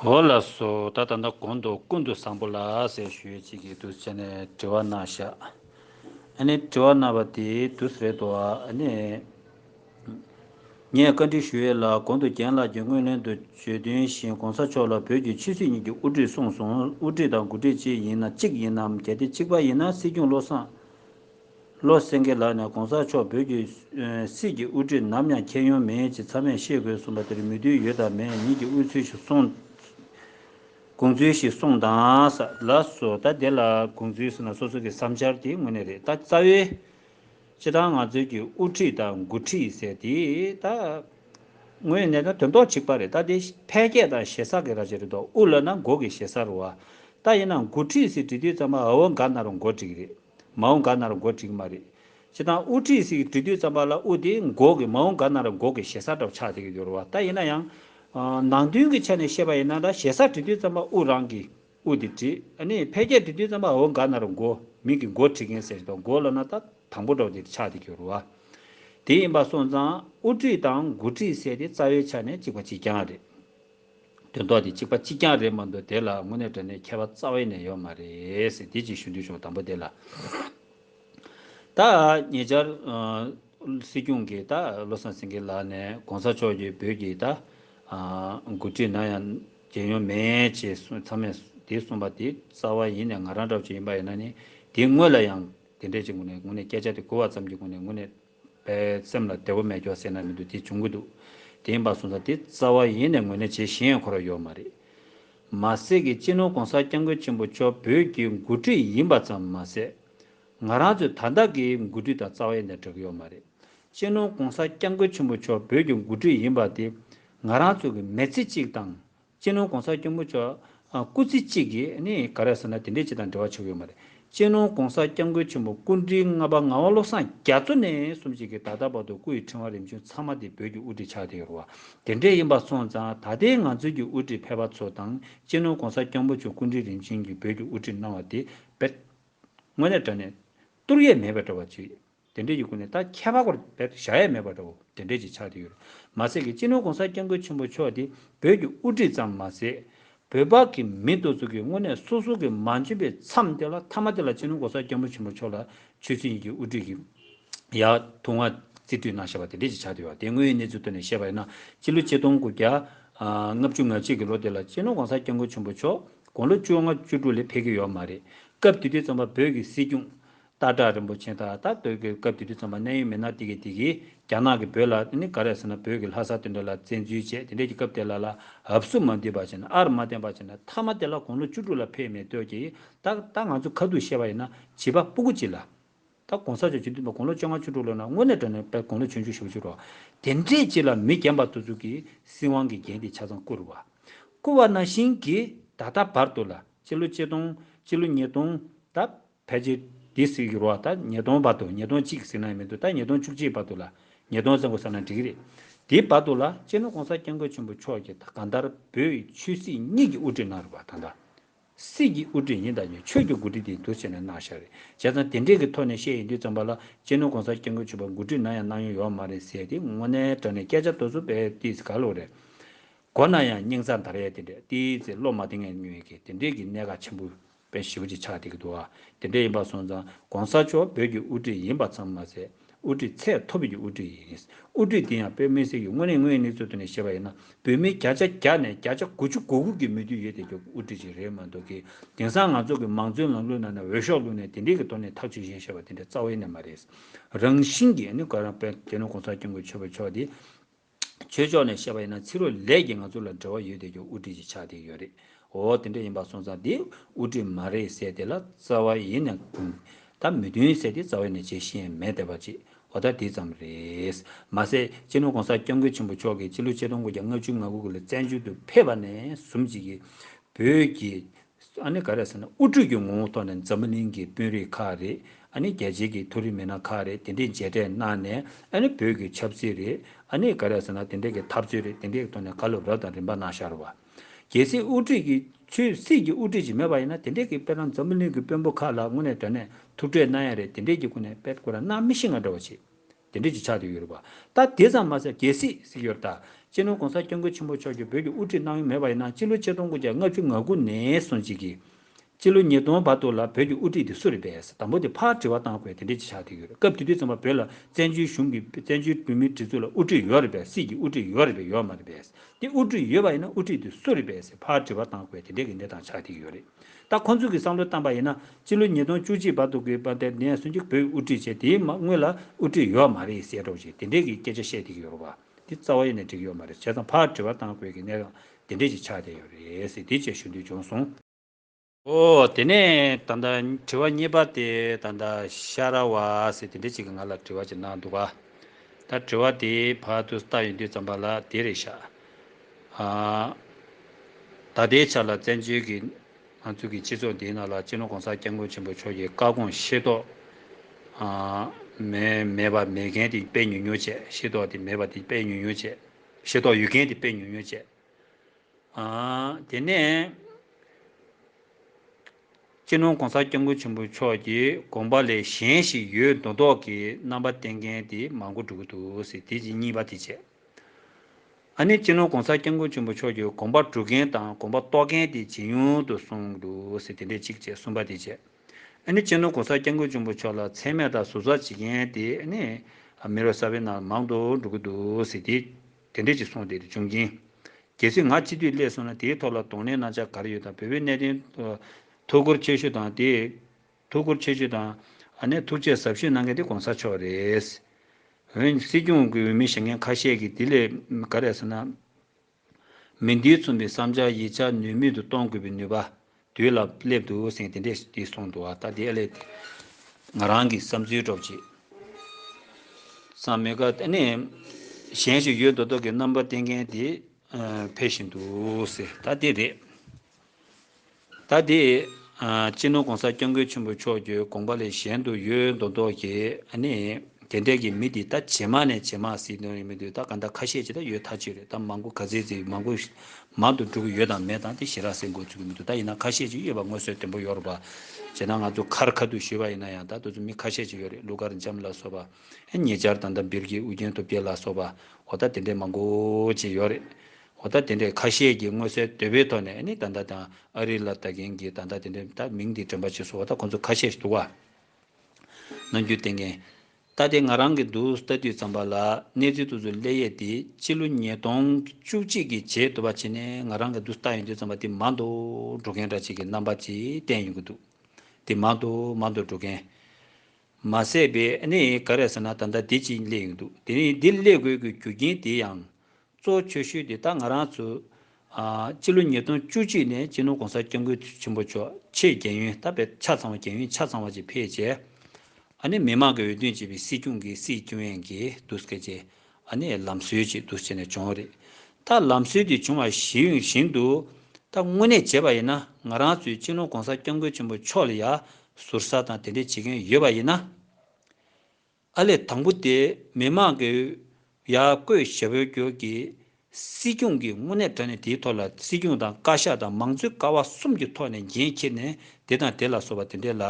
འོ་ལ་སོ་ད་ད་ནི་གོང་དུ་ཀུན་ཏུ་བཟང་པོ་ལ་ཟེར་ཞུས་ཅི་གིས་དུས་བྱས་ནས་དྲི་བ་གནང་ཤག་ཨ་ནི་དྲི་བ་གནང་བ་དེ་དུས་རེད་དོ་ཨ་ནི། ངས་བཀའ་འདྲི་ཞུ་ཡས་ལ་གོང་དུ་རྒན་ལགས་ཀྱི་སྔོན་གླེང་དུ་བརྗོད་དོན་བཞིན་གོང་ས་མཆོག་ལ་བོད་ཀྱི་ཆོས་སྲིད་གཉིས་ཀྱི་དབུ་ཁྲིད་གསུངས་སོང་དབུ་ཁྲིད་དང་དགུ་ཁྲིད་ཅི་ཡིན་ན་གཅིག་ཡིན་ནམ་གལ་ཏེ་གཅིག་པ་ཡིན་ན་སྲིད་སྐྱོང་བློ་བཟང་བློ་སེང་གེ་ལགས་ནས་གོང་ས་མཆོག་བོད་ཀྱི་སྲིད་ཀྱི་དབུ་ཁྲིད་ནམ་ཡང་ཁྱེད་ཡོང་མི་ཡོང་ཅི་ཚང་མས་ཤེས་དགོས་གསུངས་པ་དེར་མོས་མཐུན་ཡོད་དམ་མེད་ཉིད་ཀྱི་དབུས་ཚུལ་ཞིག་གསུངདགོངས་ཚུལ་ཞིག་གསུངས་དང། ལ་སོ། ད་དེ་ལ་དགོངས་ཚུལ་ཟེར་ན་སོ་སོ་གི་བསམ་འཆར་དེ་དངོས་གནས་རེད་ད་རྩ་བའི། སྤྱི་བཏང་ང་ཚོའི་ཀྱི་དབུ་ཁྲིད་དང་མགོ་ཁྲིད་ཟེར་དེ་ད། དངོས་གནས་ད་དོན་ཏོག་ཅིག་པ་རེད་ད་དེ་ཕལ་སྐད་དང་ཞེ་ས་གི་ར་བྱེད་རེད་དོ་དབུ་ལ་ན་མགོ་གི་ཞེ་ས་རུ་བ། ད་ཡིན་ན་མགོ་ཁྲིད་ཟེར་བྲིས་དུས་ཙམ་པ་ཨ་བོ་འགའ་ན་རུ་མགོ་བྲིས་གི་རེད། མ་འོངས་དགའ་ན་ར་འགོ་འགྲིག་གི་མ་རེད། སྤྱི་བཏང་དབུ་ཁྲིད་ཟིག་གི་འབྲི་དུས་རྩམ་པ་ལ་དབུ་དེ་འགོག་གི་མ་འོངས་དགའ་ན་ར་འགོག་གི་ཞེ་ས་འདྲ་བོ་ཆགས་བསྡད་ཀྱི་འདུག་རེད་བ་ད་ཡིན་ན་ཡང། ནང་དོན་གྱི་ཆ་ནས་བཤད་པ་ཡིན་ན་འདྲ་ཞེ་ས་འབྲི་དུས་རྩམ་པ་དབུ་རང་གི་དབུ་དེ་བྲི། ཨ་ནི་ཕལ་སྐད་འབྲི་དུས་རྩམ་པ་འོ་འགའ་ན་ར་འགོ་མིང་གི་འགོ་བྲི་མཁན་ཟེར་དང་འགོ་ལ་ན་ད་དང་པོ་འདྲ་བོ་དེར་ཆགས་བསྡད་ཀྱི་རེད་བ། དེ་ཡིན་པ་སོང་ཙང་དབུ་ཁྲིད་དང་འགོ་ཁྲིད་ཟེར་དེ་རྩ་བའི་ཆ་ནས་གཅིག་པ་གཅིག་རྐྱང་རེད། དོན་དག་དེ་གཅིག་པ་གཅིག་རྐྱང་རེད་མ་འདུག་དེ་ལ་དངོས་གནས་དྲན་ནས་མཁས་པ་རྩ་བའི་ནས་ཡོད་མ་རེད། དེ་གཅིག་ཞུ་འདོད་བྱུང་དང་པོ་དེ་ལ། ད་ཉེ་ཆར། སྲིད་སྐྱོང་གིས་ད་བློ་བཟང་སེང་གེ་ལགས་ནས་གོང་ས་མཆོག་གིས་བོད་ཀྱི་ད། མགོ་ཁྲིད་ན་ཡང་རྒྱལ་ཡོངས་མེད་ཅེས་གསུངས་ཚར་མེད་དེ་གསུངས་པ་དེ་རྩ་བ་ཡིན་ནས་ང་རང་འདྲ་བ་ཅིག་ཡིན་པ་ཡིན་ན་ནི་དེའི་དངོས་ལ་ཡང་དེ་འདྲས་ཅིག་ངོ་ནས་སྐད་ཆ་དེ་གོ་བ་ཙམ་གྱི་སྒོ་ནས་དངོས་གནས། པའི་སེམས་ལ་བདེ་བོ་མེད་སྐྱོ་སེར་སྣ་མི་འདུག་དེ་འབྱུང་གི་འདུག་དེ་ཡིན་པ་སོང་ཙང་དེ་རྩ་བ་ཡེ་ནས་ངོས་ལེན་བྱེད་གཞི་ཡང་འཁོར་བ་ཡོད་མ་རེད། མ་ཟད་ཀྱི་སྤྱི་ནོར་གོང་ས་སྐྱབས་མགོན་ཆེན་པོ་མཆོག་བོད་ཀྱི་མགོ་ཁྲིད་ཡིན་པ་ཙམ་མ་ཟད། ང་རང་ཚོའི་ད་ལྟ་གི་མགོ་ཁྲིད་དང་རྩ་བ་ཡེ་ནས་འདྲ་གི་ཡོད་མ་རེད། སྤྱི་ནོར་གོང་ས་སྐྱབས་མགོན་ཆེན་པོ་མཆོག་བོད་ཀྱི་མགོ་ཁྲིད་ཡིན་པ་དེ་ང་རང་ཚོ་གི་མེས་ཚིག་ཅིག་དང་གཅེན་ནོར་གོང་ས་སྐྱོང་མགོ་ལྕོག། སྐུ་ཚེ་གཅིག་གིས་ནི་ག་རེ་ཟེར་ན་དེ་འདྲའི་སྤྱི་དང་འབྲེལ་བ་ཆོད་ཡོད་མ་རེད། གཅེན་ནོར་གོང་ས་སྐྱབས་མགོན་ཆེན་པོ་སྐུ་འདྲིལ་ལྔ་པ་ངག་དབང་བློ་བཟང་རྒྱ་མཚོ་ནས་གསུམ་བཅས་ཀྱིས་ད་ལྟ་བར་དུ་སྐུ་ཡི་ཕྲེང་བ་རིམ་བྱོན་ཚང་མ་དེ་བོད་ཀྱི་དབུ་ཁྲིད་ཆགས་བསྡད་ཡོད་རུང་བ་དེ་འདྲས་ཡིན་པ་སོང་ཙང་ད་ལྟའི་ང་ཚོའི་གྱི་དབུ་ཁྲིད་ཕལ་པ་ཚོ་དང་གཅེན་ནོར་གོང་ས་སྐྱབས་མགོ་ཆོས་སྐུ་འདྲིལ་རིམ་བྱོན་གྱིས་བོད་ཀྱི་དབུ་ཁྲིད་གནང་བ་དེ་བེད་དངོས་ནས་དགྲ་ནས་གཏོར་ཡས་མེད་པའི་འདྲ་བ་ཅིག་རེད། དེ་འབྲེལ་གྱི་སྐུ་ནི་ད་ཁྱད་པར་བོར་བས་བཞག་ཡས་མེད་པ་འདྲ་བོ་དེ་འབྲེལ་གྱི་ཕྱག་དེ་ཡོད། མ་ཟད་ཀྱི་སྤྱི་ནོར་གོང་ས་སྐྱབས་མགོན་ཆེན་པོ་མཆོག་དེ་བོད་ཀྱི་དབུ་ཁྲིད་ཙམ་མ་ཟད། བོད་པ་གི་མི་བསྡུ་ཚུགས་ཀྱི་དངོས་གནས་སོ་སོ་གི་མ་འཇོན་པའི་མཚམས་དེ་ལ་ཐ་མ་དེ་ལ་སྤྱི་ནོར་གོང་ས་སྐྱབས་མགོན་ཆེན་པོ་མཆོག་ལ་ཆོས་སྲིད་གཉིས་ཀྱི་དབུ་ཁྲིད་ཀྱི་ཡག་ཐུགས་མངའ་རྩིས་མཐུད་གནང་ཞེས་པ་དེ་འབྲེལ་གྱི་ཕྱག་དེ་ཡོད་དེ་དངོས་ཡོད་གནས་ཚུལ་ཐོག་ནས་བཤད་པ་ཡིན་ན་སྤྱི་ལོ་གཅིག་སྟོང་དགུ་བརྒྱ་ལྔ་བཅུ་ང་གཅིག་གི་ལོ་དེ་ལ་སྤྱི་ནོར་གོང་ས་སྐྱབས་མགོན་ཆེན་པོ་མཆོག་དགུང་ལོ་བཅོ་ལྔ་བཅུ་དྲུག་ལས་འཕེལ་གྱི་ཡོད་མ་རེད་སྐབས་དེ་དུས་རྩོམ་པ་བོ་གི་སྲིད་སྐྱོང་སྟག་བྲག་རིན་པོ་ཆེ་དག་ད་སྟོད་གོས་སྐབས་དེ་དུས་རྩོམ་པ་གནད་ཡོད་མི་སྣ་དེ་གས་དེ་གིས་རྒྱ་ནག་གིས་བོད་ལ་ནི་ག་རེ་ཟེར་ན་བོད་ཀྱི་ལྷ་ས་དེ་འདྲ་ལ་བཙན་འཛུལ་བྱས་དེ་འདྲས་ཀྱི་སྐབས་དེ་ལ་ལ་ཧབ་སུ་མ་འདུས་པ་བྱས་ན་ཨར་མ་བསྟན་པ་བྱས་ན་ཐ་མ་དེ་ལ་དགུང་ལོ་བཅུ་དྲུག་ལ་ཕེབས་མེད་སྟོད་ཀྱི་སྟག་ད་ང་ཚོས་ཁ་ཐུག་བཤད་པ་ཡིན་ན་བྱིས་པ་སྤུ་གུ་གཅིག་ལ་ད་གོང་ས་མཆོག་སྤྱི་འཐུས་པ་དགུང་ལོ་བཅོ་ལྔ་བཅུ་དྲུག་ལོ་ན་དངོས་གནས་དྲ་ནས་པས་དགུང་ལོ་བཅུ་བཅུ་ཞེ་བོ་བཅུ་རོ་དེ་འདྲས་གཅིག་ལ་མི་རྒན་པ་དུ་ཚུགས་ཀྱི་སྲིད་དབང་གི་རྒྱན་དེ་ཆ་ཚང་བཀུར་བ་བཀུར་བ་ན་ཤིང་གིས་ད་ད་བར་དུ་ལ་སྤྱི་ལོ་གཅིག་སྟོང་སྤྱི་ལོ་གཉིས་སྟོང་ད་ཕལ་ཆེར་དེ་ཟེར་གི་རོགས་ད་ཉིས་སྟོང་བར་དུ་ཉིས་སྟོང་གཅིག་ཟེར་ན་མི་འདུག་ད་ཉིས་སྟོང་བཅུ་གཅིག་བར་དུ་ལ་ཉིས་སྟོང་ཟེར་མགོ་ཟ་ན་འགྲིག་གི་རེད། དེའི་བར་དུ་ལ་སྤྱིར་ན ྋགོང་ས ྋསྐྱབས་མགོན་ཆེན་པོ་མཆོག་གིས་ད་གང་ལྟར་བོད་ཆོས་སྲིད་གཉིས་ཀྱི་དབུ་ཁྲིད་གནང་རོགས་པ་ད་ལྟ་སྲིད་ཀྱི་དབུ་ཁྲིད་ཡིན་ད་ནི་ཆོས་ཀྱི་མགོ་ཁྲིད་དེ་འདུག་ཟེར་ནས་གནང་ཤག་རེད་བྱས་ཙང་དེ་འདྲས་ཀྱི་ཐོག་ནས་བཤད་ཡི་འདུག་ཙམ་པ་ལ་སྤྱིར་ན ྋགོང་ས ྋསྐྱབས་མགོན་ཆེན་པོ་མགོ་ཁྲིད་གནང་ཡང་གནང་མྱོང་ཡོད་མ་རེད་ཟེར་ཏེ་དངོས་གནས་དྲ་ནས་སྐད་ཆ་ལྟོས་བཟོ་སྤེལ་ཏེ་ག་ལོ་རེད་གོ་གནང་ཡང་སྙིང་རྩ་འདར་ཡས་དེ་འདྲས་ཏེ་ཚེ་སློབ་མ་དེ་ངས་ཉོན་གི་དེ་འདྲས་ཀྱི་གནད་འགག་ཆེན་པོ། པའི་ཞི་བ་གཅིག་ཆགས་བསྡད་ཀྱི་འདུག་དེ་འདྲ་ཡིན་པར་སོང་ཙང ྋགོང་ས་མཆོག་བོད་ཀྱི་དབུ་ཁྲིད་ཡིན་པ་ཙམ་མ་ཟད་དབུ་ཁྲིད་ཚད་མཐོ་བོད་ཀྱི་དབུ་ཁྲིད་ཡིན། དབུ་ཁྲིད་དེ་ཡང་བོད་མི་སེར་གྱི་དངོས་གནས་དངོས་གནས་ཚོའི་ཐོག་ནས་བཤད་པ་ཡིན་ན་བོད་མི་བརྒྱ་ཆ་བརྒྱ་ནས་བརྒྱ་ཆ་དགུ་ཅུ་དགུ་དགུ་གི་མོས་མཐུན་ཡོད་བསྡད་ཀྱི་དབུ་ཁྲིད་ཅིག་རེད་མ་འདུག་གི་དེང་སང་ང་ཚོ་གི་མང་གཙོའི་ལམ་ལུགས་ནང་ནས་འོས་ཤོག་བླུགས་ནས་དེ་འདྲས་ཀྱི་ཐོག་ནས་ཐག་གཅོད་བཞིན་བཤད་པ་དེ་འདྲ་རྩ་བའི་གནས་མ་རེད། རང་བཞིན་གྱིས ྋགོང་ས ྋསྐྱབས་མགོན་ཆོས་འཕེལ་མཆོག་དེ་ཆོས་ཕྱོགས་ནས་བཤད་པ་ཡིན་ན་ཚིག་རོ་ལས་ཀྱིས་ང་ཚོ་ལ་འབྲེལ་བ་ཡོད་དེ་ཀྱང་དབུ་ཁྲིད་ཀྱི་ཕྱག་དེ་ཡོད་རེད་འོ་དེ་འདྲ་ཡིན་པ་སོང་ཙང་དེ་དབུ་ཁྲིད་མ་རེད་ཟེར་དེ་ལ་རྩ་བ་ཡིན་ནས་ད་མི་མཐུན་ཟེར་དེ་རྩ་བ་ཡིན་ནས་བྱེད་ཤེས་མེད་དེ་བ་ཅེས་འོ་ད་དེ་ཙམ་རེད། མ་ཟད་སྤྱི་ནོར་གོང་ས་སྐྱབས་མགོན་ཆེན་པོ་མཆོག་གིས་སྤྱི་ལོ་ཆིག་སྟོང་དགུ་བརྒྱ་ལྔ་བཅུ་ང་དགུ་ལ་བཙན་བྱོལ་དུ་ཕེབས་པ་ནས་བཟུང་བྱེས་ཀྱི་བོད་ཀྱི་ཨ་ནི་ག་རེད་ཟེར་ན་དབུ་ཁྲིད་ཀྱི་ངོ་བོ་ཐོག་ནས་འཛམ་བུ་གླིང་གི་དཔོན་རིགས་ཁག་རེད་ཨ་ནི་རྒྱལ་སྤྱིའི་གི་མཐོ་རིམ་མི་སྣ་ཁག་རེད་དེ་འདྲས་མཇལ་འཕྲད་གནང་ནས་ཨ་ནི་བོད་ཀྱི་ཆབ་སྲིད་རེད་ཨ་ནི་ག་རེད་ཟེར་ན་དེ་འདྲས་གི་ཐབས་རྩོད་རེད་དེ་འདྲས་གི་ཐོག་ནས་ག་ལོ་རབས་དང་རིམ་པ་གནང་ཤར་བ། གལ་སྲིད་དབུ་ཁྲིད་ཀྱི་ཆོས་སྲིད་ཀྱི་དབུ་ཁྲིད་ཅིག་མེད་པ་ཡིན་ན་དེ་འདྲས་གི་དཔེར་ན་འཛམ་བུ་གླིང་གི་དཔོན་པོ་ཁག་ལ་ངོ་ནས་དྲན་ནས་ཐུག་འཕྲད་གནང་ཡ་རེད་དེ་འདྲས་གི་སྐུ་ནས་དཔེར་བཀོད་ར་གནང་མི་ཤེས་ང་འདྲ་བ་ཆེ་དེ་འབྲེལ་གྱི་ཕྱག་དེབ་ཡོད་རེད་བ། ད་དེ་ཙམ་མ་ཟད་རྒྱལ་སྲིད་གཟིགས་ཡོད་རེད་ད། སྤྱི་ནོར་གོང་ས་སྐྱབས་མགོན་ཆེན་པོ་མཆོག་གྱིས་བོད་ཀྱི་དབུ་ཁྲིད་གནང་ཡུལ་མེད་པ་ཡིན་ན་སྤྱི་ལོ་ཆིག་སྟོང་དགུ་བརྒྱ་ལྔ་བཅུ་ང་དགུ་ནས་སོང་རྗེས་ཀྱི། སྤྱི་ལོ་ཉིས་སྟོང་བར་དུ་ལ་བོད་ཀྱི་དབུ་ཁྲིད་དེ་སུ་རེད་པས་དང་པོ་དེ་ཕར་དྲི་བ་གཏང་དགོས་དེ་འབྲེལ་གྱི་ཕྱག་དེབ་ཡོད་རེད་སྐབས་དེ་དུས་ཙམ་པ་བོད་ལ་བཙན་བྱོལ་གཞུང་གི་བཙན་བྱོལ་བོད་མིའི་སྒྲིག་འཛུགས་ལ་དབུ་ཁྲིད་ཡོད་རེད་པས་སྲིད་ཀྱི་དབུ་ཁྲིད་ཡོད་རེད་པས་ཡོད་མ་རེད་པས་དེ་དབུ་ཁྲིད་ཡོད་པ་ཡིན་ན་དབུ་ཁྲིད་དེ་སུ་རེད་པས་ཕར་དྲི་བ་གཏང་དགོས་དེ་འབྲེལ་གྱི་གནས་སྟངས་ཕྱག་དེབ་ཡོད་རེད། ད་ཁོ་ཚོས་ཀྱི་བསམ་བློ་བཏང་པ་ཡིན་ན་སྤྱི་ལོ་ཉིས་སྟོང་བཅུ་གཅིག་བར་དུ་གི་བར་དེར་དེ་ཡང་སུན་ཅུན་བོད་དབུ་ཁྲིད་བྱས་དེའི་སྔོན་ལ་དབུ་ཁྲིད་ཡོད་བ་མ་རེད་ཟེར་རོགས་ཞེས་དེ་འདྲས་ཀྱི་སྐད་ཆ་བཤད་བསྡད་ཀྱི་ཡོད་རོགས་པ་འདི་རྩ་བ་ཡེ་ནས་འགྲིག་ཡོད་མ་རེད་བྱས་ཙང་ཕར་དྲི་བ་བཏང་དགོས་ཀྱི་གནས་སྟངས་དེ་འདྲས་ཀྱི་ཆགས་བསྡད་ཡོད་རེད་ཟེར་དེའི་རྗེས་ཞུ་འདོད་བྱུང་སོང། ཨོ་དེ་ནས་ད་ལྟ་དྲི་བ་གཉིས་པ་དེ་ད་ལྟ་ཤ་ར་བ་ཟེར་དེ་འདྲས་ཅིག་གི་ང་ལ་དྲི་བ་ཅིག་གནང་འདུག་ག་ད་དྲི་བ་དེའི་བར་དུ་བལྟ་ཡོང་དུས་ཙམ་པ་ལ་དེ་རེད་ཤག་ད་ལྟའི་ཆར་ལ་བཙན་བྱོལ་གྱི་ང་ཚོ་གི་སྤྱི་ཚོགས་འདིའི་ནང་ལ་སྤྱི་ལོ ྋགོང་ས ྋསྐྱབས་མགོན་ཆེན་པོ་མཆོག་གི་བཀའ་དགོངས་ཤེས་རྟོགས་མེད་པ་མེད་མཁན་དེ་དཔེ་ཉུང་ཉུང་བྱས་ཤེས་རྟོགས་དེ་མེད་པ་དེ་དཔེ་ཉུང་ཉུང་བྱས། ཤེས་རྟོགས་ཡོད་མཁན་དེ་དཔེ་ཉུང་ཉུང་བྱས། དེ་ནས་སྤྱི་ལོ ྋགོང་ས ྋསྐྱབས་མགོན་ཆེན་པོ་མཆོག་གི་དགོངས་པ་ལས་གཞན་ཞིག་ཡོད་མདོག་མདོག་གི་རྣམ་པ་བསྟན་མཁན་དེ་མང་པོ་འགྲོ་གི་འདུག་དེ་གཉིས་པ་དེ་བྱས། ཨ་ནི་སྤྱི་ནོར ྋགོང་ས ྋསྐྱབས་མགོན་ཆེན་པོ་མཆོག་གིས་དགོངས་པ་འགྲུབ་མཁན་དང་དགོངས་པ་རྟོགས་མཁན་དེ་ཇེ་ཉུང་དུ་སོང་འདུག་ཟེར་དེ་འདྲས་ཅིག་ཅེས་གསུངས་པ་དེ་བྱས། ཨ་ནི་སྤྱི་ནོར ྋགོང་ས ྋསྐྱབས་མགོན་ཆེན་པོ་མཆོག་ལ་མཚན་སྨད་དང་ཟུར་ཟ་བྱེད་མཁན་དེ་ཨ་ནི་མི་རོ་གསར་བའི་ནང་ལ་མང་དུ་འགྲོ་གི་འདུག་ཟེར་དེ་དེ་འདྲས་ཅིག་སོང་སྟེ་འབྱུང་རྐྱེན། གལ་སྲིད་ང་སྤྱི་འཐུས་སླེབས་སོང་ན་དེའི་ཐོག་ལ་གདོང་ལེན་གནང་འཆར་ག་རེ་ཡོད་དང་བོད་པའི་གནད་དོན་ཐོག་སྐོར་ཆོས་ཞུ་དང་དེ། ཐུགས་ཁུར་ཆེ་ཞུས་དང། ཨ་ནེ་ཐུགས་རྗེས་གཟབ་ཞུས་གནང་མཁན་དེ་གོང་ས་མཆོག་རེད། འོན་ཀྱང་སྲིད་སྐྱོང་གི་འོས་མི་བྱེད་མཁན་ཁ་ཤས་ཀྱིས་དེ་ལས་ག་རེ་བསམ་ན། མི་འདིའི་མཚུངས་པའི་བསམ་འཆར་ཡིག་ཆ་ནུས་མེད་དུ་གཏོང་དགོས་པའི་ནུས་པ་དུས་ལ་སླེབས་འདུག་སེང་གེ་དེ་འདྲས་ཀྱིས་གསུངས་འདུག་ད་དེ་ཨ་ལས་ཏེ། ང་རང་གི་བསམ་ཚུལ་སྒྲོག་ཅིག། ཚང་མེད་ཀ་ཨ་ནེ། གཞན་ཞིག་ཡོད་མདོག་མདོག་གི་རྣམ་པ་བསྟན་མཁན་དེ་ཕེབས་བཞིན་འདུག་ཟེར་ད་དེ་རེད། ད་དེ། སྤྱི་ནོར ྋགོང་ས ྋསྐྱབས་མགོན་ཆེན་པོ་མཆོག་གྱོས་དགོངས་པ་ལས་གཞན་དུ་ཡོད་མདོག་མདོག་གྱིས་ཨ་ནི། དེ་འད་ཀྱི་མི་དེ་ད་ཇེ་མང་ནས་ཇེ་མང་སིད་དོན་ཡོད་མི་འདུག་ད་ག་འདྲ་ཁ་ཤས་ཇི་ད་ཡོད་ཐག་ཆོད་རེད་ད་མང་པོ་ག་ཚེ་ཚེ་མང་པོ་མང་དུ་འགྲོ་གི་ཡོད་དང་མེད་དང་དེ་ཞེ་རག་སེ་འགོ་ཚུགས་གི་མི་འདུག་ད་ཡིན་ན་ཁ་ཤས་ཅིག་ཡོད་པ་ངོས་སོད་དོན་པོ་ཡོད་རོགས་པ་བྱེད་ན་ང་ཚོ་ཁར་ཁ་ཐུག་ཞུས་པ་ཡིན་ན་ཡང་ད་དུ་ཚོ་མི་ཁ་ཤས་ཅིག་ཡོད་རེད་ཀླུ་གར་འཇམ་ལ་སོགས་པ་ཨེ་ཉེ་ཅར་དང་ད་འབིར་གྱི་ཨུ་རྒྱན་ཐུབ་རྒྱལ་ལ་སོགས་པ་འོ་ད་དེ་འད་མང་པོ་ཅིག་ཡོད་རེད་ཧོ་ད་དེ་འདྲའི་ཁ་ཤས་ཀྱིས་མངོན་གསལ་དོད་པོའི་ཐོག་ནས་ནི་ད་ལྟ་དང་ཨ་རི་ལ་ལྟ་མཁན་གྱི་ད་ལྟ་དེ་འདྲའི་ད་མིང་འདི་དྲན་པ་ཆེ་སོང་བ་ད་ཁོ་ཚོ་ཁ་ཤས་ཤིག་འདུག་བ། ནང་རྒྱུད་བསྟན་མཁན། ད་ལྟའི་ང་རང་གི་འདུག་ལྟ་དུས་ཙམ་པ་ལ་གནས་ཚུལ་ཏུ་ཚུར་གླེ་ཡས་དེ་སྤྱི་ལོ་ཉིས་སྟོང་བཅུ་གཅིག་གི་བྱེས་དུ་བ་ཆེ་ནས་ང་རང་གི་འདུག་ལྟ་ཡོང་དུས་ཙམ་པ་དེ་མང་དུ་འགྲོ་མཁན་འདྲ་ཆེ་གི་རྣམ་པ་ཅིག་བསྟན་ཡོང་གི་འདུག་དེ་མང་དུ་མང་དུ་འགྲོ་མཁན། མ་ཟད་པའི་ནི་ག་རེ་ཟེར་ན་ད་ལྟ་དེ་ཅིག་གླེ་ཡོང་དུག་དེ་ནི་འདི་གླེ་དགོས་ཀྱི་རྒྱུ་རྐྱེན་དེ་ཡང་གཙོ་བོ་ཁྱོད་ཤོད་དེ་ད་ང་རང་ཚོ། སྤྱི་ལོ་ཉིས་སྟོང་བཅུ་གཅིག་ནས་སྤྱི་ནོར ྋགོང་ས ྋསྐྱབས་མགོན་ཆེན་པོ་མཆོག་ཆེད་རྒྱལ་ཡོན་བསྟར་བས་ཆ་ཚང་བ་རྒྱལ་ཡོན་ཆ་ཚང་བ་བཅས་ཕེབས་རྗེས། ནི་མི་མང་གི་འོས་བསྡུ་བྱས་པའི་སྲིད་སྐྱོང་གི་སྲིད་སྐྱོང་ཡན་གྱི་བསྡུ་སྐད་ཅེས། ནི་ལམ་སྲོལ་ཅིག་བསྡུ་བྱས་ནས་བྱུང་བ་རེད། ད་ལམ་སྲོལ་དེ་བྱུང་བ་གཞི་ཡོད་བཞིན་དུ། ད་དངོས་གནས་བྱས་པ་ཡིན་ན་ང་རང་ཚོའི་སྤྱི་ནོར ྋགོང་ས ྋསྐྱབས་མགོན་ཆེན་པོ་མཆོག་ལ་ཡང་ཟུར་ཟ་དང་དེ་འདྲས་བྱེད་མཁན་ཡོད་པ་ཡིན་ན། ཨར་ལས་དང་པོ་དེ་མི་དམངས་ཀྱི་ཡར་བསྐོས་ཞབས་འོས་སྒྱུར་གྱི་སྲིད་སྐྱོང་གི་དངོས་གནས་དྲ་གནས་དེའི་ཐོག་ལ་སྲིད་སྐྱོང་དང་བཀའ་ཤག་དང་མང་གཙོའི་ཀ་བ་གསུམ་གྱི་ཐོག་ནས་འགན་འཁྱེར་ནས་དེ་དང་དེ་ལ་སོགས་པ་དེ་འདྲའི་ལ་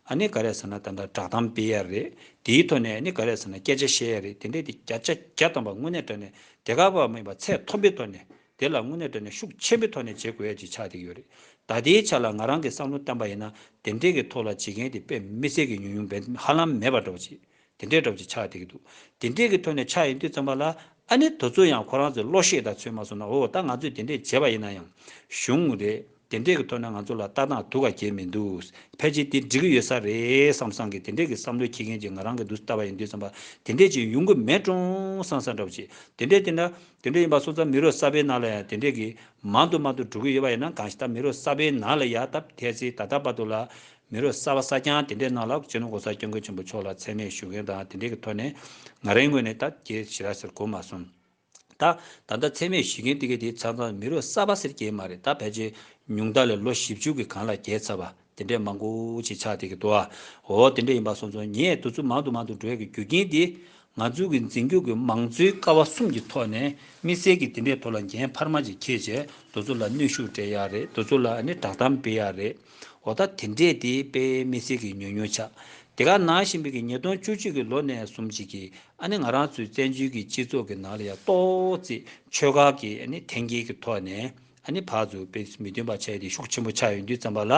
ཨ་ནི་ག་རེ་ཟེར་ན་ད་ལྟ་བསྒྲགས་གཏམ་སྤེལ་ཡ་རེད་དེའི་ཐོག་ནས་ཨ་ནི་ག་རེ་ཟེར་ན་སྐད་ཆ་བཤད་ཡ་རེད་དེ་འདྲའི་དེ་བརྒྱ་ཆ་བརྒྱ་སྟོང་པ་དངོས་གནས་དྲ་གནས་དེ་ག་བ་མིན་པ་ཚད་མཐོན་པོའི་ཐོག་ནས་དེ་ལ་དངོས་གནས་དོན་ནི་ཤུགས་ཆེན་པོའི་ཐོག་ནས་བྱེད་དགོས་ཡ་གཅིག་ཆགས་ཏེ་ཡོད་རེད་ད་ལྟའི་ཆ་ལ་ང་རང་གིས་བསམ་བློ་བཏང་པ་ཡིན་ན་དེ་འདྲས་ཀྱི་ཐོག་ལ་བྱེད་མཁན་དེ་དཔེ་མི་གསལ་གྱི་ཉུང་ཉུང་འབེན་ཧ་ལམ་མེད་པ་འདྲ་བྱེད་དེ་འདྲས་འདྲ་བྱེད་ཆགས་ཏེ་གི་འདུག་དེ་འདྲས་ཀྱི་ཐོག་ནས་ཆགས་ཡིན་དུས་ཙམ་པ་ལ་ཨ་ནི་དོ་ཚོས་ཡང་ཁོ་རང་ཚོའི་བློ་ཤེས་དང་ཚོད་མ་སོང་ན་འོ་ད་ང་ཚོས་དེ་འདྲས་བྱས་པ་ཡིན་ན་ཡང་བྱུང་རེད། དེ་འདྲས་ཀྱི་ཐོག་ནས་ང་ཚོ་ལ་ལྟ་སྟངས་དུ་ག་རྒྱས་མི་འདུག་ཕལ་ཆེར་དེ་འགྲིག་གི་ཡོད་ས་རེད་བསམ་བསམ་གི་དེ་འདྲས་ཀྱི་བསམ་བློ་འཁྱེར་མཁན་གྱི་ང་རང་གི་འདུག་ལྟ་བ་ཡིན་དུས་བསམ་པ་དེ་འདྲས་ཅིག་ཡོང་གི་མེད་གྲོང་སང་སང་འདྲ་བོ་ཅིག་དེ་འདྲས་བསྟེན་ན་དེ་འདྲས་ཡིན་པ་སོང་ཙང་མི་རོ་གསར་པའི་ནང་ལ་ཡང་དེ་འདྲས་ཀྱི་མང་དུ་མང་དུ་འགྲོ་གི་ཡོད་པ་ཡིན་ན་གང་ཞིག་ད་མི་རོ་གསར་པའི་ནང་ལ་ཡ་ད་ཕལ་ཚེ་ད་ལྟ་བར་དུ་ལ་མི་རོ་གསར་བ་གསར་རྐྱང་དེ་འདྲས་ནང་ལ་ཕྱི་ལོ་གོང་ས་སྐྱབས་མགོན་ཆེན་པོ་མཆོག་ལ་ཚད་མེད་ཞུ་མཁན་དང་དེ་འདྲས་ཀྱི་ཐོག་ནས་ང་རང་ངོས་ནས་ད་རྒྱས་ཞི་ར་ཟེར་གོ་མ་སོང། ད། ད་ལྟ་ཚད་མས་གཞི་མཁན་ཏི་ཁེ་དེའི་ཚང་ཚང་མི་རོ་གསར་པ་ཟེར་གྱིན་མ་རེད་ད་ཕལ་ཆེར་ཉུང་མཐའ་ལས་ལོ་བཞི་བཅུ་གི་གང་ལ་བརྒལ་ཚར་བ་དེ་འདྲས་མང་པོ་ཞིག་ཆགས་བསྡད་ཀྱི་འདུག་ཨ་འོ་དེ་འདྲས་ཡིན་པ་སོང་ཚོང་ཉེས་འདུག་ཚུལ་མང་དུ་མང་དུ་འགྲོ་ཡག་གི་རྒྱུ་རྐྱེན་དེ་ང་ཚོའི་གི་འཛིན་སྐྱོང་གི་མང་གཙོའི་ཀ་བ་གསུམ་གྱི་ཐོག་ནས་དམིགས་བསལ་གྱི་དེ་འདྲས་ཐོག་ལ་འགན་འཕར་མ་ཅིག་ཁྱེད་ཅེ་འདུ་ཚོ་ལ་གནོད་ཤུགས་སྤྲད་ཡག་རེད་འདུ་ཚོ་ལ་ནི་བསྒྲགས་གཏམ་སྤེལ་ཡག་རེད་འོ་ད་དེ་འདྲས་དེ་སྤེལ་དམིགས་བསལ་གྱི་ཉོ་ཉོ་ཆ་དེ་ག་ནང་བཞིན་པའི་གི་ཉིས་སྟོང་བཅུ་གཅིག་གི་ལོ་ནས་གསུམ་བཅིག་གི་ཨ་ནི་ང་རང་ཚོའི་བཙན་བྱོལ་གྱི་སྤྱི་ཚོགས་ཀྱི་ནང་ལ་ཡང་ཏོག་ཙེ་ཆོལ་ཁ་གི་ཨ་ནི་འཐེན་འཁྱེར་གྱི་ཐོག་ནས་ཨ་ནི་བག་ཟུར་པའི་མི་བདུན་པ་ཆགས་དེ་ཤུགས་ཆེན་པོ་ཆགས་ཡོད་དུས་བརྩམས་པ་ལ་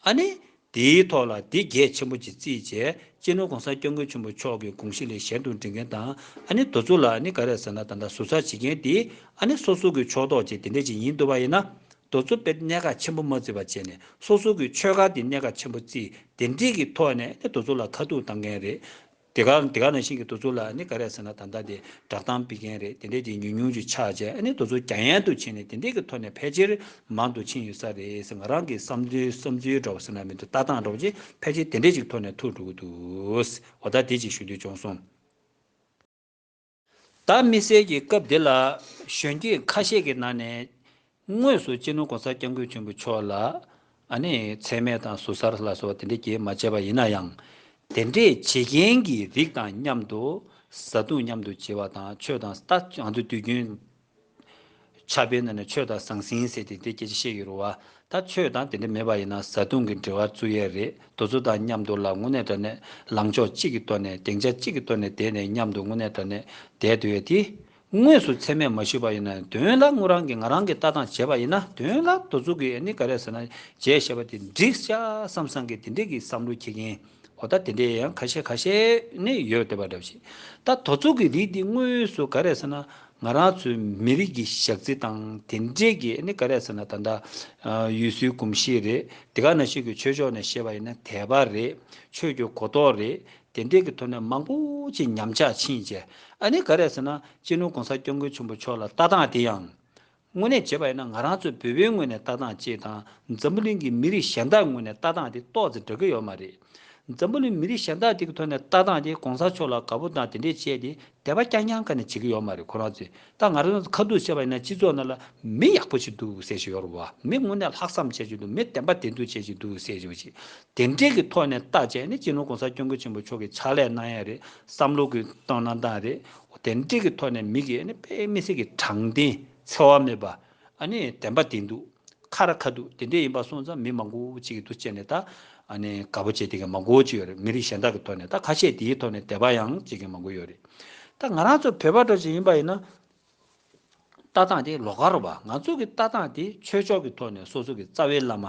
ཨ་ནི་དེའི་ཐོག་ལ་དེ་རྒྱས་ཆེན་པོ་ཅིག་བརྩིས་རྗེས་སྤྱི་ནོར་གོང་ས་སྐྱབས་མགོན་ཆེན་པོ་མཆོག་གི་དགོངས་གཞི་ལས་གཞན་དུ་འབྲི་མཁན་དང་ཨ་ནི་དོ་ཚུགས་ལ་ཨ་ནི་ག་རེ་ཟེར་ན་ད་ལྟ་ཟུར་ཟ་བྱེད་མཁན་དེ་ཨ་ནི་སོ་སོ་གི་ཕྱོགས་གཏོགས་ཅིག་དེ་འདྲ་ཅིག་ཡིན་འདུག་པ་ཡིན་ན་དོ་ཚུགས་པས་གནད་འགག་ཆེན་པོ་མ་བརྩི་བ་བྱས་ནས་སོ་སོ་གི་ཆོལ་ཁ་དེ་གནད་འགག་ཆེན་པོ་བརྩིས་དེ་འདྲིས་ཀྱི་ཐོག་ནས་ཨ་ནི་དོ་ཚུགས་ལ་ཁ་ཐུག་བཏང་མཁན་རེད། དེ་ག་དེ་ག་ནང་བཞིན་གྱི་དུ་ཚོད་ལ་ནི་ག་རེ་ཟེར་ན་ད་ལྟ་དེ་བསྒྲགས་གཏམ་སྤེལ་མཁན་རེད་དེ་འདྲས་དེ་ཉུང་ཉུང་ཅིག་ཆགས་རྗེས་ཨ་ནི་དུ་ཚོད་རྒྱ་ཡན་དུ་ཕྱིན་ནས་དེ་འདྲས་ཀྱི་ཐོག་ནས་ཕལ་ཆེར་མང་དུ་ཕྱིན་ཡོད་ས་རེད་ཟེར་ང་རང་གི་བསམ་ཚུལ་བསམ་ཚུལ་འགྲོ་བ་ཟེར་ན་མི་འདུག་ལྟ་སྟངས་འགྲོ་བ་ཅིག་ཕལ་ཆེར་དེ་འདྲས་ཅིག་ཐོག་ནས་ཐུག་འགྲོ་གི་འདུག་ཟེར་བ་ལྟར་དེ་ཅིག་ཞུ་འདོད་བྱུང་སོང། བདག་མི་གསལ་གྱི་སྐབས་འདི་ལ་གཞོན་སྐྱེས་ཁ་ཤས་ཀྱི་ནང་ནས། དངོས་སུ་སྤྱི་ནོར་གོང་ས་སྐྱབས་མགོན་ཆེན་པོ་མཆོག་ལ་ནི་ཚད་མེད་དང་ཟུར་ཟར་ལ་སོགས་དེ་འདྲའི་གྱེས་མ་བྱས་པ་ཡིན་ན་ཡང། དེ་འདྲས་བྱེད་མཁན་གྱི་རིགས་དང་མཉམ་དུ་བཟའ་བཏུང་མཉམ་དུ་བྱེད་པ་དང་ཆོས་དང་རྟགས་གང་དུ་དུས་རྒྱུན་ཆགས་པའི་ནང་ནས་ཆོས་དང་ཟང་ཟིང་ཟེར་ཏེ་དེ་སྐད་ཅིག་བཤད་ཀྱི་རུང་བ། ད་ཆོས་དང་དེ་འདྲ་མེད་པ་ཡིན་ན་བཟའ་བཏུང་གི་འབྲེལ་བ་བཙུགས་ཡས་རེད་དོ་ཚོ་དང་མཉམ་དུ་ལ་དངོས་གནས་དྲ་གནས་ལངས་ཕྱོགས་གཅིག་གི་སྟོད་ནས་སྡེང་ཆ་གཅིག་གི་སྟོད་ནས་བསྡད་ནས་མཉམ་དུ་དངོས་གནས་དྲ་གནས་བསྡད་འདོད་ཡས་དེ། དངོས་སུ་ཚད་མས་མ་ཞུས་པ་ཡིན་ན་དོན་ལ་དངོས་རང་གིས་ང་རང་གི་ལྟ་སྟངས་བྱས་པ་ཡིན་ན་དོན་ལ་དོ་ཚུགས་ཀྱི་ཨེ་ནི་ག་རེ་ཟེར་ན་བྱས་ཞེས་པ་དེ་འགྲིག་ཤག་བསམ་བསམ་གི་དེ་འདྲས་ཀྱི་བསམ་བློ་ཁྱེད་ཀྱིན། འོ་ད་དེ་འདྲའི་ཡང་ཁ་ཤས་ཁ་ཤས་ནི་ཡོད་དེ་བ་འདྲ་བ་ཞིག་ད་དོ་ཚོགས་ཀྱི་རིགས་འདི་དངོས་སུ་ག་རེ་ཟེར་ན་ང་རང་ཚོའི་མི་རིགས་ཀྱི་ཞག་རྩི་དང་དེ་འདྲས་ཀྱི་ནི་ག་རེ་ཟེར་ན་ད་ལྟ་ཡུལ་སྲོལ་གོམས་གཤིས་རེད་དེ་ག་ན་ཞིག་གི་ཆོས་ཕྱོགས་ནས་བཤད་པ་ཡིན་ན་དད་པ་རེད་ཆོས་ཀྱི་གོ་རྟོགས་རེད་དེ་འདྲས་ཀྱི་ཐོག་ནས་མང་པོ་ཅིག་ཉམས་ཆག་ཕྱིན་རྗེས་ཨ་ནི་ག་རེ་ཟེར་ན་སྤྱི་ནོར་གོང་ས་སྐྱབས་མགོན་ཆེན་པོ་མཆོག་ལ་ལྟ་སྟངས་དེ་ཡང་དངོས་གནས་བྱས་པ་ཡིན་ན་ང་རང་ཚོའི་བོད་པའི་ངོས་ནས་ལྟ་སྟངས་ཅེས་དང་འཛམ་བུ་གླིང་གི་མི་རིགས་གཞན་དག་ངོས་ནས་ལྟ་སྟངས་དེ་ཏོག་ཙེ་འདྲ་གི་ཡོད་མ་རེད། འཛམ་བུ་གླིང་མི་རིགས་གཞན་དག་དེ་གི་ཐོག་ནས་ལྟ་སྟངས་དེ་གོང་ས་མཆོག་ལ་དགའ་པོ་དང་དེ་འདྲས་བྱས་ཏེ་དད་པ་རྐྱང་རྐྱང་ག་ནས་བྱེད་གི་ཡོད་མ་རེད་ཁོ་རང་ཚོས་ད་ང་རང་ཚོ་ཁ་ཐུག་བཤད་པ་ཡིན་ན་སྤྱི་ཚོགས་ནང་ལ་མི་ཡག་པོ་ཞིག་འདུག་ཟེར་བཞིན་ཡོད་རེད་བ་མི་དངོས་གནས་ལྷག་བསམ་བྱེད་བཞིན་འདུག་མི་དད་པ་དེ་འདུག་བྱེད་བཞིན་འདུག་ཟེར་བཞིན་པ་ཞིག་དེ་འདྲས་ཀི་ཐོག་ནས་བལྟ་བྱས་ནི་སྤྱི་ནོར་གོང་ས་སྐྱོང་ཀུན་ཆེན་པོ་མཆོག་གི་ཕྱག་ལས་གནང་ཡས་རེད་བསམ་བློ་གི་གཏོང་གནང་སྟངས་རེད་བདེན་འབྲས་ཀྱི་ཐོག་ནས་མིག་གིས་དཔེ་མི་གསལ་གྱི་དྲང་བདེན་འཚེ་བ་མེད་པ། བདེན་པ་བདེན་འདུག་ཁ་ར་ཁ་འདུག་བདེན་འབྲས་ཡིན་པ་སོང་ཙང་མི་མང་པོ་གཅིག་གི་འདུ་བྱེད་ནས་ད་དགའ་པོ་བྱེད་དེ་གི་མང་པོ་གཅིག་ཡོད་རེད་མི་རིགས་གཞན་དག་གི་ཐོག་ནས་ད་ཁ་ཤས་དེའི་ཐོག་ནས་དད་པ་ཡང་བྱེད་མཁན་མང་པོ་ཡོད་རེད། ད་ང་རང་ཚོ་བོད་པ་འདྲ་བྱེད་ཡིན་པ་ཡིན་ན། ལྟ་སྟངས་དེ་ལོག་ཁར་བ་ང་ཚོ་གི་ལྟ་སྟངས་དེ་ཆོས་ཕྱོགས་ཀྱི་ཐོག་ནས་སོ་སོ་གི་རྩ་བའི་བླ་མ།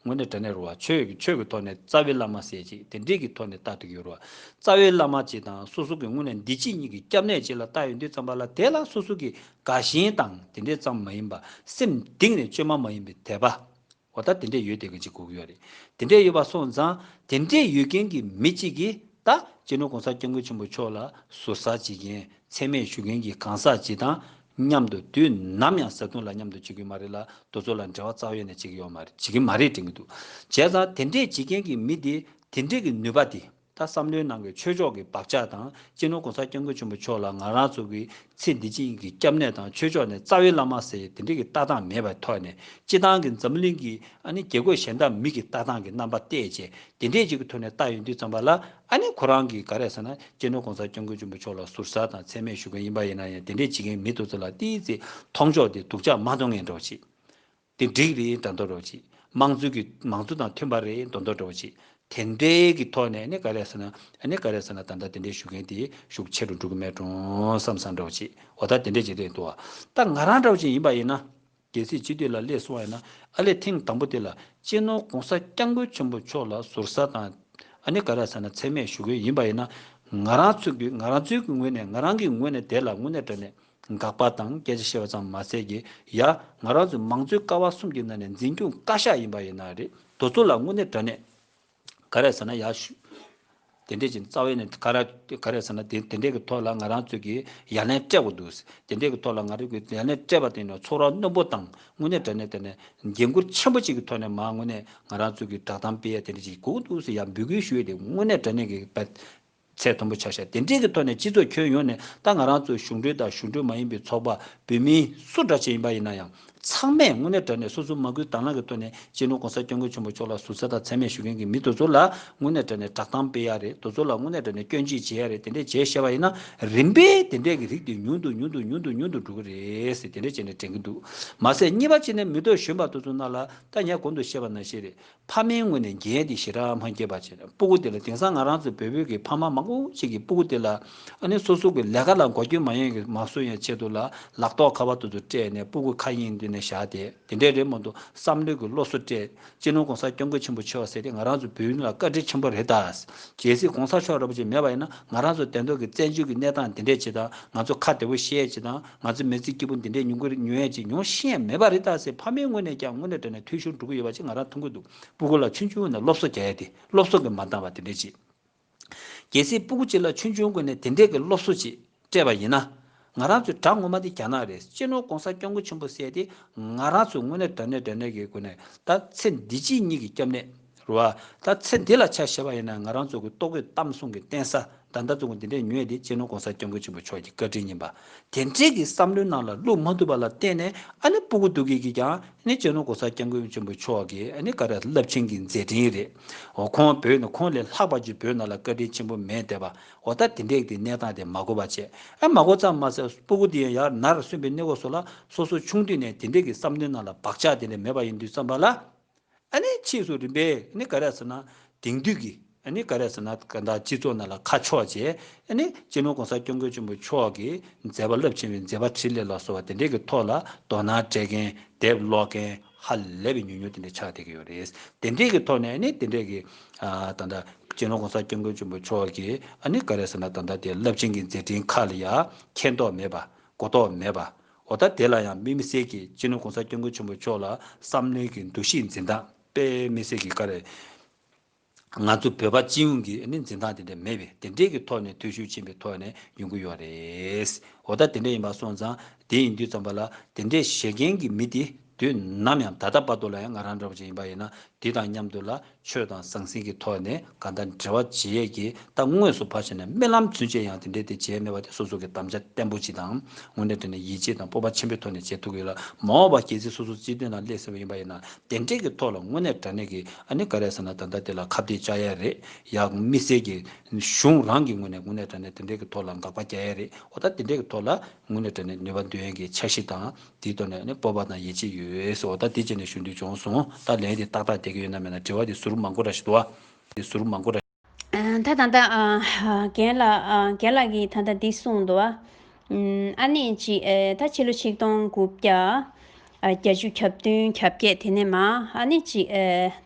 ངོ་ནས་དྲ་གནས་རུ་བ་ཆོས་ཀྱི་ཆོས་ཀྱི་ཐོག་ནས་རྩ་བའི་བླ་མ་གསལ་བྱེད་དེ་འབྲེལ་གྱི་ཐོག་ནས་བལྟ་འདོད་ཡོད་རུ་བ་རྩ་བའི་བླ་མ་གཅིག་དང་སོ་སོ་གི་སྔུན་ནས་འདི་གཅིག་གཉིས་ཀྱི་སྐྱབས་གནས་གཅིག་ལ་བལྟ་ཡོད་འདུས་ཙམ་པ་ལ་དེ་ལ་སོ་སོ་གི་དགའ་ཞེན་དང་དེ་འདྲས་ཙམ་མ་ཡིན་པ་སེམས་གཏིང་ནས་བཅོས་མ་མ་ཡིན་པའི་དད་པ་འོ་ད་དེ་འདྲས་ཡོད་དེ་གི་འཇིག་གོ་གི་ཡོད་རེད་དེ་འདྲས་ཡོད་པ་སོང་ཙང་དེ་འདྲས་ཡོད་མཁན་གི་མི་གཅིག་གི་ད་སྤྱི་ནོར་གོང་ས་སྐྱབས་མགོན་ཆེན་པོ་མཆོག་ལ་ཟུར་ཟ་བྱེད་མཁན་ཚད་མེད་ཞུ་མཁན་གི་གང་ཟག་གཅིག་དང་མཉམ་དུ་དུས་ནམ་ཡང་ཟ་འཐུང་ལ་མཉམ་དུ་བྱེད་གི་མ་རེད་ལ་རྡོ་ཚོ་ལ་འབྲེལ་བ་རྩ་བ་ཡོད་ནས་བྱེད་གི་ཡོད་མ་རེད་བྱེད་གི་མ་རེད་དྲན་གི་འདུག་བྱས་ཙང་དེ་འདྲས་བྱེད་མཁན་གི་མི་དེ་དེ་འདྲས་གི་ནུས་པ་དེ་ད་བསམ་བློའི་ནང་གི་ཆོས་ཕྱོགས་གི་བབ་ཆགས་དང་སྤྱིར་ནོར་གོང་ས་སྐྱབས་མགོན་ཆེན་པོ་མཆོག་ལ་ང་རང་ཚོ་གི་ཚེ་འདི་གཅིག་ཡིན་གི་སྐྱབས་གནས་དང་ཆོས་ཕྱོགས་ནས་རྩ་བའི་བླ་མ་ཟེར་ཡི་དེ་འདྲས་གི་ལྟ་སྟངས་མེད་པའི་ཐོག་ནས་སྤྱི་བཏང་གི་འཛམ་བུ་གླིང་གི་ཨ་ནི་རྒྱལ་སྒོས་གཞན་དག་མིག་གི་ལྟ་སྟངས་གི་རྣམ་པ་བལྟས་རྗེས་དེ་འདྲས་ཅིག་གི་ཐོད་ནས་བཏགས་ཡོད་འདུག་བརྩམས་པ་ལ་ཨ་ནི་ཁོ་རང་གིས་ག་རེ་ཟེར་ན་སྤྱི་ནོར ྋགོང་ས ྋསྐྱབས་མགོན་ཆེན་པོ་མཆོག་ལ་ཟུར་ཟ་དང་ཚད་མེད་ཞུ་མཁན་ཡིན་པ་ཡིན་ན་ཡང་དེ་འདྲས་བྱེད་མཁན་མི་འདུག་ཚོད་ལ་ཏིའི་ཙི་མཐོང་ཕྱོགས་དེ་སྡུག་ཅག་མ་མཐོང་ངེས་འགྲོ་ཅིག། དེ་འགྲིག་རེད་དྲ་འདོར་རོགས་ཅིག་དམངས་གཙོའི་གི་མང་གཙོ་དང་མཐུན་པ་རེད་མདོ་འདོར་རོགས་ཅིག་དེ་འདྲས་ཀྱི་ཐོག་ནས་ཨ་ནི་ག་རེ་ཟེར་ན་ཨ་ནི་ག་རེ་ཟེར་ན་ད་ལྟ་དེ་འདྲས་ཞུ་མཁན་དེ་ཤུགས་ཆེ་རུ་འགྲོ་གི་མེད་གྲོང་བསམ་བསམ་རོགས་ཅིག་འོ་ད་དེ་འདྲས་བྱེད་འདོད་ཡོད་འདུག་བ་ད་ང་རང་འདྲ་བ་ཅིག་ཡིན་པ་ཡིན་ན། རྒྱལ་སྲིད་སྤྱི་འཐུས་ལ་སླེབས་སོང་བས་ན་ཨ་ལས་ཐེངས་དང་པོ་དེ་ལ་གཅེས་ནོར་གོང་ས་སྐྱབས་མགོན་ཆེན་པོ་མཆོག་ལ་ཟུར་ཟ་དང། ཨ་ནི་ག་རེ་ཟ་ན་ཚད་མེད་ཞུ་གི་ཡིན་པ་ཡིན་ན། ང་རང་ཚོས་ཀྱིས་ང་རང་ཚོའི་གི་ངོས་ནས་ང་རང་གི་ངོས་ནས་དེ་ལ་དངོས་གནས་དྲན་ནས་དགག་པ་དང་སྐད་ཆ་བཤད་པ་ཙམ་མ་ཟད་ཀྱི་ཡ་ང་རང་ཚོའི་མང་གཙོའི་ཀ་བ་གསུམ་གྱི་ནང་ནས་འཛིན་སྐྱོང་བཀའ་ཤག་ཡིན་པ་ཡིན་ན་རེད་དོ་ཚོ་ལ་དངོས་གནས་དྲན་ནས། ག་རེ་ཟེར་ན་ཡག་ཤོས། དེ་འདྲས་ཀྱི་རྩ་བའི་ནས་ག་རེ་ག་རེ་ཟེར་ན་དེ་འདྲས་ཀྱི་ཐོག་ལ་ང་རང་ཚོས་ཀྱི་ཡ་ལན་སྤྲད་དགོས་འདུག་དེ་འདྲས་ཀྱི་ཐོག་ལ་ང་རང་ཚོས་ཀྱི་ཡ་ལན་སྤྲད་པ་དེ་ནས་ཚོགས་ར་རྣོན་པོ་དང་དངོས་གནས་དྲན་ནས་དེ་ནས་འགན་ཁུར་ཆེན་པོ་གཅིག་གི་ཐོག་ནས་མ་དངོས་གནས་ང་རང་ཚོས་ཀྱི་བསྒྲགས་གཏམ་སྤེལ་ཡ་དེ་འདྲས་ཀྱི་དགོས་འདུག་ཡ་འབུལ་དགོས་ཞུ་ཡ་དེ་དངོས་གནས་དྲན་ནས་ཀྱི་ཚད་མཐོན་པོ་ཆགས་ཤིང་དེ་འབྲེལ་གྱི་ཐོག་ནས་སྤྱི་ཚོགས་ཁྱོན་ཡོངས་ནས་ད་ང་རང་ཚོ་གཞུང་འབྲེལ་དང་གཞུང་འབྲེལ་མ་ཡིན་པའི་ཚོགས་པ་བོད་མིའི་སུ་འདྲ་ཅན་ཡིན་པ་ཡིན་ན་ཡང་ཚང་མས་དངོས་གནས་དྲ་གནས་སོ་སོའི་མ་སྐུལ་དྭང་བླང་གི་ཐོག་ནས་སྤྱི་ནོར ྋགོང་ས ྋསྐྱབས་མགོན་ཆེན་པོ་མཆོག་ལ་ཟུར་ཟ་དང་མཚན་སྨད་ཞུ་མཁན་གྱི་མི་དེ་ཚོ་ལ་དངོས་གནས་དྲ་གནས་བསྒྲགས་གཏམ་སྤེལ་ཡ་རེད་དེ་ཚོ་ལ་དངོས་གནས་དྲ་གནས་སྐྱོན་ཅི་བྱེད་ཡ་རེད་དེ་འདྲས་བྱས་ཤེས་པ་ཡིན་ན་རིམ་པས་དེ་འདྲས་ཀྱི་རིགས་དེ་ཉུང་དུ་ཉུང་དུ་ཉུང་དུ་ཉུང་དུ་འགྲོ་གི་རེད་ཟེར་དེ་འདྲས་བྱས་ནས་དྲན་གྱི་འདུག་མ་ཟད་གཉིས་པ་གཅིག་ནས་མི་དོ་གཞོན་པ་དེ་ཚོ་རྣམས་ལ་ད་ངས་གོང་དུ་བཤད་པ་ནང་བཞིན་རེད་ཕ་མའི་སྔུན་ནས་འགྱེལ་ཏེ་ཞེ་དྲག་མ་སྐྱེས་པ་བྱས། སྤུ་གུ་དེ་ལ་དེང་སང་ང་རང་ཚོའི་བོད་བོད་ཀྱི་ཕ་མ་མང་པོ་ཞིག་གིས་སྤུ་གུ་དེ་ལ་ཨ་ནེ་སོ་སོ་གི་ལས་ཀ་ལ་འགོ་རྒྱུ་མ་ཡོང་གི་མ་བཟོ་ཡང་ཆེད་དུ་ལ་ལག་ཐོག་ཁ་བ་དུ་དུ་སྤྲད་ནས་སྤུ་གུ་ཁ་གཡེང་མདུན་ནས་བཞག་སྟེ་དེ་འདྲས་རེད་མོད་དུ་བསམ་ལུས་ཀྱི་བློ་གསོ་སྤྲད། སྤྱི་ནོར་གོང་ས་སྐྱོང་མཁས་ཆེན་པོ་མཆོག་ཟེར་ཏེ་ང་རང་ཚོའི་བོད་ཡུལ་ལ་བཀའ་དྲིན་ཆེན་པོ་རེ་ད། གལ་སྲིད་གོང་ས་མཆོག་ར་པོ་ཆེ་མེད་པ་ཡིན་ན་ང་རང་ཚོ་དད་མདོ་གི་བཙན་བྱོལ་གྱི་གནས་སྟངས་དེ་འདྲས་བྱེད་དང་ང་ཚོ་ཁ་བདེ་བོ་བཤད་བྱེད་དང། ང་ཚོས་མེས་ཚིག་སྐྱིད་པོ་འདི་འདྲའི་ཉུང་གི་ཉུང་ཡས་ཅིག་མྱོང་ཤེས་ཡས་མེད་པ་རེད་ད་ཟེར་ཕ་མའི་ངོས་ནས་ཀྱང་དངོས་གནས་དྲན་ནས་ཐུས་ཤོར་འགྲོ་གི་ཡོད་པ་ཅིག་ང་རང་མཐོང་གི་འདུག་སྤུ་གུ་ལ་ཆུང་ཆུང་ངོས་ནས་སློབ་གསོ་རྒྱག་ཡས་དེ་སློབ་གསོ་གི་མ་འདང་བ་དེ་འདྲས་ཅིག། གལ་སྲིད་སྤུ་གུ་གཅིག་ལ་ཆུང་ཆུང་ངོས་ནས་དེ་འདྲས་ཀྱི་སློབ་གསོ་ཅིག་སྤྲད་པ་ཡིན་ན། ང་རང་ཚོའི་དྲ་ངོ་མ་འདི་རྒྱ་ནག་རེད་གཅེས་ནོར་གོང་ས་སྐྱོང་གུ་ཆེན་པོ་བསད་དེ་ང་རང་ཚོས་དངོས་གནས་དྲན་ནས་དྲན་ནས་ཀྱི་དགོས་ནས་ད་ཚེ་འདི་གཅིག་གཉིས་ཀྱི་སྐྱབས་གནས་རུ་བ། ད་ཚེ་འདི་ལ་ཆ་བཞེས་པ་ཡིན་ན་ང་རང་ཚོ་གི་ལྟོ་གོས་གཏམ་གསུང་གི་བསྟན་ས་དར་མདའ་བཙུགས་འདི་འདྲས་ཉོས་དེ་གཅེས་ནོར་གོང་ས་སྐྱབས་མགོན་ཆེན་པོ་མཆོག་གི་བཀའ་དྲིན་ཡིན་པ། དེ་འདྲས་ཀྱི་བསམ་བློའི་ནང་ལ་བླུགས་མ་ཐུབ་པ་ལ་བརྟེན་ནས་ཨ་ནི་སྤུ་གུ་དུ་གི་གིས་ཀྱང་ཨ་ནི་གཅེས་ནོར་གོང་ས་སྐྱབས་མགོན་ཆེན་པོ་མཆོག་གི་ཨ་ནི་ཀ་ར་རླབས་ཆེན་གྱི་མཛད་འཕྲིན་རེད། འོ་ཁོང་བོད་ནི་ཁོང་ལས་ལྷག་པ་ཅིག་བོད་ནང་ལ་བཀའ་དྲིན་ཆེན་པོ་མེད་འདས་པ་འོ་ད་དེ་འདྲས་ཀྱི་གནས་སྟངས་དེ་མ་གོ་བ་བྱས་ཨ་མ་གོ་ཙམ་མ་ཟད་སྤུ་གུ་དེ་ཡང་ཡར་ནར་སོན་པའི་གནས་སྐོར་སོགས་ལ་སོ་སོ་ཆུང་དུས་ནས་དེ་འདྲས་ཀྱི་བསམ་བློའི་ནང་ལ་བག་ཆགས་དེ་འདྲས་མེད་པ་ཡིན་དུས་བསམ་པ་ལ། ཕྱིས་སུ་རིམ་པས་ག་རེ་ཟེར་ན་དེང་དུས་ཀྱི་ག་རེ་ཟེར་ན་གང་དག་སྤྱི་ཚོགས་ནང་ལ་ཁ་ཕྱོགས་བྱས། སྤྱི་ནོར་གོང་ས་སྐྱབས་མགོན་ཆེན་པོ་མཆོག་གིས་མཛད་པ་རླབས་ཆེན་བའི་མཛད་པ་ཕྲིན་ལས་ལ་སོགས་པ་དེ་འདྲའི་གི་ཐོག་ལ་དོ་སྣང་སྤྲད་མཁན་དེབ་ཀློག་མཁན་ཧ་ལས་པའི་ཉུང་ཉུང་དེ་འདྲ་ཆགས་བསྡད་ཀྱི་ཡོད་རེད། དེ་འདྲའི་གི་ཐོག་ནས་དེ་འདྲའི་གི་ད་ལྟ་སྤྱི་ནོར་གོང་ས་སྐྱབས་མགོན་ཆེན་པོ་མཆོག་གིས་ག་རེ་ཟེར་ན་ད་ལྟ་དེ་རླབས་ཆེན་གྱི་མཛད་ཕྲིན་ཁག་ལ་ཡང་མཁྱེན་རྟོགས་མེད་པ་གོ་རྟོགས་མེད་པ་འོ་ད་དེ་ལ་ཡང་དམིགས་མི་སེར་གྱིས་སྤྱི་ནོར་གོང་ས་སྐྱབས་མགོན་ཆེན་པོ་མཆོག་ལ་བསམ་བློའི་གི་འདུ་ཤེས་འཛིན་སྟངས་དཔེ་མི་སེར་གྱིས་ཀ་རེ། ང་ཚོ་བོད་པ་སྤྱི་ཡོངས་ཀྱི་འཛིན་སྟངས་དེ་འདྲ་མེད་པས་དེ་འདྲས་ཀྱི་ཐོག་ནས་འཐུས་ཤོར་ཕྱིན་པའི་ཐོག་ནས་ཡོང་གི་ཡོད་རེད། འོ་ད་དེ་འདྲ་ཡིན་པ་སོང་ཙང་དེ་ཡིན་དུས་ཙམ་པ་ལ་དེ་འདྲས་བཞེད་མཁན་གྱི་མི་དེ། དུས་ནམ་ཡང་ད་ལྟ་བར་དུ་ལ་ཡང་ང་རང་འདྲ་བོ་ཅིག་ཡིན་པ་ཡིན་ན་འདི་དང་མཉམ་དུ་ལ་ཆོས་དང་ཟང་ཟིང་གི་ཐོག་ནས་ག་ལྟར་འབྲེལ་བ་བྱེད་ཡས་ཀྱི་རྟགས་དངོས་སུ་ཕར་ཕྱིན་ནས་རྨི་ལམ་ཚུན་ཆད་ཡང་དེ་འདྲའི་དེ་བྱས་མེད་པ་དེ་སོ་སོ་གི་དམ་བཅའ་བརྟན་པོ་ཅིག་དང་དངོས་གནས་དོན་ནས་ཡིད་ཆེས་དང་སྤོབས་པ་ཆེན་པོའི་ཐོག་ནས་བྱེད་ཐུབ་ཀྱི་ཡོད་ལ་མ་འོངས་པ་གལ་སྲིད་སོ་སོ་སྤྱི་དོན་ལ་སླེབས་ཟིན་པ་ཡིན་པ་ཡིན་ན་དེ་འབྲེལ་གྱི་ཐོག་ལ་དངོས་གནས་དྲ་གནས་ཀྱི་ཨ་ནི་ག་རེ་ཟེར་ན་ད་ལྟ་དེ་ལ་ཁ་བརྡས་བཅག་ཡས་རེད་ཡ་དམིགས་བསལ་གྱི་གཞུང་རང་གི་ངོས་ནས་དངོས་གནས་དྲ་གནས་དེ་འདྲའི་གི་ཐོག་ལ་འགག་པ་རྒྱག་ཡས་རེད་འོ་ད་དེ་འདྲའི་གི་ཐོག་ལ་དངོས་གནས་དྲ་གནས་ནུས་པ་འདོན་ཡས་ཀྱི་འཆར་གཞི་དང། དེའི་ཐོག་ནས་ནི་སྤོབས་པ་དང་ཡིད་ཆེས་ཡོད་སོ་ད་དེ་བྱས་ནས་ཞུ་འདོད་བྱུང་གསུང་ད་ལན་དེ་ཏག་ཏག་བསྡད་ཀྱི་ཡོད་ན་མེད་ན་དྲི་བ་དེ་ཟུར་མང་པོ་ར་ཞིག་འདུག་ཨ། དེ་ཟུར་མང་པོ་ར། ད་ད་ད། རྒན་ལགས། རྒན་ལགས་ཀྱིས་ད་ལྟ་འདི་གསུངས་འདུག་ཨ། ཨ་ནི་གཅིག་ད་ཕྱི་ལོ་ཆིག་སྟོང་དགུ་བརྒྱ། བརྒྱད་ཅུ་གྱ་བདུན་གྱ་བརྒྱད་དེ་ནས་མ་ཨ་ནི་གཅིག་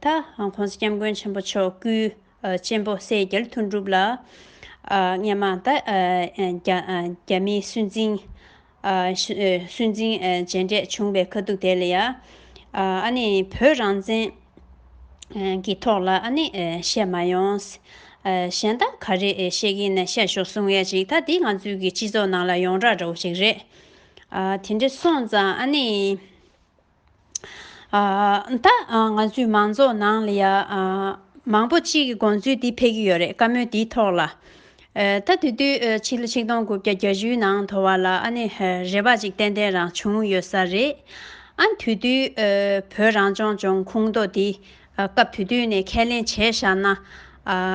ད། ྋགོང་ས ྋསྐྱབས་མགོན་ཆེན་པོ་མཆོག་སྐུའི་གཅེན་པོ་སྲས་རྒྱལ་ཐུགས་འགྲུབ་ལགས། ཨ་སྔས་མ་ད། རྒྱ་མིའི་སུན་འབྱིན། སུན་འབྱིན་བརྗེ་འདྲེས་བྱུང་བའི་ཁ་ཐུག་དེ་ལ་ཡང། བོད་རང་བཙན་གྱི་ཐོག་ལ་བཤད་མ་ཡོང། གཞན་དག་ག་རེ་བཤད་ཀྱིན་ན་བཤད་ཤོག་གསུང་ཡ་ཅིག་ད་འདི་ང་ཚོའི་གི་སྤྱི་ཚོགས་ནང་ལ་ཡོང་རག་རོགས་ཤིག་རེད། དེ་འདྲ་སོང་ཙང། ད་ང་ཚོའི་མང་ཚོགས་ནང་ལ་ཡང་མང་པོ་གཅིག་གི་དགོངས་ཚུལ་འདི་ཕེབས་ཀྱི་ཡོད་རེད་བཀའ་མོལ་འདིའི་ཐོག་ལ། ད་དེ་དུས་ཕྱི་ལོ་ཆིག་སྟོང་དགུ་བརྒྱ་གྱ་བཞིའི་ནང་དོར་བ་ལ་ཨ་ནི་རེ་བ་ཅིག་ཏན་ཏན་རང་བྱུང་ཡོད་ས་རེད། ཨ་དེ་དུས་བོད་རང་སྐྱོང་ལྗོངས་ཁུངས་གཏོགས་འདི། སྐབས་དེ་དུས་ནས་ཁས་ལེན་བྱས་བཞག་ན།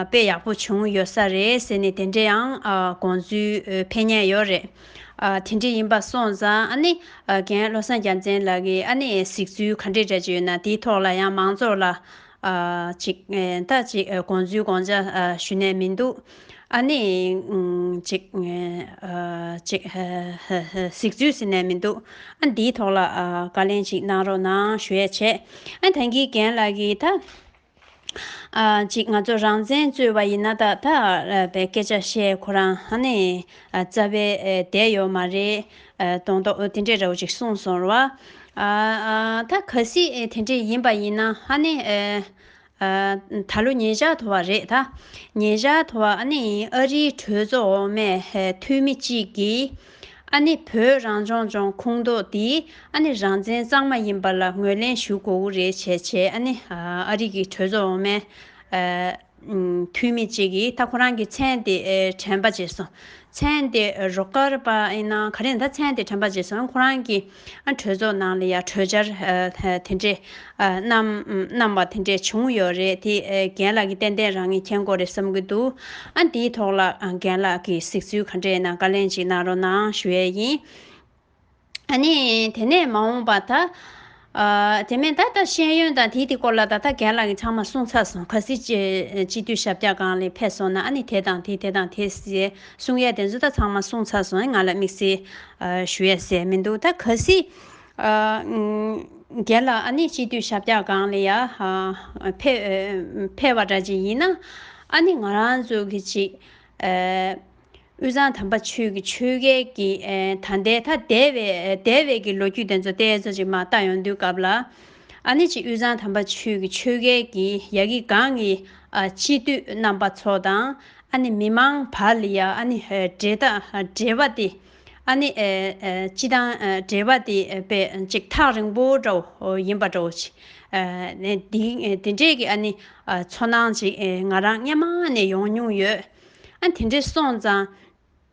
དཔེ་ཡག་པོ་བྱུང་ཡོད་ས་རེད་ཟེར་ནས་དེ་འདྲའི་ཡང་དགོངས་ཚུལ་འཕེལ་ཉེན་ཡོད་རེད། དེ་འདྲ་ཡིན་པ་སོང་ཙང་ཨ་ནི་རྒན་བློ་བཟང་རྒྱ་མཚན་ལགས་ཀྱིས་ཨ་ནི་གཟིགས་ཚུལ་ག་འདྲས་རེད་ཅེ་ན་དེའི་ཐོག་ལ་ཡང་མང་ཚོགས་ལ། ཅིག་ཐ་ཅིག་དགོངས་ཚུལ་དགོངས་འཇགས་ཞུ་ནས་མི་འདུག་ཨ་ནི། ཅིག། ཅིག། ཟིག་ཚུལ་ཟིན་ནས་མི་འདུག་ཨ་འདིའི་ཐོག་ལ་བཀའ་ལན་ཅིག་གནང་རོགས་གནང་ཞུས་བྱས། ཨ་ཐང་གི་རྒན་ལགས་ཀྱིས་ད། ཅིག་ང་ཚོ་རང་བཙན་རྩོད་པ་ཡིན་ན་ད་ད་པའི་སྐད་ཆ་བཤད་ཁོ་རང་ཨ་ནི། རྩ་བའི་བསྡད་ཡོད་མ་རེད། གདོང་ཐོག་དེ་འདྲས་རེད་ཅིག་གསུངས་སོང། ད་ག་སྲིད་དེ་འདྲས་ཡིན་པ་ཡིན་ན་ཨ་ནི། ད་ལོ་ཉེ་བཞག་དོར་བ་རེད་ད། ཉེ་བཞག་དོར་བ་ནི་ཨ་རིའི་གྲོས་ཚོགས་འོག་མའི་འཐུས་མི་གཅིག་གིས། ཨ་ནི་བོད་རང་སྐྱོང་ལྗོངས་ཁོངས་གཏོགས་འདི་ཨ་ནི་རང་བཙན་གཙང་མ་ཡིན་པ་ལ་ངོས་ལེན་ཞུ་དགོས་ཀྱི་རེད་བྱས་བྱས་ཨ་ནི་ཨ་རིག་གི་གྲོས་ཚོགས་འོག་མའི་འཐུས་མི་གཅིག་གིས་ད་ཁོ་རང་གི་མཚན་དེ་དྲན་པ་བྱས་སོང། མཚན་དེ་རོགས་སྐར་པ་ཡིན་ན་ག་རེ་ཡིན་ད་མཚན་དེ་དྲན་པ་བྱས་སོང་ཁོ་རང་གིས། གྲོས་ཚོགས་ནང་ལ་ཡང་གྲོས་འཆར་དེ་འདྲས་བསྣམས་པ་དེ་འདྲས་བྱུང་ཡོད་རེད་དེ་རྒན་ལགས་ཀྱིས་ཏན་ཏན་རང་ཉིད་མཁྱེན་གོ་རེད་བསམ་གྱི་འདུག་ཨ་འདིའི་ཐོག་ལ་རྒན་ལགས་ཀྱིས་གཟིགས་ཚུལ་ག་འདྲས་ཡིན་ན་བཀའ་ལན་ཅིག་གནང་རོགས་གནང་ཞུ་ཡས་ཡིན། ཨ་ནི་དེ་ནས་མ་འོངས་པ་ད། དེ་མིན་ད་ལྟ་ཤེས་ཡོན་དང་དེའི་དེ་སྐོར་ལ་ད་ལྟ་རྒན་ལགས་ཀྱིས་ཚང་མ་གསུངས་ཚར་སོང་ག་སྲིད་སྤྱི་འཐུས་ཞབས་བཀྱག་གང་ལས་ཕེབས་སོང་ན་ཨ་ནི་དེ་དང་དེ་དེ་དང་དེ་ཟེ་གསུངས་ཡས་དེ་ཚོ་ད་ཚང་མ་གསུངས་ཚར་སོང་ང་ལ་དམིགས་བསལ་ཞུ་ཡ་ཟད་མི་འདུག་ད་ག་སྲིད། རྒན་ལགས་ཨ་ནེ་སྤྱི་འཐུས་ཞབས་བཀྱག་སྒང་ལ་ཡ། ཕེབས། བ་འདྲ་ཅིག་ཡིན་ན། ཨ་ནེ་ང་རང་ཚོ་གི་ཅིག། དབུས་གཙང་དམ་པ་ཆོས་ཀྱི་ཆོས་རྒྱལ་གྱི་ད་ལྟའི་ད་ལྟའི་བའི་བའི་གི་ལོ་རྒྱུས་དེ་ཚོ་ཏེ་ཚོ་ཅིག་མ་ལྟ་ཡོང་དུས་སྐབས་ལ། ཨ་ནེ་ཅིག་དབུས་གཙང་དམ་པ་ཆོས་ཀྱི་ཆོས་རྒྱལ་གྱི་ཡ་གི་སྒང་གི། སྤྱི་འཐུས་རྣམ་པ་ཚོ་དང། ཨ་ནི་མི་མང་བ་ལི་ཡ་ཨ་ནི་འབྲེལ་ཐག་འབྲེལ་བ་དེ་ཨ་ནི་སྤྱི་དང་འབྲེལ་བ་དེ་པེ་ཅིག་ཐག་རིང་པོ་འདྲ་བོ་ཡིན་པ་འདྲ་བོ་ཆེ། དེ་འདྲས་ཀྱི་ཨ་ནི་ཚོར་སྣང་ཅིག་ང་རང་སྔ་མ་ནས་ཡོང་མྱོང་ཡོད། ཨ་དེ་འདྲས་སོང་ཙང།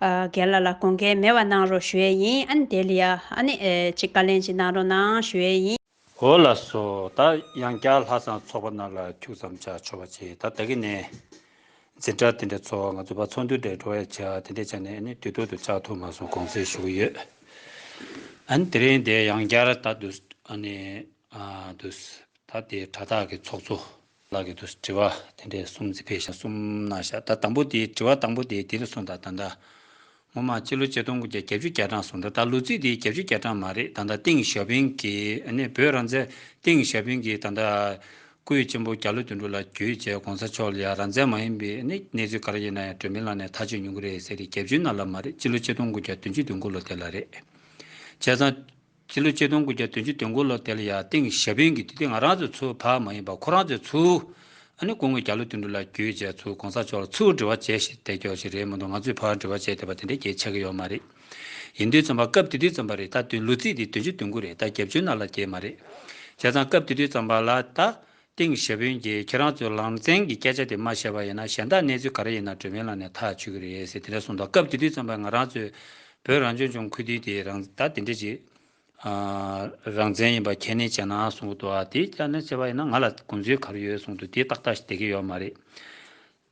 རྒན་ལ་ལ་དགོངས་འགལ་མེད་བ་གནང་རོགས་ཞུ་ཡས་ཡིན་ཨ་ནི་དེ་ལི་ཡ་ཨ་ནི་ཅིག་བཀའ་ལན་ཅིག་གནང་རོགས་གནང་ཞུ་ཡས་ཡིན། འོ་ལགས་སོ་ད་ཡང་བསྐྱར་ལྷ་བསང་ཚོགས་པ་རྣམས་ལ་ཁྱུག་ཙམ་བྱ་ཆོག་པ་ཅིག་ད་ད་གི་ནས་འཛིན་གྲྭ་དེ་འདྲ་ཚོགས་ང་ཚོ་བ་ཚོགས་འདུ་འདྲ་འགྲོ་བས་བྱ་དེ་འདྲ་བྱ་ནས་ཨ་ནི་དུས་ཐོག་ཏུ་ཆགས་ཐུབ་མ་སོང་དགོངས་ཚེ་ཞུ་གི་ཡོད་ཨ་ནི་དེ་རིང་འདི་ཡང་བསྐྱར་ད་འདུས་ཨ་ནི་འདུས་ད་དེ་གྲྭ་དག་གི་ཚོགས་གཙོ། ལག་གི་དུ་དྲི་བ་དེ་འདྲས་གསུམ་རྩི་བེ་ཞག་གསུམ་ན་བཞག་ད་དང་པོ་དེའི་དྲི་བ་དང་པོ་དེའི་དེ་རེ་ཟུང་དང་ད་ལྟ་ངོ་མ་སྤྱི་ལོ་ཆིག་སྟོང་དགུ་བརྒྱ་གྱ་བཅུ་གྱ་གྲངས་སུ་འགྲོ་ད་ལོ་རྩིས་དེའི་གྱ་བཅུ་གྱ་གྲངས་མ་རེད་ད་ལྟ་ཏིང་ཞའོ་ཕིང་གིས་ནི་བོད་རང་བཙན་ཏིང་ཞའོ་ཕིང་གིས་ད་ལྟ་སྐུའི་གཅེན་པོ་གྱ་ལོ་དོན་དྲུག་ལ་བརྒྱུད་བཅས་གོང་ས་མཆོག་ལ་ཡང་རང་བཙན་མ་ཡིན་པའི་ནི་གནས་ཚུལ་ག་རེ་ཡིན་ན་ཡང་བགྲོས་མི་ལང་ནས་ཐག་གཅོད་ཉུང་གི་རེད་ཟེར་དེ་གྱ་བཅུའི་ནང་ལ་མ་རེད་སྤྱི་ལོ་ཆིག་སྟོང་དགུ་བརྒྱ་དོན་བཅུ་དོན་དགུ་ལོ་དེ་ལ་རེད་བྱས་ཙང། ཕྱི་ལོ་ཆིག་སྟོང་དགུ་བརྒྱ་དོན་བཅུ་དོན་དགུ་ལོ་དེ་ལ་ཡང་ཏིང་ཞཱ་ཕིང་གིས་དུས་དེ་ང་རང་ཚོའི་ཚོའི་བར་མ་ཡིན་པར་ཁོ་རང་ཚོའི་ཚོའུ། ཨ་ནི་སྐུ་ངོས་རྒྱ་ལོ་དུད་འགྲོ་ལ་རྒྱུས་བཅས་ཚོའུ་གོང་ས་མཆོག་ལ་ཚུར་འབྲེལ་བ་བྱས་ཞེས་དེ་སྐྱོར་ཞིག་རེད་མ་གཏོགས་ང་ཚོའི་བར་འབྲེལ་བ་བྱས་འདོད་པ་དེ་འདྲའི་གལ་ཆགས་ཀྱི་ཡོད་མ་རེད། ཡིན་དུས་རྩོམ་པ་སྐབས་དེ་དུས་རྩོམ་པ་རེད་ད་དུས་ལོ་ཚིགས་དེ་དོན་བཅུ་དོན་དགུ་རེད་ད་རྒྱབ་ཆོས་ནག་ལ་རྒྱས་མ་རེད། བྱས་ཙང་སྐབས་དེ་དུས་རྩོམ་པ་ལ་ད་ཏིང་ཞེ་དཔོན་གྱིས་ཁྱེད་རང་ཚོས་ལང་ཚན་གྱི་སྐད་ཆ་དེ་མ་བཤད་པ་ཡིན་ན་གཞན་དག་གནས་ཚུལ་ག་རེ་ཡིན་ན་གྲོས་མོལ་ལངས་ནས་ཐག་གཅོད་ཀྱི་རེད་ཟེར་དེ་འདྲ་གསུངས་འདུག་སྐབས་དེ་དུས་ཙམ་པར་ང་རང་ཚོས་བོད་རང་སྐྱོང་ལྗོངས་ཁུལ་དེའི་དེ་རང་ད་དེ་འདྲ་གྱི་རང་བཙན་ཡིན་པ་ཁས་ལེན་བྱས་ན་གསུངས་འདུག་དེ་ཁས་ལེན་བྱས་པ་ཡིན་ན་ང་ལ་དགོངས་ཚུལ་ག་རེ་ཡོད་གསུངས་འདུག་དེ་ཏག་ཏག་བྱེད་ཀྱི་ཡོད་མ་རེད།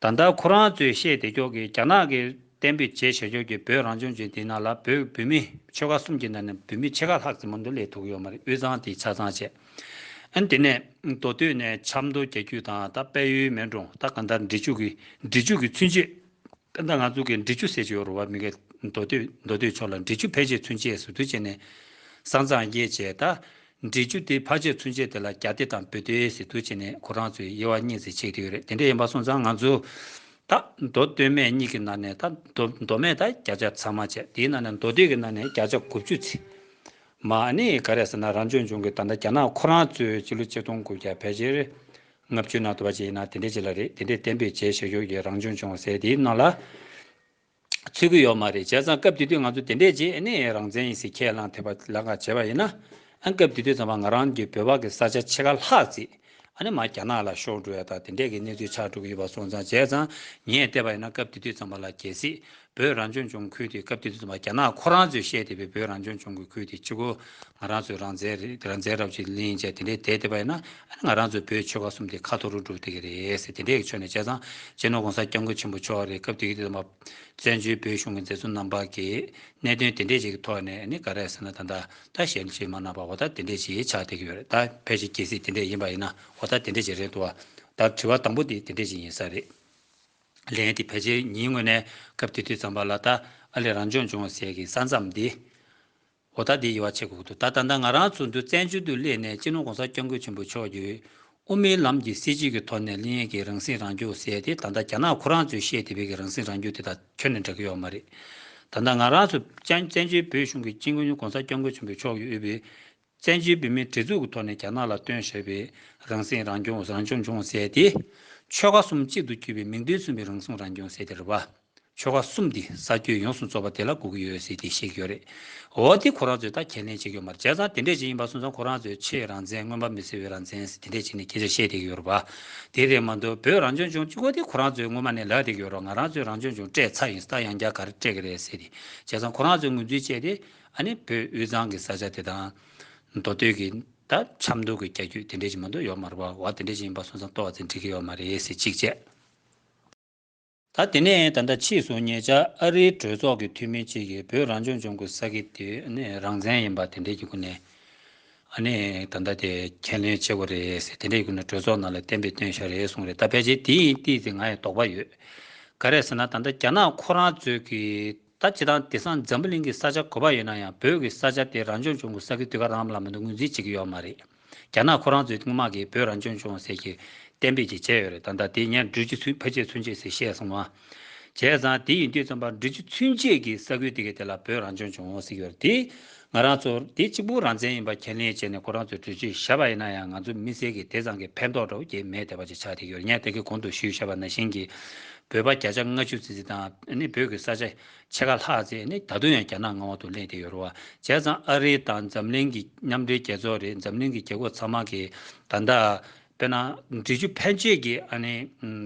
ད་ལྟ་ཁོ་རང་ཚོས་བཤད་བདེ་སྐྱོག་གིས་རྒྱ་ནག་གིས་གཏན་འབེབས་བྱས་བྱས་སྐྱོག་གིས་བོད་རང་སྐྱོང་ལྗོན་དེའི་ནང་ལ་བོད་བུད་མེད་ཆོལ་ཁ་གསུམ་གྱི་ནང་ནས་བུད་མེད་ཕྱེད་ཀ་ལྷག་ཙེ་མོ་མདོ་ལས་ཐུག་ཡོད་མ་རེད་དབུས་གཙང་དེ་ཆ་ཚང་བྱས་ཨན་དེ་ནས་མདོ་སྟོད་ནས་ཆབ་མདོ་རྒྱ་ཁྱུ་དང་ད་དཔལ་ཡུལ་མེན་གྲོང་ད་གང་ལྟར་འབྲི་ཆུ་གི་འབྲི་ཆུ་གི་ཚུན་ཆད་ད་ང་ཚོ་གི་འབྲི་ཆུ་ཟེར་གྱི་ཡོད་རུ་བ་མི་ག་མདོ་སྟོད་མདོ་སྟོད་ཕྱོགས་ལ་འབྲི་ཆུ་ཕལ་ཆེར་ཚུན་ཆད་ཟུར་དུ་བྱས་ནས་བཟང་ཚང་བརྒྱད་བྱས་ད་འབྲི་རྒྱུ་དེ་ཕ་ཆད་ཚུན་ཆད་དེ་ལ་རྒྱ་སྡེ་དང་བོད་སྡེ་ཟེར་དུས་ཆེ་ནས་ཁོ་རང་ཚོའི་དབྱེ་བ་གཉིས་ཟེར་ཆེད་དུ་ཡོད་རེད་དེ་འདྲ་ཡིན་པ་སོང་ཙང་ང་ཚོ་ད་མདོ་སྟོད་སྨད་གཉིས་ཀྱི་ནང་ནས་ད་མདོ་སྨད་དང་རྒྱ་ཆ་ཚང་མ་བྱས་དེའི་ནང་ནས་མདོ་སྟོད་ཀྱི་ནང་ནས་རྒྱ་ཆ་དགུ་བཅུ་ཚིག་མ་ནི་ག་རེ་ཟེར་ན་རང་སྐྱོང་ལྗོངས་ཀྱི་ད་ལྟ་རྒྱ་ནག་ཁོ་རང་ཚོའི་སྤྱི་ལོ་གཅིག་སྟོང་དགུ་བརྒྱ་ཕལ་ཆེར་ལྔ་བཅུའི་ནང་དུ་བ་ཅི་ཡིན་ན་དེ་འདྲའི་ཅིག་ལ་རེད་དེ་འདྲའི་བརྟན་པོས་བྱས་ཞེས་ཞོགས་ཀྱི་རང་སྐྱོང་ལྗོངས་ཟེར་དེའི་ནང་ལ། ཚུད་ཀྱི་ཡོད་མ་རེད་བྱས་ཙང་སྐབས་དེ་དུས་ང་ཚོ་དེ་འདྲས་རྗེས་ཨ་ནེ་ཡའི་རང་བཙན་ཡིན་ཟེར་ཁས་བླངས་ཐེ་བ་ལག་འགག་བྱས་པ་ཡིན་ན། ཨ་སྐབས་དེ་དུས་ཚང་མ་ང་རང་གི་བོད་པ་གི་ས་ཆ་ཕྱེད་ཀ་ལྷག་བརྩིས། ཨ་ནེ་མ་རྒྱ་ནག་ལ་ཤོར་འགྲོ་ཡ་ད་དེ་འདྲས་ཀྱི་གནས་ཚུལ་ཆགས་འགྲོ་གི་ཡོད་པ་སོང་ཙང་བྱས་ཙང་ངས་བལྟས་པ་ཡིན་ན་སྐབས་དེ་དུས་ཚང་མ་ལ་གལ་སྲིད་བོད་རང་སྐྱོང་ལྗོངས་ཁུལ་དེ་སྐབས་དེ་དུས་ཚང་མ་རྒྱ་ནག་ཁོ་རང་ཚོས་བཤད་བསྡད་པའི་བོད་རང་སྐྱོང་ལྗོངས་ཀྱི་ཁུལ་དེ་ཆུ་ཁོལ་ང་རང་ཚོའི་རང་བཙན་རབས་ཀྱི་གླིང་བཅས་དེ་འདྲའི་དད་དེ་པ་ཡིན་ན་ང་རང་ཚོའི་བོད་ཆོལ་ཁ་གསུམ་དེ་ཁ་ཐོར་རུ་འགྲོ་སྡད་ཀྱི་རེད་དེ་འདྲའི་གི་ཕྱོགས་ནས་བྱས་ཙང་རྗེ་ནོར་གོང་ས་སྐྱབས་མགོན་ཆེན་པོ་མཆོག་རེད་སྐབས་དེའི་དུས་བཙན་བྱོལ་བོད་གཞུང་གི་མཛད་གཙོ་རྣམ་པ་གི་གནད་དོན་དེ་འདྲའི་ཞིག་གི་ཐོག་ནས་ནི་ག་རེ་ཟེར་ན་ད་ད་གཞན་གྱི་མ་རྣམ་པ་འོ་ད་དེ་འདྲའི་ཞིག་ཆགས་སྡད་ཀྱི་ཡོད་རེད་ད་ཕལ་ཆེར་གལ་སྲིད་དེ་འདྲས་ཡིན་པ་ཡིན་ན་འོ་ད་དེ་འདྲའི་ཞིག་རེད་འདུག་བ་ད་དྲི་བ་དང་པོ་དེ་དེ་འདྲའི་ཞིག་ཡིན་ས་རེད། ལན། དེ་ཕལ་ཆེར་ཉིན་དངོས་ནས་སྐབས་དེ་དུས་ཙམ་པ་ལ་ད་ཨ་ལས་རང་སྦྱོང་བྱུང་བ་ཟེར་གྱི་ས་མཚམས་འདི། འོ་ད་འདི་ཡི་བ་ཆེ་གོ་ཐུབ་ད་ད་ལྟ་ང་རང་ཚོ་འདུ་བཙན་བྱོལ་དུ་སླེབས་ནས་སྤྱི་ནོར་གོང་ས་སྐྱབས་མགོན་ཆེན་པོ་མཆོག་གིས་དབུ་མའི་ལམ་གྱི་སྲིད་བྱུས་ཀྱི་ཐོག་ནས་གླིང་ཡན་གྱི་རང་སྲིད་རང་སྐྱོང་ཟེར་ཏེ་ད་ལྟ་རྒྱ་ནག་ཁོ་རང་ཚོས་བཤད་དེ་བོད་ཀྱི་རང་སྲིད་རང་སྐྱོང་དེ་དང་ཁྱོན་ནས་འདྲ་གི་ཡོད་མ་རེད། ད་ལྟ་ང་རང་ཚོ་བཙན་བྱོལ་བོད་གཞུང་གི་སྤྱི་མགོན་གོང་ས་སྐྱབས་མགོན་ཆེན་པོ་མཆོག་གིས་དབུས་པའི་བཙན་བྱོལ་བོད་མིའི་སྒྲིག་འཛུགས་ཀྱི་ཐོག་ནས་རྒྱ་ནག་ལ་སྟོན་ཞེས་པའི་རང་སྲིད་རང་སྐྱོང་རང་སྐྱོང་ལྗོངས་ཟེར་ཏེ། ཆོལ་ཁ་གསུམ་གཅིག་ཏུ་གྱུར་པའི་མིང་དོན་མཚུངས་པའི་རང་སྲུང་རང་སྐྱོང་ཟེར་དེ་རེད་བ། ཆོལ་ཁ་གསུམ་འདི་ས་ཁྱོན་ཡོངས་སུ་རྫོགས་པ་དེ་ལ་སྒུག་གི་ཡོད་ཟེར་དེ་བཤད་ཀྱི་ཡོད་རེད། འོ་དེ་ཁོ་རང་ཚོས་ད་ཁས་ལེན་བྱེད་ཀྱི་ཡོད་མ་རེད་བྱས་ཙང་དེ་འདྲས་ཅིག་ཡིན་པ་སོང་ཙང་ཁོ་རང་ཚོས་ཆེས་རང་བཙན་མངོན་པ་མི་བཟོ་བའི་རང་བཙན་ཟེར་དེ་འདྲས་ཅིག་ནས་སྐད་ཆ་བཤད་བསྡད་ཀྱི་ཡོད་རེད་བ། དེ་རེད་མ་འདུག་བོད་རང་སྐྱོང་ལྗོངས་གཅིག་པོ་དེ་ཁོ་རང་ཚོས་སྔོན་མ་ནས་ལབ་བསྡད་ཀྱི་ཡོད་རོགས་ང་རང་ཚོས་རང་སྐྱོང་ལྗོངས་སྤྲད་ཚར་ཡིན་སྟབས་ཡང་བསྐྱར་ག་རེ་སྤྲད་ཀྱི་རེད་ཟེར་དེ་བྱས་ཙང་ཁོ་རང་ཚོས་ངོས་འཛིན་བྱས་དེ། ཨ་ནི་བོད་དབུས་གཙང་གི་ས་ཆ་དེ་དང། མདོ་སྟོད་ཀྱི། ད་ཆབ་མདོ་གི་རྒྱ་རྒྱུད་དེ་འདྲས་ཅིག་མ་འདུག་ཡོད་མ་རེད་བ། འོ་དེ་འདྲས་ཅིག་ཡིན་པ་སོང་ཙང་ཏོག་ཙེ་འགྲིག་གི་ཡོད་མ་རེད་ཟེར་གཅིག་བྱས། ད་དེ་ནས་ད་ལྟ་ཕྱིས་སུ་ངེད་ཅག་ཨ་རིའི་གྲོས་ཚོགས་ཀྱི་འཐུས་མི་གཅིག་གིས་བོད་རང་སྐྱོང་ལྗོངས་ཀྱི་ས་ཁེ་དེ་རང་བཙན་ཡིན་པ་དེ་འདྲའི་སྐུ་ནས་ད་ལྟ་དེ་ཁས་ལེན་བྱེད་དགོས་རེད་ཟེར་དེ་འདྲའི་སྐུ་ནས་གྲོས་ཚོགས་ནང་ལ་བསྟན་པའི་དོན་བྱ་རེད་གསུངས་རེད་ད་ཕལ་ཆེར་དེ་ཡིན་ཏེ་ང་ཡི་དོགས་པ་ཡོད། ག་རེད་ཟེར་ན་ད་ལྟ་རྒྱ་ནག་ཁོ་རང་ཚོས་ཀྱི་ད་བྱེད་དང་དེ་སང་འཛམ་བུ་གླིང་གི་ས་ཆ་གོ་བ་ཡོད་ན་ཡང་བོད་ཀྱི་ས་ཆ་དེ་རང་སྐྱོང་བྱུང་དགོས་ས་ཀྱི་དུས་ཁ་རང་ལ་མི་འདུག་ངོས་འཛིན་བྱེད་ཀྱི་ཡོད་མ་རེད། རྒྱ་ནག་ཁོ་རང་ཚོས་དངུལ་དམག་གིས་བོད་རང་སྐྱོང་བྱུང་ཟེར་གྱི་གཏན་འབེབས་ཀྱི་བྱས་ཡོད་རེད་ད་ལྟ་དེ་ཉན་འགྲུལ་གྱི་ཚུན་ཕ་ཆད་ཚུན་ཆད་ཟེར་བཤད་སོང་བ། བྱས་ཙང་དེ་ཡིན་དུས་རྩོམ་པ་འགྲུལ་གྱི་ཚུན་ཆད་ཀྱི་ས་ཁུལ་དེ་གའི་དེ་ལ་བོད་རང་སྐྱོང་བྱུང་ཟེར་གྱི་ཡོད་རེད་དེ། ང་རང་ཚོར་དེ་གཅིག་པུ་རང་བཙན་ཡིན་པ་ཁས་ལེན་བྱས་ནས་ཁོ་རང་ཚོས་གྲོས་ཆོད་བཞག་པ་ཡིན་ན་ཡང་ང་ཚོ་མི་སེར་གྱི་དེ་ཙམ་གྱི་ཕན་ཐོགས་འདྲ་བོ་སྐྱེས་མེད་དེ་བ་ཅིག་ཆགས་བསྡད་ཡོད་ངས་དེ་གི་གོང་དུ་ཞུས་བཞག་པ་ན་ཞིང་གི་བོད་པ་བརྒྱ་ཆ་ལྔ་ཅུ་ཙི་ཙི་དང་བོད་ཀྱི་ས་ཆ་ཕྱེད་ཀ་ལྷག་ཙི་ད་དུང་ཡང་རྒྱ་ནག་མངའ་འོག་ཏུ་གླེང་བསྡད་ཡོད་རུང་བ་བྱས་ཙང་ཨ་རི་དང་འཛམ་གླིང་གི་མཉམ་འབྲེལ་རྒྱལ་ཚོགས་རེད་འཛམ་གླིང་གི་རྒྱལ་ཁོག་ཚང་མ་གིས་ད་ལྟ་དཔེར་ན། འབྲི་ཆུ་ཕན་ཆད་ཀྱི་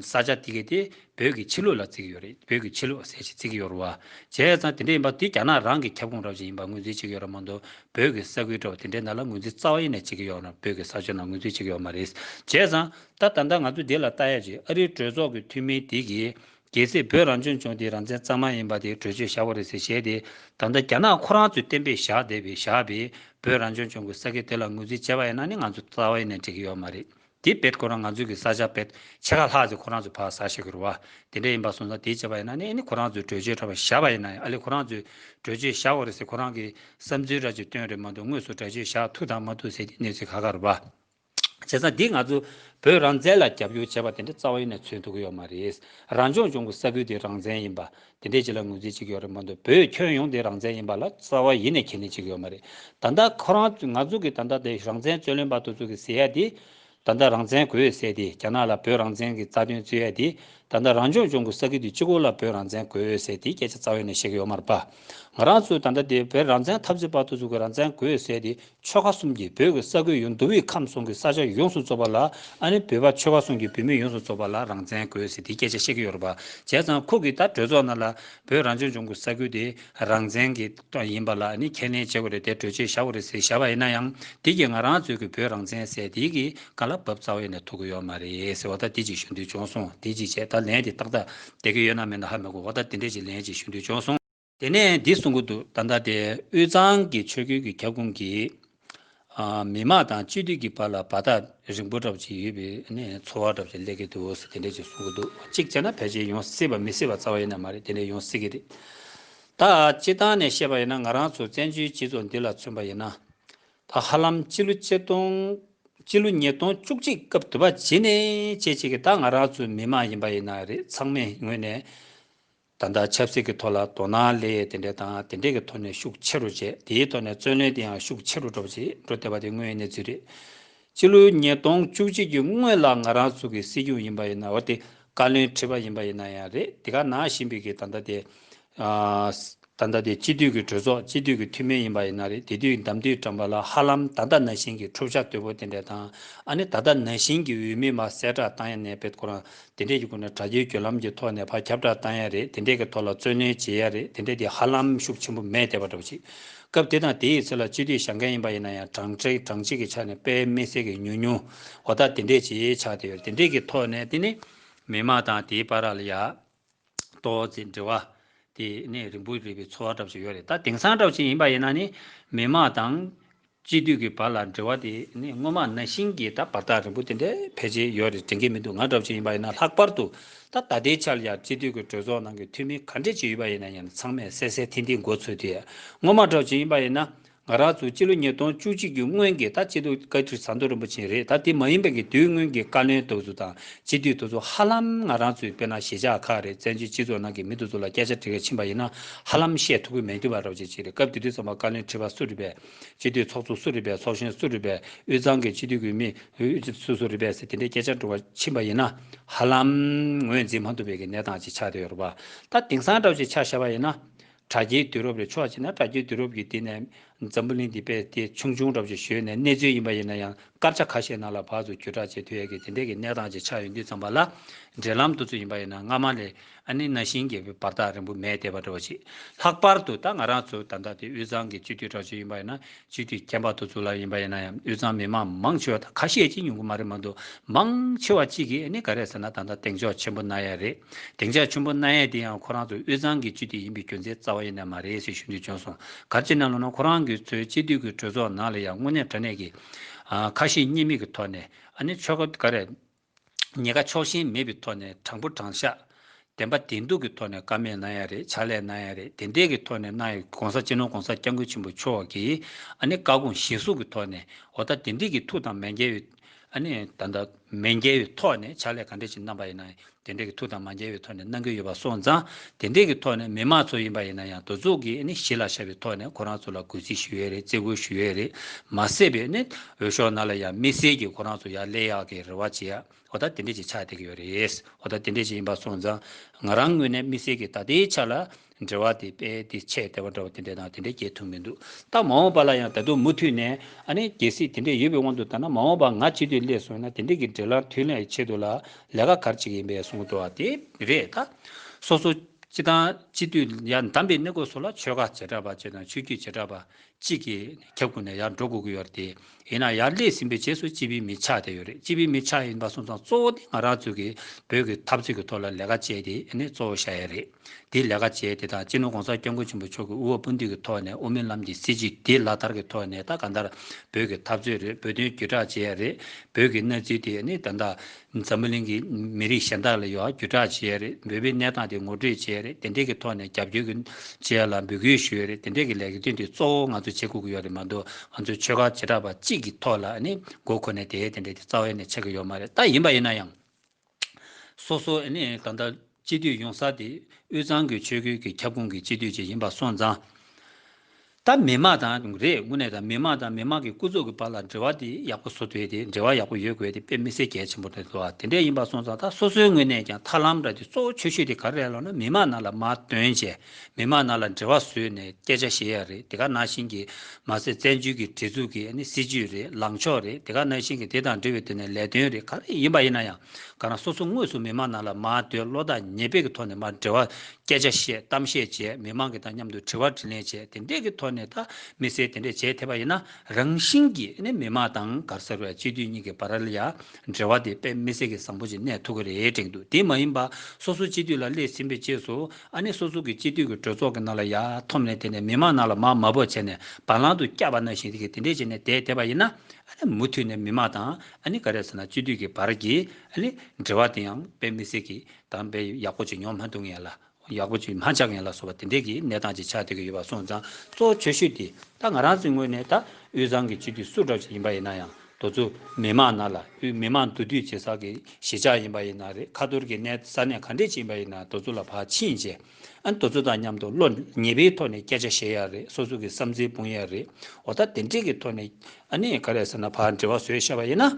ས་ཆ་དེ་གའི་དེ་བོད་ཀྱི་ཕྱི་ལུགས་ལ་བརྩི་གི་ཡོད་རེད་བོད་ཀྱི་ཕྱི་ལུགས་ཟེར་ཞིག་བརྩི་གི་ཡོད་རུང་བ། བྱས་ཙང་དེ་འདྲ་ཡིན་པ་དེ་རྒྱ་ནག་རང་གི་ཁྱབ་ཁོངས་རབ་ཅིག་ཡིན་པར་ངོས་འཛིན་བྱེད་ཀྱི་ཡོད་ར་མ་འདུག་བོད་ཀྱི་ས་ཁུལ་འདྲ་བ་དེ་འདྲའི་ནང་ལ་ངོས་འཛིན་རྩ་བ་ཡེ་ནས་བྱེད་ཀྱི་ཡོད་རུང་བོད་ཀྱི་ས་ཆོལ་ནང་ངོས་འཛིན་བྱེད་ཀྱི་ཡོད་མ་རེད། བྱས་ཙང་ད་ད་ལྟ་ང་ཚོ་འདི་ལ་ལྟ་ཡ་ཅིག་ཨ་རིའི་གྲོས་ཚོགས་ཀྱི་འཐུས་མི་དེ་གིས་རྒྱལ་སྲིད་བོད་རང་བྱོན་བྱུང་དེ་རང་བཙན་གཙང་མ་ཡིན་པ་དེ་གྲོས་ཆོད་བཞག་པ་རེད་ཟེར་བཤད་དེ་ད་ལྟ་རྒྱ་ནག་ཁོ་རང་ཚོས་གཏན་འབེབས་བཞག་བསྡད་པའི་བཞག་པའི་བོད་རང་བྱོན་བྱུང་གི་ས་ཁེ་དེ་ལ་ངོས་འཛིན་བྱས་པ་ཡིན་ན་ནི་ང་ཚོ་རྩ་བ་ནས་འགྲིག་གི་ཡོད་མ་རེད་དེ་བེད་ཁོ་རང་ང་ཚོའི་གི་ས་ཆ་བེད་ཕྱེད་ཁ་ལྷག་ཟིག་ཁོ་རང་ཚོས་ཕག་ཟ་ཤེས་གི་རུ་བ་དེ་འདྲ་ཡིན་པ་སོང་ཙང་དེ་བྱས་པ་ཡིན་ན་ནི་ཨ་ནི་ཁོ་རང་ཚོས་གྲོས་ཆོད་འདྲ་པ་བཞག་པ་ཡིན་ན་ཡང་ཨ་ལི་ཁོ་རང་ཚོས་གྲོས་ཆོད་བཞག་བ་རེད་ཟེར་ཁོ་རང་གི་བསམ་ཚུལ་འདྲ་ཅིག་བཏོན་རེད་མ་གཏོགས་དངོས་སུ་འདྲ་ཆོད་བཞག་ཐུག་དང་མ་ཐུག་ཟེར་དེ་གནས་ཚུལ་ག་ག་རུ་བ། བྱས་ཙང་འདིས་ང་ཚོ་བོད་རང་བཙན་ལ་རྒྱབ་སྐྱོར་བྱས་པ་དེ་འདྲ་རྩ་བ་ཡེ་ནས་འཚོལ་ཐུབ་ཀྱི་ཡོད་མ་རེད། རང་སྐྱོང་ལྗོངས་ཀྱི་ས་ཁུལ་དེ་རང་བཙན་ཡིན་པ། དེ་འདྲའི་བྱེད་ལ་ངོས་འཛིན་བྱེད་ཀྱི་ཡོད་རེད་མ་གཏོགས་བོད་ཁྱོན་ཡོངས་དེ་རང་བཙན་ཡིན་པ་ལ་རྩ་བ་ཡེ་ནས་ཁས་ལེན་བྱེད་ཀྱི་ཡོད་མ་རེད། ད་ལྟ་ཁོ་རང་ཚོས་ང་ཚོ་གིས་ད་ལྟ་དེ་རང་བཙན་རྩོད་ལེན་པ་དེ་ཚོ་གིས་ཟེར་ཡ་དེ། ད་ལྟ་རང་བཙན་དགོས་ཡོད་ཟེར་དེ་རྒྱ་ནག་ལ་བོད་རང་བཙན་གྱི་རྩ་དོན་རྩོད་ཡ་དེ། ད་ལྟ་རང་སྐྱོང་ལྗོངས་ཀྱི་ས་ཁུལ་དེ་སྤྱི་ཁོག་ལ་བོད་རང་བཙན་དགོས་ཡོད་ཟེར་དེ་སྐད་ཆ་རྩ་བ་ཡེ་ནས་བཤད་ཀྱི་ཡོད་མ་རེད་པ། ང་རང་ཚོས་ད་ལྟ་དེ་བོད་རང་བཙན་འཐབ་རྩོད་པ་དེ་ཚོ་གིས་རང་བཙན་དགོས་ཡོད་ཟེར་དེ་ཆོལ་ཁ་གསུམ་གྱིས་བོད་ཀྱི་ས་ཁུལ་ཡོངས་འདུ་བའི་ཁམས་གསུམ་གྱི་ས་ཆ་ཡོངས་སུ་རྫོགས་པ་ལ་ཨ་ནི་བོད་པ་ཆོལ་ཁ་གསུམ་གྱི་བོད་མི་ཡོངས་སུ་རྫོགས་པ་ལ་རང་བཙན་དགོས་ཟེར་དེའི་སྐད་ཆ་བཤད་ཀྱི་ཡོད་རེད་པ་བྱས་ཙང་ཁོ་གིས་ད་གྲོས་ཚོགས་ནང་ལ་བོད་རང་སྐྱོང་ལྗོངས་ཀྱི་ས་ཁུལ་དེ་རང་བཙན་གྱི་ཏང་ཡིན་པ་ལ་ཨ་ནི་ཁས་ལེན་བྱེད་དགོས་རེད་དེ་གྲོས་ཆོད་བཞག་དགོས་རེད་ཟེར་བཞག་པ་ཡིན་ན་ཡང་དེ་གྱིས་ང་རང་ཚོས་ཀྱི་བོད་རང་བཙན་ཟེར་དེ་གྱིས་ག་ལ་བབ་རྩ་བའི་ནས་ཐུག་གི་ཡོད་མ་རེད་ཟེར་བ་ད་དེ་ཅིག་ཞུ་འདོད་བྱུང་སོང་དེ་ཅིག་བྱས་ད་ལན་དེ་ཏག་ཏག་བསྡད་ཀྱི་ཡོད་ན་མེད་ན་ཧ་མི་གོ་བ་ད་དེ་འདྲས་ཅིག་ལན་ཅིག་ཞུ་འདོད་བྱུང་སོང། དེ་ནས་འདི་གསུང་གི་འདུག་ད་ལྟ་དེ་དབུས་གཙང་གི་ཆོས་ཁུལ་གྱི་ཁྱབ་ཁོངས་ཀྱི་མི་དམངས་དང་སྤྱི་འཐུས་ཀྱི་བར་ལ་བར་ཐག་རིང་པོ་འདྲ་ཞིག་ཡོད་པའི་འཚོ་བ་འདྲ་ཞིག་སླེབས་ཀྱི་འདུག་ཟེར་དེ་འདྲ་ཞིག་གསུང་གི་འདུག་གཅིག་བྱས་ན་ཕལ་ཆེར་ཡོང་སྲིད་པ་མི་སྲིད་པ་རྩ་བ་ཡིན་ནི་མ་རེད་དེ་འདྲ་ཡོང་སྲིད་ཀྱི་རེད། ད་སྤྱི་བཏང་ནས་བཤད་པ་ཡིན་ན་ང་རང་ཚོ་བཙན་བྱོལ་སྤྱི་ཚོགས་འདི་ལ་མཚོན་པ་ཡིན་ན། ད་ཧ་ལམ་སྤྱི་ལོ་ཉིས་སྟོང་བཅུ་གཅིག་སྐབས་དུས་བབ་བྱིན་ནས་བྱེད་བྱེད་ཀྱི་ད་ང་རང་ཚོའི་མི་དམངས་ཡིན་པ་ཡིན་ན་རེད་ཚང་མས་ངོས་ནས། ད་ལྟ་ཆབ་སྲིད་ཀྱི་ཐོག་ལ་དོ་སྣང་ལས་ཡས་དེ་འདྲས་དང་དེ་འདྲས་ཀྱི་ཐོག་ནས་ཤུགས་ཆེ་རུ་བྱས་དེའི་ཐོག་ནས་བརྩོན་ལེན་དེ་ཡང་ཤུགས་ཆེ་རུ་འགྲོ་བ་ཞིག་འགྲོ་བསྡད་པ་དེ་དངོས་གནས་ཅི་རེད། སྤྱི་ལོའི་ཉིས་སྟོང་བཅུ་གཅིག་གི་སྔོན་ལ་ང་རང་ཚུགས་ཀྱི་སྲིད་སྐྱོང་ཡིན་པ་ཡིན་ན་འོ་དེ་བཀའ་བློན་ཁྲི་པ་ཡིན་པ་ཡིན་ན་ཡང་རེད་དེ་ག་ནང་བཞིན་པའི་གི་ད་ལྟ་དེ། ད་ལྟ་དེ་སྤྱི་འཐུས་ཀྱི་གྲོས་ཚོགས་སྤྱི་འཐུས་ཀྱི་འཐུས་མི་ཡིན་པ་ཡིན་ན་རེད་དེ་དུས་འདམ་དུས་དྲངས་པ་ལ་ཧ་ལམ་ད་ལྟ་ན་བཞིན་གྱི་འཁྲུག་ཆ་དོད་པོ་དེ་འདྲས་དང་ཨ་ནི་ད་ལྟ་ན་བཞིན་གྱི་འོས་མི་མ་གསལ་བསྒྲགས་བཏང་ཡ་ནས་བེད་སྐོ་རང་དེ་འདྲས་ཀྱི་སྒོ་ནས་དྲ་རྒྱའི་བརྒྱུད་ལམ་གྱི་ཐོག་ནས་བར་ཁྱབ་བསྒྲགས་བཏང་ཡག་རེད་དེ་འདྲས་ཀྱི་ཐོག་ལ་བརྩོན་ལེན་བྱེད་ཡག་རེད་དེ་འདྲས་དེ་ཧ་ལམ་ཤུགས་ཆེན་པོ་མེད་བསྡད་པ་འདྲ་པོ་ཞིག་སྐབས་དེ་དང་དེའི་ཚེ་ལ་སྤྱི་འཐུས་ཞག་འགའ་ཡིན་པ་ཡིན་ན་ཡང་གྲངས་ཆེ་གྲངས་གཅིག་གི་ཆ་ནས་དཔེ་མི་གསལ་གྱི་ཉུང་ཉུང་འོ་ད་དེ་འདྲས་བྱས་ཆགས་བསྡད་ཡོད་རེད་དེ་འདྲས་ཀྱི་ཐོག་ནས་དེ་ནི་མི་མང་དང་དེའི་པ་ར་ལ་ཡག་ཏོ། ཅེས་འདྲི་བ། དེ་ནས་རིང་པོ་རེ་བའི་འཚོ་བ་འགྲབ་བཞིན་ཡོད་རེད་ད། དེང་སང་གྲགས་ཅན་ཡིན་པ་ཡིན་ན་ནི། མི་དམངས་དང། སྤྱི་འཐུས་ཀྱི་བར་ལ་འབྲེལ་བ་དེ་ནི་སྔོན་མ་ན་ཤིང་གི་ད་བར་ཐག་རིང་པོ་དེ་འདྲའི་ཕལ་ཆེར་ཡོད་རེད་དྲན་གྱི་མི་འདུག་ང་གྲགས་ཅན་ཡིན་པ་ཡིན་ན་ལྷག་པར་དུ། ད་ད་ལྟའི་ཆར་ཡང་སྤྱི་འཐུས་ཀྱི་གྲོས་ཚོགས་ནང་གི་འཐུས་མི་ག་འདྲས་ཅིག་ཡོད་པ་ཡིན་ན་ཡང་ཚང་མས་གསལ་གསལ་ཐིང་ཐིང་མགོ་ཚོས་དུས། སྔོན་མ་གྲགས་ཅན་ཡིན་པ་ཡིན་ན། ང་རང་ཚོ་སྤྱི་ལོ་ཉིས་སྟོང་བཅུ་གཅིག་གི་སྔོན་གྱི་ད་སྤྱི་འཐུས་བཀའ་ཁྲི་ཟམ་གདོང་རིན་པོ་ཆེ་རེད་ད་དེ་མ་ཡིན་པའི་གི་དུས་སྔོན་གྱི་བཀའ་བློན་དོལ་ཚོ་དང་སྤྱི་འཐུས་དོལ་ཚོ་ཧ་ལམ་ང་རང་ཚོའི་དཔེར་ན་ཞེ་ཆགས་ཁག་རེད་བཙན་བྱོལ་སྤྱི་ཚོགས་ནང་གི་མི་དོལ་ཚོ་ལ་སྐད་ཆ་དྲི་ག་ཕྱིན་པ་ཡིན་ན་ཧ་ལམ་བཤད་ཐུབ་ཀི་མེད་འདུག་བ་རོགས་བྱེད་ཅིག་རེད་སྐབས་དེ་དུས་ཚང་མ་བཀའ་བློན་ཁྲི་པ་སུ་རེད་པས་སྤྱི་འཐུས་ཚོགས་གཙོ་སུ་རེད་པས་ཚོགས་གཞོན་སུ་རེད་པས་དབུས་གཙང་གི་སྤྱི་འཐུས་དགོས་མི་སུ་སུ་རེད་པས་ཟེར་དེ་འདྲའི་སྐད་ཆ་དྲི་བ་ཕྱིན་པ་ཡིན་ན་ཧ་ལམ་ངོས་འཛིན་མ་ཐུབ་པའི་གི་གནས་སྟངས་ཅིག་ཆགས་བསྡད་ཡོད་རེད་བ་ད་དེང་སང་རོགས་བྱེད་ཆ་བཞག་པ་ཡིན་ན། དྲ་རྒྱའི་དུས་རབས་ལས་ཕྱོགས་གཅིག་ན་དྲ་རྒྱའི་དུས་རབས་ཀྱི་དུས་ནས་འཛམ་བུ་གླིང་འདི་དཔེ་དེབ་ཆུང་ཆུང་རབ་ཅིག་བཞོན་ནས་གནས་ཚུལ་ཡིན་པ་ཡིན་ན་ཡང་སྐར་ཆ་ཁ་ཤས་ནང་ལ་བར་དུ་བརྒྱུད་བསྒྲགས་བྱེད་དུས་ཡས་ཀྱི་དེ་འདས་ཀྱི་གནས་སྟངས་ཅིག་ཆགས་ཡོད་དུས་ཙམ་པ་ལ་འབྲེལ་ལམ་འདུ་ཚུལ་ཡིན་པ་ཡིན་ན་སྔ་མ་ལས་ཨ་ནི་ན་ཞིང་རྒྱས་པའི་བར་ཐག་རིང་པོ་མེད་དེ་བ་འདྲ་བ་ཞིག་ལྷག་པར་དུ་ད་ང་རང་ཚོ་ད་ལྟ་དེ་དབུས་གཙང་གི་སྤྱི་འཐུས་དྲག་སྤྱི་ཡིན་པ་ཡིན་ན་ཅི་སྟེ་ཁྱད་འཕགས་ཐུགས་གཙུག་ལག་ཡིན་པ་ཡིན་ན་ཡང་དབུས་གཙང་མི་མང་མང་ཆེ་བ་དང་ཁ་ཤས་ཀྱིས་ཉུང་གི་མ་རེད་མ་འདུག་མང་ཆེ་བ་གཅིག་གིས་ནི་ག་རེ་ཟེར་ན་ད་ལྟ་གདེང་འཇོག་ཆེན་པོ་གནང་ཡས་རེད་གདེང་འཇག་ཆུན་པོ་གནང་ཡས་དེ་ཡང་ཁོ་རང་ཚོ་དབུས་གཙང་གི་སྤྱི་འཐུས་ཡིན་པའི་རྒྱུ་མཚན་རྩ་བ་ཡེ་ནས་མ་རེད་ཞེས་ཞུ་འདོད་བྱུང་སོང་གར་ཅི་ནས་ལོ་ན་ཁོ་རང་གི་ཚོའི་སྤྱི་འཐུས་ཀྱི་གྲོས་ཚོགས་ནང་ལ་ཡང་དངོས་གནས་དྲ་གནས་ཀྱི་ཁ་ཞེ་གཉིས་མེད་ཀྱི་ཐོག་ནས་ཨ་ནི་ཆོལ་ཁ་ག་རེ་ཉེ་དགའ་ཕྱོགས་ཞེན་མེད་པའི་ཐོག་ནས་དྲང་པོ་དྲང་བཞག། བདེན་པ་བདེན་སྡུག་གི་ཐོག་ནས་ཀ་མེད་གནང་ཡ་རེད་བྱ་ལས་གནང་ཡ་རེད་བདེན་དད་ཀྱི་ཐོག་ནས་གནང་ཡ ྋགོང་ས ྋསྐྱབས་མགོན ྋགོང་ས ྋསྐྱབས་མགོན་ཆེན་པོ་མཆོག་གིས་ཨ་ནི་བཀའ་དགོངས་བཞེས་གཟུགས་ཀྱི་ཐོག་ནས་འོ་ད་དེ་འགྲིག་གི་ཐུགས་དང་མན་འགལ་བའི་ཨ་ནི་ད་ད་མན་འགལ་བའི་ཐོག་ནས་བྱ་ལས་ག་འདྲ་ཞིག་གནང་པ་ཡིན་ན་དེ་འགྲིག་གི་ཐུགས་དང་མ་འགལ་བའི་ཐོག་ནས་གནང་གི་ཡོད་པ་སོང་ཙང་དེ་འགྲིག་གི་ཐོག་ནས་མི་མང་ཚོ་ཡིན་པ་ཡིན་ན་ཡང་དོ་ཙུག་གིས་ཨ་ནི་གཞི་ལ་ཤར་བའི་ཐོག་ནས་ཁོ་རང་ཚོ་ལ་གུས་བརྩི་ཞུ་ཡ་རེད་བརྩི་བཀུར་ཞུ་ཡ་རེད་མ་སྲིད་པའི་ཨ་ནི། འོས་ཤོག་ན་ལ་ཡང་དམིགས་བསལ་གྱིས་ཁོ་རང་ཚོ་ཡར་ལས་ཡག་གི་རེ་བ་བྱེད་ཡ། ཨོ་ད་དེ་འདྲས་ཀྱི་ཆ་དེ་གི་ཡོད་རེད། ཨོ་ད་དེ་འདྲས་ཀྱི་ཡིན་པ་སོང་ཙང། ང་རང་དངོས་གནས་དམིགས་བསལ་གྱིས་ད་ལྟའི་ཆ་ལ། འབྲེལ་བ་དེ་དཔེ་དེ་ཆེས་བདེ་བ་འདྲ་བ་དེ་འདྲས་དང་དེ་འདྲས་སྐྱེལ་ཐུབ་མི་འདུག་སྟབས་མ་འོངས་པ་ལ་ཡང་ད་དུང་མུ་འཐུད་ནས་ཨ་ནེ་གལ་སྲིད་དེ་འདྲས་ཡོད་པའི་དབང་དུ་ད་ན་མ་འོངས་པ་ང་ཕྱི་དུས་སླེབས་སོང་ན་དེ་འདྲས་གི་འབྲེལ་ལམ་མཐུད་ལེན་ཆེད་དུ་ལ་ལས་ཀ་གར་བྱེད་གི་ཡིན་པས་གསུང་དོ་བ་དེ་རེད་ད། སོ་སོ་སྤྱི་དང་སྤྱི་འཐུས་ཡར་འདམས་པའི་གནས་སྐོར་སོགས་ལ་ཆོལ་ཁ་བྱེ་བྲག་པ་བཅས་དང་ཆོས་བརྒྱུད་བྱེ་བྲག་པ། གཅིག་གིས་ཁྱབ་ཁོ་ནས་ཡར་འགྲོ་དགོས་ཀྱི་ཡོད་རེད་དེ། ཡིན་ན་ཡར་སླེབས་ཟིན་པའི་རྗེས་སུ་སྤྱི་པའི་མི་ཆགས་དེ་ཡོད་རེད་སྤྱི་པའི་མི་ཆགས་ཡིན་པ་སོང་ཙང་གཙོ་བོ་དེ་ང་རང་ཚོས་ཀྱི་བོད་ཀྱི་འཐབ་རྩོད་ཀྱི་ཐོག་ལ་ལས་ཀ་བྱས་དེ་ནི་གཙོ་བོ་བཞག་ཡ་རེད། དེ་ལས་ཀ་བྱས་དེ་དང་སྤྱི་ནོར་གོང་ས་སྐྱབས་མགོན་ཆེན་པོ་མཆོག་གི་དབུ་བ་སྤུན་བདུན་གྱི་ཐོག་ནས་དབུ་མའི་ལམ་གྱི་སྲིད་བྱུས་དེ་ལག་བསྟར་གྱི་ཐོག་ནས་ད་ག་འདར་བོད་ཀྱི་འཐབ་རྩོད་རེད་བོད་དོན་བརྒྱུད་བསྒྲགས་བྱས་ཡ་རེད་བོད་ཀྱི་གནས་ཚུལ་དེ་ནི་ད་ལྟ་འཛམ་བུ་གླིང་གི་མི་རིགས་གཞན་དག་ལ་ཡོད་བརྒྱུད་བསྒྲགས་བྱས་རེད་འབོད་པའི་གནས་སྟངས་དེ་ངོ་སྤྲོད་བྱས་རེད་དེ་འདྲའི་གི་ཐོག་ནས་རྒྱབ་སྐྱོར་གི་བྱས་ལ་འབོད་སྐུལ་ཞུས་རེད་དེ་འདྲའི་གི་ལས་གི་དོན་དེ་གཙོ་བོ་ང་ཚོ་བྱེད་དགོས་གི་ཡོད་རེད་མ་འདུག་ང་ཚོའི་ཆོལ་ཁ་བྱེ་བྲག་པ་གཅིག་གི་ཐོག་ལ་ནི་མགོ་འཁོར་ནས་དེ་དེ་འདྲའི་དེ་རྩ་བའི་ནས་བྱེད་གི་ཡོད་མ་རེད་ད་ཡིན་པ་ཡིན་ན་ཡང་སོ་སོ་ནི་ད་ལྟ། སྤྱི་འཐུས་ཡོང་ས་དེ་དབུས་གཙང་གི་ཆོས་ཁུལ་གྱི་ཁྱབ་ཁོངས་ཀྱི་སྤྱི་འཐུས་བཅས་ཡིན་པ་སོང་ཙང། ད་མི་མང་དང་རེས་དངོས་གནས་ད་མི་མང་དང་མི་མང་གི་སྐུ་ཚོགས་ཀྱི་བར་ལ་འབྲེལ་བ་དེ་ཡག་པོ་བཟོ་འདོད་དེ་འབྲེལ་བ་ཡག་པོ་ཡོད་དགོས་དེ་དཔེ་མི་སེར་གལ་ཆེན་པོ་དེ་འདུག་དེ་འདྲས་ཡིན་པ་སོང་ཙང་ད་སོ་སོའི་དངོས་གནས་ཀྱང་ཐར་ལམ་འདྲ་དེ་གཙོ་བོ་ཆོས་ཤོས་དེ་ག་རེ་རེད་ལབ་ན་མི་མང་ནང་ལ་མ་དོན་བྱས་མི་མང་ནང་ལ་འབྲེལ་བ་བཟོས་ནས་སྐད་ཆ་བཤད་ཡག་རེད་དེ་ག་ནང་བཞིན་གྱི་མ་ཟད་བཙན་བྱོལ་གྱི་བྲེལ་འཚུབ་ཀྱི་སྲིད་ཇུས་རེད་ལངས་ཕྱོགས་རེད་དེ་ག་ནང་བཞིན་གྱི་དེ་དང་འབྲེལ་བའི་དོན་ནས་ལས་དོན་རེད་ག་རེ་ཡིན་པ་ཡིན་ན་ཡང། ག་རང་སོ་སོ་དངོས་སུ་མི་མང་ནང་ལ་མ་བསྡོད་བློ་ཐག་ཉེ་བེད་ཀྱི་ཐོག་ནས་མར་འབྲེལ་བ་སྐད་ཆ་བཤད་གཏམ་བཤད་བྱས་མི་མང་གི་དང་མཉམ་དུ་དྲི་བ་དྲི་ལན་བྱས་དེ་འད་ཀྱི་ཐོག་ནས་ཐག་མི་སེལ་དེ་འད་བྱས་ཐེ་བ་ཡིན་ན་རང་བཞིན་གྱི་ནས་མི་མང་དང་གར་ཟེར་བའི་སྤྱི་འཐུས་གཉིས་ཀྱི་བར་ལ་ཡང་འབྲེལ་བ་དེ་དཔེ་མི་སེལ་གྱི་བཟང་པོ་ཅིག་གནས་ཐུག་གི་རེད་དྲན་འདུག་དེ་མ་ཡིན་པ་སོ་སོ་སྤྱི་འཐུས་ལ་སླེབས་ཟིན་པའི་རྗེས་སུ་ཨ་ནི་སོ་སོ་གི་སྤྱི་འཐུས་ཀྱི་གྲོས་ཚོགས་ཀྱི་ནང་ལ་ཡ་ཐོབ་ནས་དེ་ནས་མི་མང་ནང་ལ་མ་མ་བོ་བྱས་ནས་བ་ལང་དུ་བསྐྱ་བ་ན་བཞིན་གྱི་དེ་འད་བྱས་ནས་དད་ཐེ་བ་ཡིན་ན་ཨ་ནི་མུ་མཐུད་ནས་མི་མང་དང་ཨ་ནི་ག་རེད་ཟེར་ན་སྤྱི་འཐུས་ཀྱི་བར་གྱི་ཨ་ནི་འབྲེལ་བ་དེ་ཡང་དཔེ་མི་སྲིད་ཀི་ད་དཔེ་ཡག་པོ་ཅིག་ཉོ་མ་འདུག་ངེས་ལ་ཡག་པོ་ཅིག་མ་ཆགས་ངེས་ལ་སོགས་པ་དེ་འདྲས་ཀྱི་གནས་སྟངས་ཅིག་ཆགས་སྡོད་ཀྱི་ཡོད་པ་སོང་ཙང་གཙོ་བོ་ཆོས་ཞུ་དེ་ད་ང་རང་ཚོའི་ངོས་ནས་ད་དབུས་གཙང་གི་སྤྱི་འཐུས་སུ་གྲགས་ཅིག་ཡིན་པ་ཡིན་ན་ཡང་དོ་ཚུ་མི་དམངས་ན་ལ་དབུས་མི་དམངས་འདུ་འདུས་བྱེད་ས་གི་གཞིས་ཆགས་ཡིན་པ་ཡིན་ན་རེད་ཁ་ཐོར་གྱི་གནས་ས་གནས་ག་འདྲས་ཅིག་ཡིན་པ་ཡིན་ན་དོ་ཚུ་ལ་བག་ཕྱིན་རྗེས། ཨ་མདོ་ཚོ་དང་མཉམ་དུ་བློ་ངེས་པའི་ཐོག་ནས་སྐད་ཆ་བཤད་ཡག་རེད་སོ་སོ་གི་བསམ་ཚུལ་སྤུངས་ཡག་རེད་འོ་ད་དེ་འདྲས་ཀྱི་ཐོག་ནས་ཨ་ནེ་ག་རེད་ཟེར་ན་ཕར་འབྲེལ་བ་བཟོས་བཤད་པ་ཡིན་ན།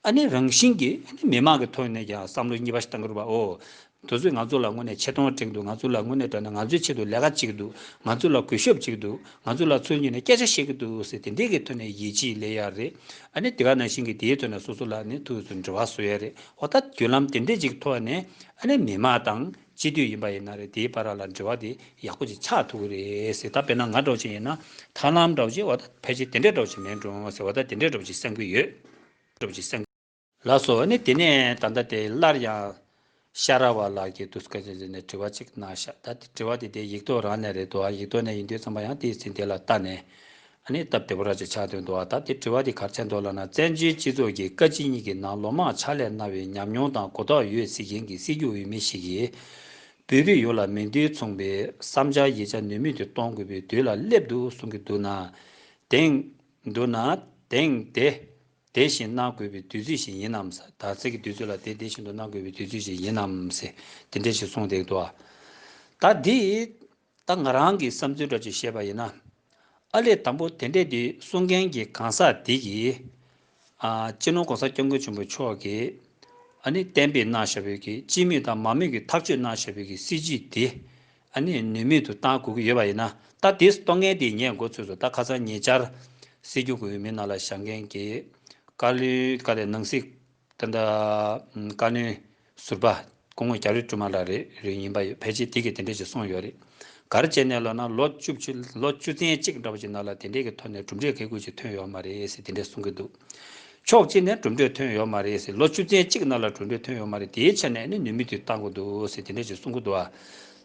ཨ་ནེ་རང་བཞིན་གྱི་མི་མང་གི་ཐོག་ནས་ཀྱང་བསམ་བློ་གཉིས་པ་ཞིག་བཏང་གི་རུ་བའོ། མདོ་ཚོས་ང་ཚོ་ལ་དངོས་ནས་ཆེ་མཐོང་བསྒྲེངས་འདུག་ང་ཚོ་ལ་དངོས་ནས་བསྒྲགས་ན་ང་ཚོའི་ཆེད་དུ་ལས་ཀ་གཅིག་འདུག་ང་ཚོ་ལ་གུས་ཞབས་གཅིག་འདུག་ང་ཚོ་ལ་ཚུར་ཉིད་ནས་སྐད་ཆ་བཤད་ཀྱི་འདུག་ཟེར་དེ་འདྲས་ཀྱི་ཐོག་ནས་ཡིད་ཆེས་ལས་ཡག་རེད་ཨ་ནེ་དེ་ག་ནང་བཞིན་གྱི་དེའི་ཐོག་ནས་སོ་སོ་ལ་ནས་ཐུགས་སུ་འབྲེལ་བ་བཟོས་ཡག་རེད་འོ་ད་བརྒྱུད་ལམ་དེ་འདྲས་ཅིག་ཐོག་ནས་ཨ་ནེ་མི་མང་དང། སྤྱི་འཐུས་ཡིན་པ་ཡིན་ན་རེད་དེའི་པར་ར་ལ་འབྲེལ་བ་དེ་ཡག་པོ་ཅིག་ཆགས་ཐུབ་ཀྱི་རེད་ཟེར་ད་དཔེར་ན་ང་སྒྲོག་བྱེད་ཡིན་ན་ཐར་ལམ་སྒྲོག་བྱེད་བ་ད་ཕལ་ཆེར་དེ་འདྲས་སྒྲོག་བྱེད་མེད་འགྲོ་ཟེར་བ་ད་དེ་འདྲས་སྒྲོག་བྱེད་སེམས་ཀྱི་ཡོད་སྒྲོག་བྱེད་སེམས། ལགས་སོ་ནི་དེ་ནས་ད་ལྟ་དེ་སླར་ཡང། ཤ་ར་བ་ལགས་ཀྱིས་དུས་སྐབས་ཅན་ཟེར་ནས་དྲི་བ་ཅིག་གནང་ཤག་ད་དེ་དྲི་བ་དེ་དེ་ཡིག་ཐོག་རང་ནས་རེད་དོ་ཨ་ཡིག་ཐོག་ནས་ཡིན་དུས་ཚང་མ་ཡང་དེའི་ཚིག་དེ་ལ་བལྟ་ནས། ནི་སྟབས་བདེ་བོ་ར་ཅའི་ཕྱག་དོན་དུ་བ་ད་དེ་བྲི་བ་དེ་གར་ཆད་འདོགས་ལ་ན་བཙན་བྱོལ་སྤྱི་ཚོགས་ཀྱི་བཀའ་སྤྱི་གཉིས་ཀྱི་ནང་ལོ་མང་ཕྱག་ལས་གནང་བའི་ཉམས་མྱོང་དང་གོ་རྟོགས་ཡོད་སྲིད་མཁན་གྱི་སྲིད་སྐྱོང་འོས་མི་ཞིག་གིས། བོད་རིགས་ཡོངས་ལ་མི་འདི་མཚུངས་པའི་བསམ་འཆར་ཡིད་ཆ་ནུས་མེད་དུ་གཏོང་དགོས་པའི་དུས་ལ་སླེབས་འདུག་གསུང་གི་འདུག་ན། དེང། འདུག་ན། དེང། དེ། དེ་བཞིན་གནང་དགོས་པའི་དུས་ཚོད་ཞིག་ཡིན་ནམ། དག་ཚིག་གི་དུས་ཚོད་ལ་དེ་དེ་བཞིན་དུ་གནང་དགོས་པའི་དུས་ཚོད་ཞིག་ཡིན་ནམ། དེ་འདྲས་ཞིག་གསུངས་འདེགས་འདུག། ད་དེ། ད་ང་རང་གི་བསམ་ཚུལ་འདྲ་ཅིག་བཤད་པ་ཡིན་ན། ཨ་ལས་དང་པོ་དེ་འདྲས་འདི་གསུང་མཁན་གྱི་གང་ཟག་དེ་གིས། སྤྱི་ནོར ྋགོང་ས ྋསྐྱབས་མགོན་ཆེན་པོ་མཆོག་གིས་ཨ་ནི་གཏན་འབེབས་གནང་བཞག་བོད་ཀྱི་སྤྱི་མོས་དང་མང་མོས་ཀྱི་ཐག་གཅོད་གནང་བཞག་བོད་ཀྱི་སྲིད་བྱུས་དེ་ཨ་ནི་ནུས་མེད་དུ་གཏང་དགོས་ཀྱི་ཡོད་པ་ཡིན་ན་ད་དེ་གཏོང་མཁན་དེ་ངས་མགོ་ཚོས་སོ་ད་ཁ་སང་ཉེ་ཆར་སྲིད་སྐྱོང་གི་འོས་མི་ནང་ལ་བཞག་མཁན་གྱི་ཀ་ལུའི་ཀ་ལས་ནང་སྲིད། ད་ལྟ་བཀའ་བློན་ཟུར་པ་སྐུ་ངོ་རྒྱ་རི་ཀྲུ་མ་ལགས་རེད་ཡིན་པ་ཕལ་ཆེར་དེ་གི་དེ་འདྲས་ཀྱི་གསུངས་ཡོད་རེད་ག་རེ་བྱས་ནས་ལོ་ན་ལོ་བཅུ་བཅུ་ལོ་བཅུ་ཚན་གཅིག་འདྲ་བ་ཞིག་ནང་ལ་དེ་འདྲས་ཀྱི་ཐོག་ནས་གྲུབ་འབྲས་གལ་ཁུར་ཞིག་ཐོན་ཡོད་མ་རེད་ཟེར་དེ་འདྲས་གསུངས་ཀྱི་འདུག་ཕྱོགས་གཅིག་ནས་གྲུབ་འབྲས་ཐོན་ཡོད་མ་རེད་ཟེར་ལོ་བཅུ་ཚན་གཅིག་ནང་ལ་གྲུབ་འབྲས་ཐོན་ཡོད་མ་རེད་དེའི་ཆ་ནས་ནི་ནུས་མེད་དུ་བཏང་གི་འདུག་ཟེར་དེ་འདྲས་ཀྱི་གསུངས་ཀྱི་འདུག་ཨ་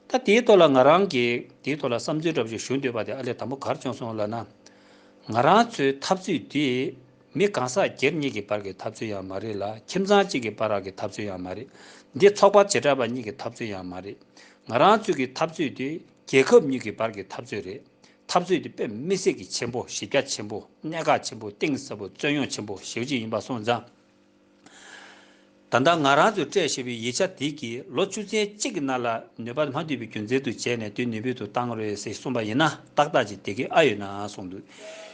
ད་དེའི་ཐོག་ལ་ང་རང་གིས་དེའི་ཐོག་ལ་བསམ་ཚུལ་འདྲ་བ་ཞིག་ཞུ་འདོད་པ་དེ་ཨ་ལས་དང་པོ་གར་བྱུང་སོང་ལ་ན་ང་རང་ཚོའི་འཐབ་རྩོད་དེ་མི་གང་ཟག་སྒེར་གཉིས་ཀྱི་བར་གྱི་འཐབ་རྩོད་ཡང་མ་རེད་ལ་ཁྱིམ་ཚང་གཅིག་གི་བར་རག་གི་འཐབ་རྩོད་ཡང་མ་རེད། འདི་ཚོགས་པ་བྱེ་བྲག་པ་གཉིས་ཀྱི་འཐབ་རྩོད་ཡང་མ་རེད། ང་རང་ཚོས་ཀྱི་འཐབ་རྩོད་དེ་རྒྱལ་ཁབ་གཉིས་ཀྱི་བར་གྱི་འཐབ་རྩོད་རེད། འཐབ་རྩོད་དེ་དཔེ་མི་སྲིད་ཀྱི་ཆེན་པོ་གཞི་རྒྱ་ཆེན་པོ་གནད་འགག་ཆེན་པོ་གཏིང་ཟབ་པོ་རྩོད་ཡོང་ཆེན་པོ་ཞེའུ་ཅིག་ཡིན་པ་སོང་ཙང། ད་ལྟ་ང་རང་ཚོས་སྤྲད་ཞེས་པའི་ཡིག་ཆ་དེ་གིས་ལོ་བཅུ་ཚན་གཅིག་གི་ནང་ལ་ནུས་པ་མ་འདུས་པའི་རྒྱུ་མཚན་དུ་བྱས་ནས་དུས་ནུས་ཕུལ་དུ་བཏང་རེད་ཟེར་གསུངས་པ་ཡིན་ན་ཏག་ཏག་ཅིག་དེ་གས་ཨ་ཡོད་ན་གསུངས་འདུག་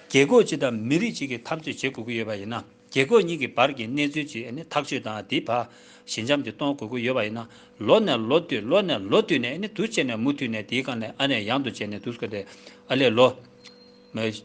རྒྱལ་ཁོག་གཅིག་དང་མི་རིགས་གཅིག་གི་འཐབ་རྩོད་བྱེད་དགོས་ཀྱི་ཡོད་པ་ཡིན་ན་རྒྱལ་ཁོག་གཉིས་ཀྱི་བར་གྱི་གནས་ཚུལ་གྱི་ཐག་གཅོད་དང་དེའི་བར་ཞི་འཇམ་གྱིས་གཏོང་དགོས་ཀྱི་ཡོད་པ་ཡིན་ན་ལོ་ནས་ལོ་བསྟུད་ལོ་ནས་ལོ་བསྟུད་ནས་དུས་བྱས་ནས་མུ་མཐུད་ནས་དེའི་སྒང་ནས་ཨ་ནས་ཡང་དུ་བྱས་ནས་དུས་སྐབས་དེ་ཨ་ལས་ལོ།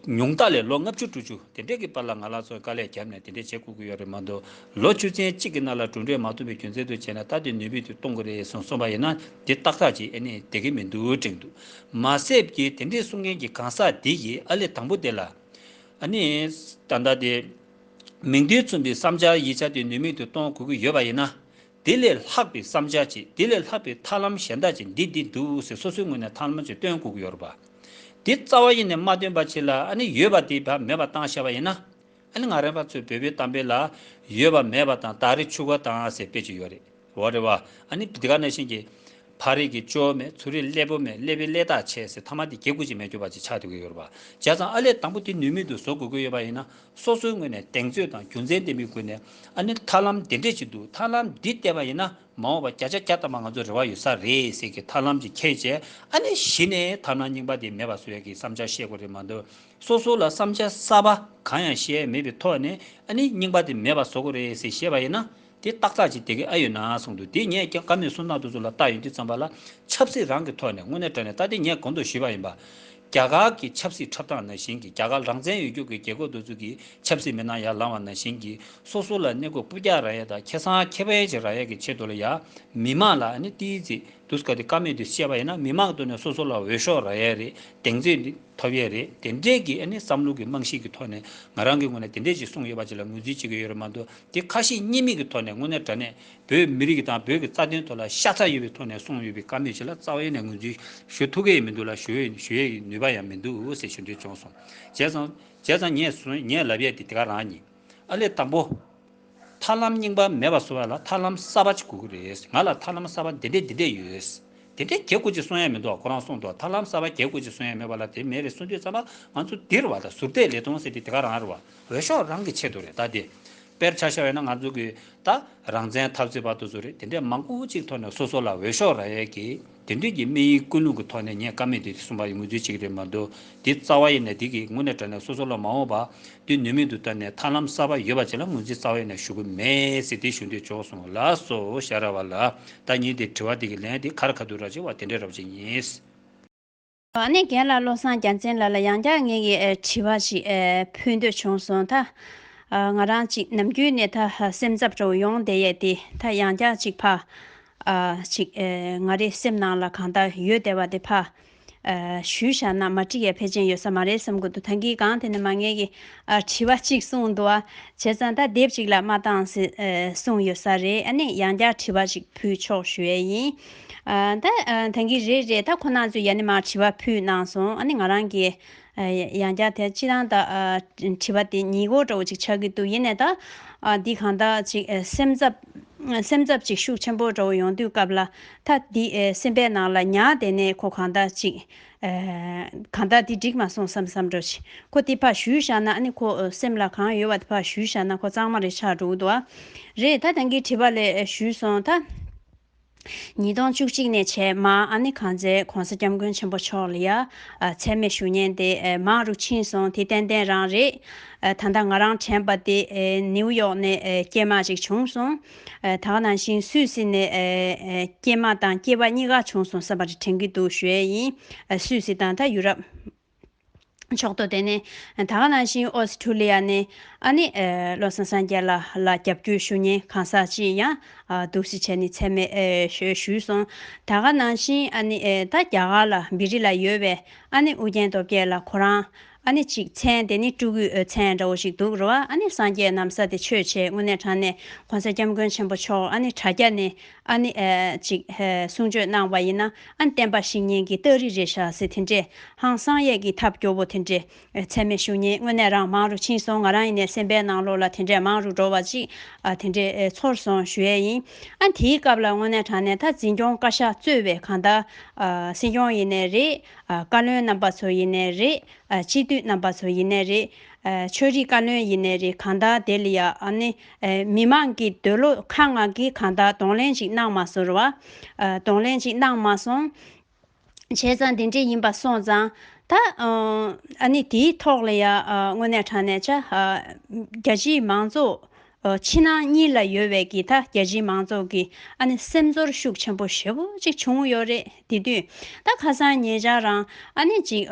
ཉུང་རྟགས་ལས་ལོ་ལྔ་བཅུ་དྲུག་ཅུ་དེ་འདྲས་ཀྱི་བར་ལ་ང་ལགས་ཚོའི་དཀའ་ལས་བརྒྱབ་ནས་དེ་འདྲས་བྱེད་དགོས་ཀྱི་ཡོད་རེད་མ་འདུག་ལོ་བཅུ་ཚན་གཅིག་གི་ནང་ལ་གྲུབ་འབྲས་མ་ཐོན་པའི་རྒྱུ་མཚན་དུ་བྱས་ན་ད་དེ་ནུས་པས་དུས་གཏོང་གི་རེད་ཟེར་གསུངས་པ་ཡིན་ན་དེ་ཏག་ཏག་ཅིག་ཨེ་ནི་བསྡད་ཀྱི་མི་འདུག་དྲན་འདུག་མ་ཟད་ཀྱི་དེ་འདྲས་གསུང་མཁན་གྱི་གང་ཟག་དེ་ཡི་ཨ་ལས་དང་པོ་དེ་ལ་ཨ་ནི་ད་ལྟ་དེ་མིང་དོན་མཚུངས་པའི་བསམ་འཆར་ཡིག་ཆ་དེ་ནུས་མེད་དུ་གཏོང་དགོས་ཀྱི་ཡོད་པ་ཡིན་ན་དེ་ལས་ལྷག་པའི་བསམ་འཆར་གྱིས་དེ་ལས་ལྷག་པའི་ཐབས་ལམ་གཞན་དག་ཅིག་འདི་འདི་འདུག་ཟེར་སོ་སོའི་ངོས་ནས་ཐབས་ལམ་ཅིག་སྟོན་དགོས་ཀྱི་ཡོད་རེད་པ། དེ་རྩ་བ་ཡེ་ནས་མ་སྟོན་པ་ཅིག་ལ་ཨ་ནི་ཡོད་པ་དེ་བ་མེད་པ་བཏང་ཤ་བ་ཡིན་ན། ཨ་ནི་ང་རང་པ་ཚོའི་བོད་པའི་གཏམ་དཔེ་ལ། ཡོད་པ་མེད་པ་དང་དག་རིགས་ཆུ་ཁ་དང་ཟེར་དཔེ་ཅིག་ཡོད་རེད་བ་རེད་བ། ཨ་ནི་འདི་ག་ནས་བཞིན་གྱི། ཕ་རིགས་ཀྱི་ཅོ་མེད་ཚུར་རིགས་ཀླད་པོ་མེད་ཀླད་པའི་ཀླད་དག་ཆད་ཟེར་ཐ་མ་དེ་གེ་ཁུག་ཅིག་མེད་གྱུར་པ་ཅིག་ཆགས་དུས་ཀྱི་ཡོད་རེད་བ། བྱས་ཙང་ཨ་ལས་དང་པོ་དེ་ནུས་མེད་དུ་བཟོ་དགོས་ཀྱི་ཡོད་པ་ཡིན་ན། སོ་སོའི་ངོས་ནས་གདེང་ཚོད་དང་རྒྱུ་མཚན་ལྡན་པའི་སྒོ་ནས་ཨ་ནི་ཐར་ལམ་འདི་འགྲེལ་བྱེད་འདུག་ཐར་ལམ་འདི་བལྟས་པ་ཡིན་ན་མ་འོངས་པ་བརྒྱ་ཆ་བརྒྱ་བཏང་བ་ང་ཚོར་རེ་བ་ཡོད་ས་རེད་ཟེར་གི་ཐར་ལམ་གྱི་ཁྱད་བྱས་ཨ་ནི་གཞི་ནས་ཐར་ན་རྙིང་པ་དེ་མེད་པ་བཟོ་ཡག་གི་བསམ་འཆར་བཤད་དགོས་རེད་མ་འདུག་སོ་སོ་ལ་བསམ་འཆར་གསར་པ་གང་ཡང་བཤད་མེད་པའི་ཐོག་ནས་ཨ་ནི་རྙིང་པ་དེ་མེད་པ་བཟོ་དགོས་རེད་ཟེར་བཤད་པ་ཡིན་ན་དེ་བཏགས་ཚར་གཅིག་དེ་གས་ཨ་ཡོད་ན་གསུངས་འདུག་དེ་ངས་ཀྱང་ཀ་མེད་སུན་སྣང་དུ་ཚུར་ལ་བཏགས་ཡོད་འདུག་བརྩམས་པ་ལ་ཆབ་སྲིད་རང་གི་ཐོག་ནས་དངོས་གནས་དྲན་ནས་ད་ལྟའི་ངས་གོང་དུ་ཞུས་པ་ཡིན་པ། རྒྱ་གར་གྱི་ཆབ་སྲིད་འཁྲབ་སྟངས་ནང་བཞིན་གྱི་རྒྱ་གར་རང་བཙན་ཡོད་རྒྱུགས་ཀྱི་རྒྱལ་ཁོག་འདོད་ཚུལ་གྱི་ཆབ་སྲིད་མི་སྣང་ཡར་ལངས་བ་ནང་བཞིན་གྱི་སོ་སོ་ལ་གནས་སྒོ་སྤུ་རྒྱག་ར་ཡས་དང་ཁེ་སང་ཁེ་བའི་བྱེད་ར་ཡས་ཀྱི་ཆེད་དུ་ལ་ཡ་མི་མང་ལ་ཨནི་ཏིའི་ཙི་དུས་ཀ་དེ་ཀ་མེད་དུ་བཤད་པ་ཡིན་ན་མི་མང་གི་དོན་ནས་སོ་སོ་ལ་འོས་ཤོག་ར་ཡས་རེད་གདེང་ཚོད་ཐོབ་ཡས་རེད་དེ་འདྲས་ཀྱི་ཨནི་བསམ་བློ་གྱི་རྨང་གཞི་གྱི་ཐོག་ནས་ང་རང་གི་ངོས་ནས་དེ་འདྲས་ཅིག་གསུངས་ཡོད་པ་ཅིག་ལ་ངོས་འཛིན་བྱེད་ཀྱི་ཡོད་རེད་མ་འདུག་དེ་ཁ་ཤས་བརྙན་མིག་གི་ཐོག་ནས་དངོས་གནས་དྲ་གནས་བོད་མི་རིགས་དང་བོད་ཀྱི་རྩ་དོན་ཐོག་ལ་ཤ་ཚ་ཡོད་པའི་ཐོག་ནས་གསུངས་ཡོད་པའི་བཀའ་མོས་ཆེ་ལ་རྩ་བའི་ནས་ངོས་འཛིན་ཞུ་ཐུབ་ཀྱི་ཡི་མི་འདུག་ལ་ཞུ་ཡི་ཞུ་ཡའི་ནུས་པ་ཡང་མི་འདུག་ཟེར་ཞུ་འདོད་བྱུང་སོང་བྱས་ཙང་བྱས་ཙང་ངས་སོང་ངས་ལབ་ཡས་དེ་དེ་ག་རང་ཡིན་ཨ་ལས་དང་པོ། ཐར་ལམ་རྙིང་པ་མེད་པ་བཟོ་བ་ལ་ཐར་ལམ་གསར་པ་ཅིག་དགོས་ཀྱི་རེད་ང་ལ་ཐར་ལམ་གསར་པ་འདི་འདྲས་འདི་འདྲས་ཡོད། དེ་འདྲས་གྱེས་དགོས་ཅིག་གསུང་ཡས་མི་འདུག་ཁོ་རང་གསུང་འདུག་ཐར་ལམ་གསར་པ་གྱེས་དགོས་ཅིག་གསུང་ཡས་མེད་པ་ལ་དེ་མེད་རེད་གསུང་དུས་རྩམ་པ་ང་ཚོ་འདིར་བ་དང་ཟུར་བལྟས་ལེ་སྟོང་ཟེར་དེ་དེ་ག་རང་རེད་བ། འོས་ཤོག་རང་གི་ཆེད་དུ་རེད་ད་དེ། དཔེར་ཆ་བཤད་ཡོད་ན་ང་ཚོ་གི་ད་རང་བཙན་འཐབ་རྩོད་པ་དུ་ཚོ་རེད་དེ་འདྲས་མང་པོ་ཅིག་ཐོག་ནས་སོ་སོ་ལ་འོས་ཤོག་རག་ཡས་ཀི་དེ་འདྲས་ཀི་དམིགས་ཡིག་ཀུན་སློང་གི་ཐོག་ནས་ཉན་དཀའ་མེད་དེ་གསུམ་པ་ཡི་ངོས་འཛིན་ཅིག་རེད་མ་འདུག་དེ་རྩ་བ་ཡས་ནས་དེ་གི་དངོས་གནས་དྲ་ནས་སོ་སོ་ལ་མ་འོངས་པ་དུས་ནུས་མེད་དུ་བལྟ་ནས་ཐར་ལམ་གསར་པ་ཡོད་པ་ཅིག་ལ་ངོས་འཛིན་རྩ་བ་ཡས་ནས་ཞུ་གི་མེད་སེ་དེ་ཞུ་འདོད་ཆོག་སོང་ལ་སོ་ཞར་ར་བ་ལ་ད་ཉིན་དེ་དྲི་བ་དེ་གི་ལན་དེ་གར་ག་དུ་རག་ཅིག་བ་དེ་འདྲས་རག་བྱེད་ངེས། བ་ནས་རྒན་ལགས་བློ་བཟང་རྒྱ་མཚན་ལགས་ལ་ཡང་བསྐྱར་ངེད་ཀྱི་དྲི་བ་ཞིག་ཕུལ་འདོད་བྱུང་སོང་ད། ང་རང་ཅིག་ནམ་རྒྱུན་ནས་ད་སེམས་འཚབ་སྤྲོ་བོ་ཡོང་བསྡད་ཡས་དེ་ད་ཡང་བསྐྱར་ཅིག་ཕ། ཅིག་ང་རེ་སེམས་ནང་ལ་གང་ལྟར་ཡོད་བསྡད་བ་དེ་ཕ། ཞུས་བཞག་ན་མ་དྲི་ཡས་ཕལ་ཆེན་ཡོད་ས་མ་རེད་བསམ་གི་འདུག་ད་འགི་གང་དེ་ནས་མ་ངེད་ཀྱི་དྲི་བ་ཅིག་གསུངས་འདུག་བྱས་ཙང་ད་དེབ་ཅིག་ལ་མ་བཏང་ཟེར་གསུངས་ཡོད་ས་རེད་ཨ་ནས་ཡང་བསྐྱར་དྲི་བ་ཞིག་ཕུལ་ཆོག་ཞུ་ཡས་ཡིན། ད་ཐེངས་ཀྱི་རེད་རེད་ད་ཁོ་ནང་ཚོས་ཡ་ནི་མར་དྲི་བ་ཕུལ་གནང་སོང་ཨ་ནི་ང་རང་གིས་ཡང་བསྐྱར་དེ་སྤྱིར་བཏང་ད་དྲི་བ་དེ་ཉིད་གོ་དྲོ་བོ་ཅིག་ཆགས་ཀྱི་འདུག་ཡེ་ནས་ད་འདི་གང་དག་ཅིག་སེམས་འཚབ་སེམས་འཚབ་ཅིག་ཤུགས་ཆེན་པོ་དྲོ་བོ་ཡོང་དུས་སྐབས་ལ་ད་འདི་སེམས་པའི་ནང་ལ་ཉག་བསྡད་ནས་ཁོ་གང་དག་ཅིག་གང་དག་འདི་འགྲིག་མ་སོང་བསམ་བསམ་འགྲོ་ཅིག་ཁོ་དེ་ཕར་བཞུད་བཞག་ན་ཨ་ནི་ཁོ་སེམས་ལ་གང་ཡོད་བ་དེ་ཕར་བཞུད་བཞག་ན་ཁོ་གཙང་མ་རེ་ཆགས་འགྲོ་གི་འདུག་རེད་ད་ཐེངས་ཀྱི་དྲི་བ་ལས་བཞུད་སོང་ད། ཉིས་སྟོང་བཅུ་གཅིག་ནས་བྱས་མ་ཨ་ནེ་གང་ཚེ་གོང་ས་སྐྱབས་མགོན་ཆེན་པོ་མཆོག་ལ་ཡ། ཚད་མེད་ཞུ་སྙན་དེ་མང་རུ་ཕྱིན་སོང་དེ་ཏན་ཏན་རང་རེད། ད་ལྟ་ང་རང་དྲན་པ་དེ་ནེའུ་ཡོག་ནས་སྐྱེས་མ་ཅིག་བྱུང་སོང། ད་ག་ནང་བཞིན་སུད་སི་ནས་སྐྱེས་མ་དང་སྐྱེས་པ་གཉིས་ཀ་བྱུང་སོང་བསམ་པ་རེ་དྲན་གྱི་འདུག་ཞུ་ཡས་ཡིན་སུད་སི་དང་ད་ཡུ་རབ། ཕྱོགས་གཏོགས་དེ་ནི་ད་ག་ནང་བཞིན་ཨོ་སི་ཁྲུ་ལི་ཡ་ནས་ཨ་ནི་བློ་བཟང་སངས་རྒྱས་ལགས་ལ་རྒྱབ་སྐྱོར་ཞུ་ཉེན་གང་ཟག་ཅིག་ཡང་འདུག་ཞེས་བྱས་ནས་ཚད་མེད་ཞུས་སོང། ད་ག་ནང་བཞིན་ཨ་ནི་ད་རྒྱ་གར་ལ་བི་རི་ལ་ཡོད་པའི་ཨ་ནི་ཨུ་རྒྱན་སྟོབས་རྒྱལ་ལ་ཁོ་རང་ཨ་ནི་ཅིག་མཚན་དེ་ནི་སྤྲུལ་སྐུའི་མཚན་འདྲ་བོ་ཞིག་འདུག་རེ་བ་ཨ་ནི་སངས་རྒྱས་ནམ་ས་དེ་ཆོས་བྱེད་དངོས་གནས་དྲང་ནས་གོང་ས་སྐྱབས་མགོན་ཆེན་པོ་མཆོག་ཨ་ནི་དྲ་རྒྱ་ནས་ཨ་ནི། ཅིག། གསུང་ཆོས་གནང་བ་ཡིན་ན་ཨ་ནི་བསྟན་པ་ཞིག་ཉན་གི་སྟག་རི་རེད་ཤག་ཟེར་དེ་འདྲས་ཧང་སང་ཡས་གི་ཐབས་སྐྱོ་བོ་དེ་འདྲས་ཚད་མེད་ཞུ་ཉན་དངོས་གནས་རང་མང་རུ་ཕྱིན་སོང་ང་རང་ཡིན་ནས་སེམས་པའི་ནང་ལོག་ལ་དེ་འདྲས་མང་རུ་འགྲོ་བ་ཅིག་དེ་འདྲས་ཚོར་སོང་ཞུ་ཡས་ཡིན་ཨ་དེའི་སྐབས་ལ་དངོས་གནས་དྲང་གནས་ད་འཛིན་སྐྱོང་བཀའ་ཤག་གཙོས་བའི་གང་ལྟར། སྲིད་སྐྱོང་ཡིན་ནས་རེད། བཀའ་བློན་རྣམ་པ་ཚོ་ཡིན་ནས་རེད། སྤྱི་འཐུས་རྣམ་པ་ཚོ་ཡིན་ནས་རེད། ཆོས་རིག་བཀའ་བློན་ཡིན་ནས་རེད་གང་ལྟར་དེ་ལ་ཡ་ཨ་ནི། མི་མང་གི་འདོད་བློ་ཁ་ང་གིས་གང་དག་གདོང་ལེན་ཅིག་གནང་མ་ཟོར་བ། གདོང་ལེན་ཅིག་གནང་མ་སོང། བྱས་ཙང་འདི་འདྲས་ཡིན་པ་སོང་ཙང། ད། ཨ་ནི་དེའི་ཐོག་ལ་ཡ། དངོས་གནས་དྲང་གནས་བྱ། རྒྱ་སྤྱིའི་མང་ཚོགས། ཕྱི་ནང་གཉིས་ལ་ཡོད་བས་ཀྱི་ད་རྒྱ་སྤྱིའི་མང་ཚོགས་ཀྱི་ཨ་ནི་སེམས་ཚོར་ཤུགས་ཆེན་པོ་ཞེ་བོ་ཅིག་བྱུང་ཡོད་རེད། དེ་དུས་ད་ཁ་སང་ངེད་ཅག་རང་ཨ་ནེ་གཅིག་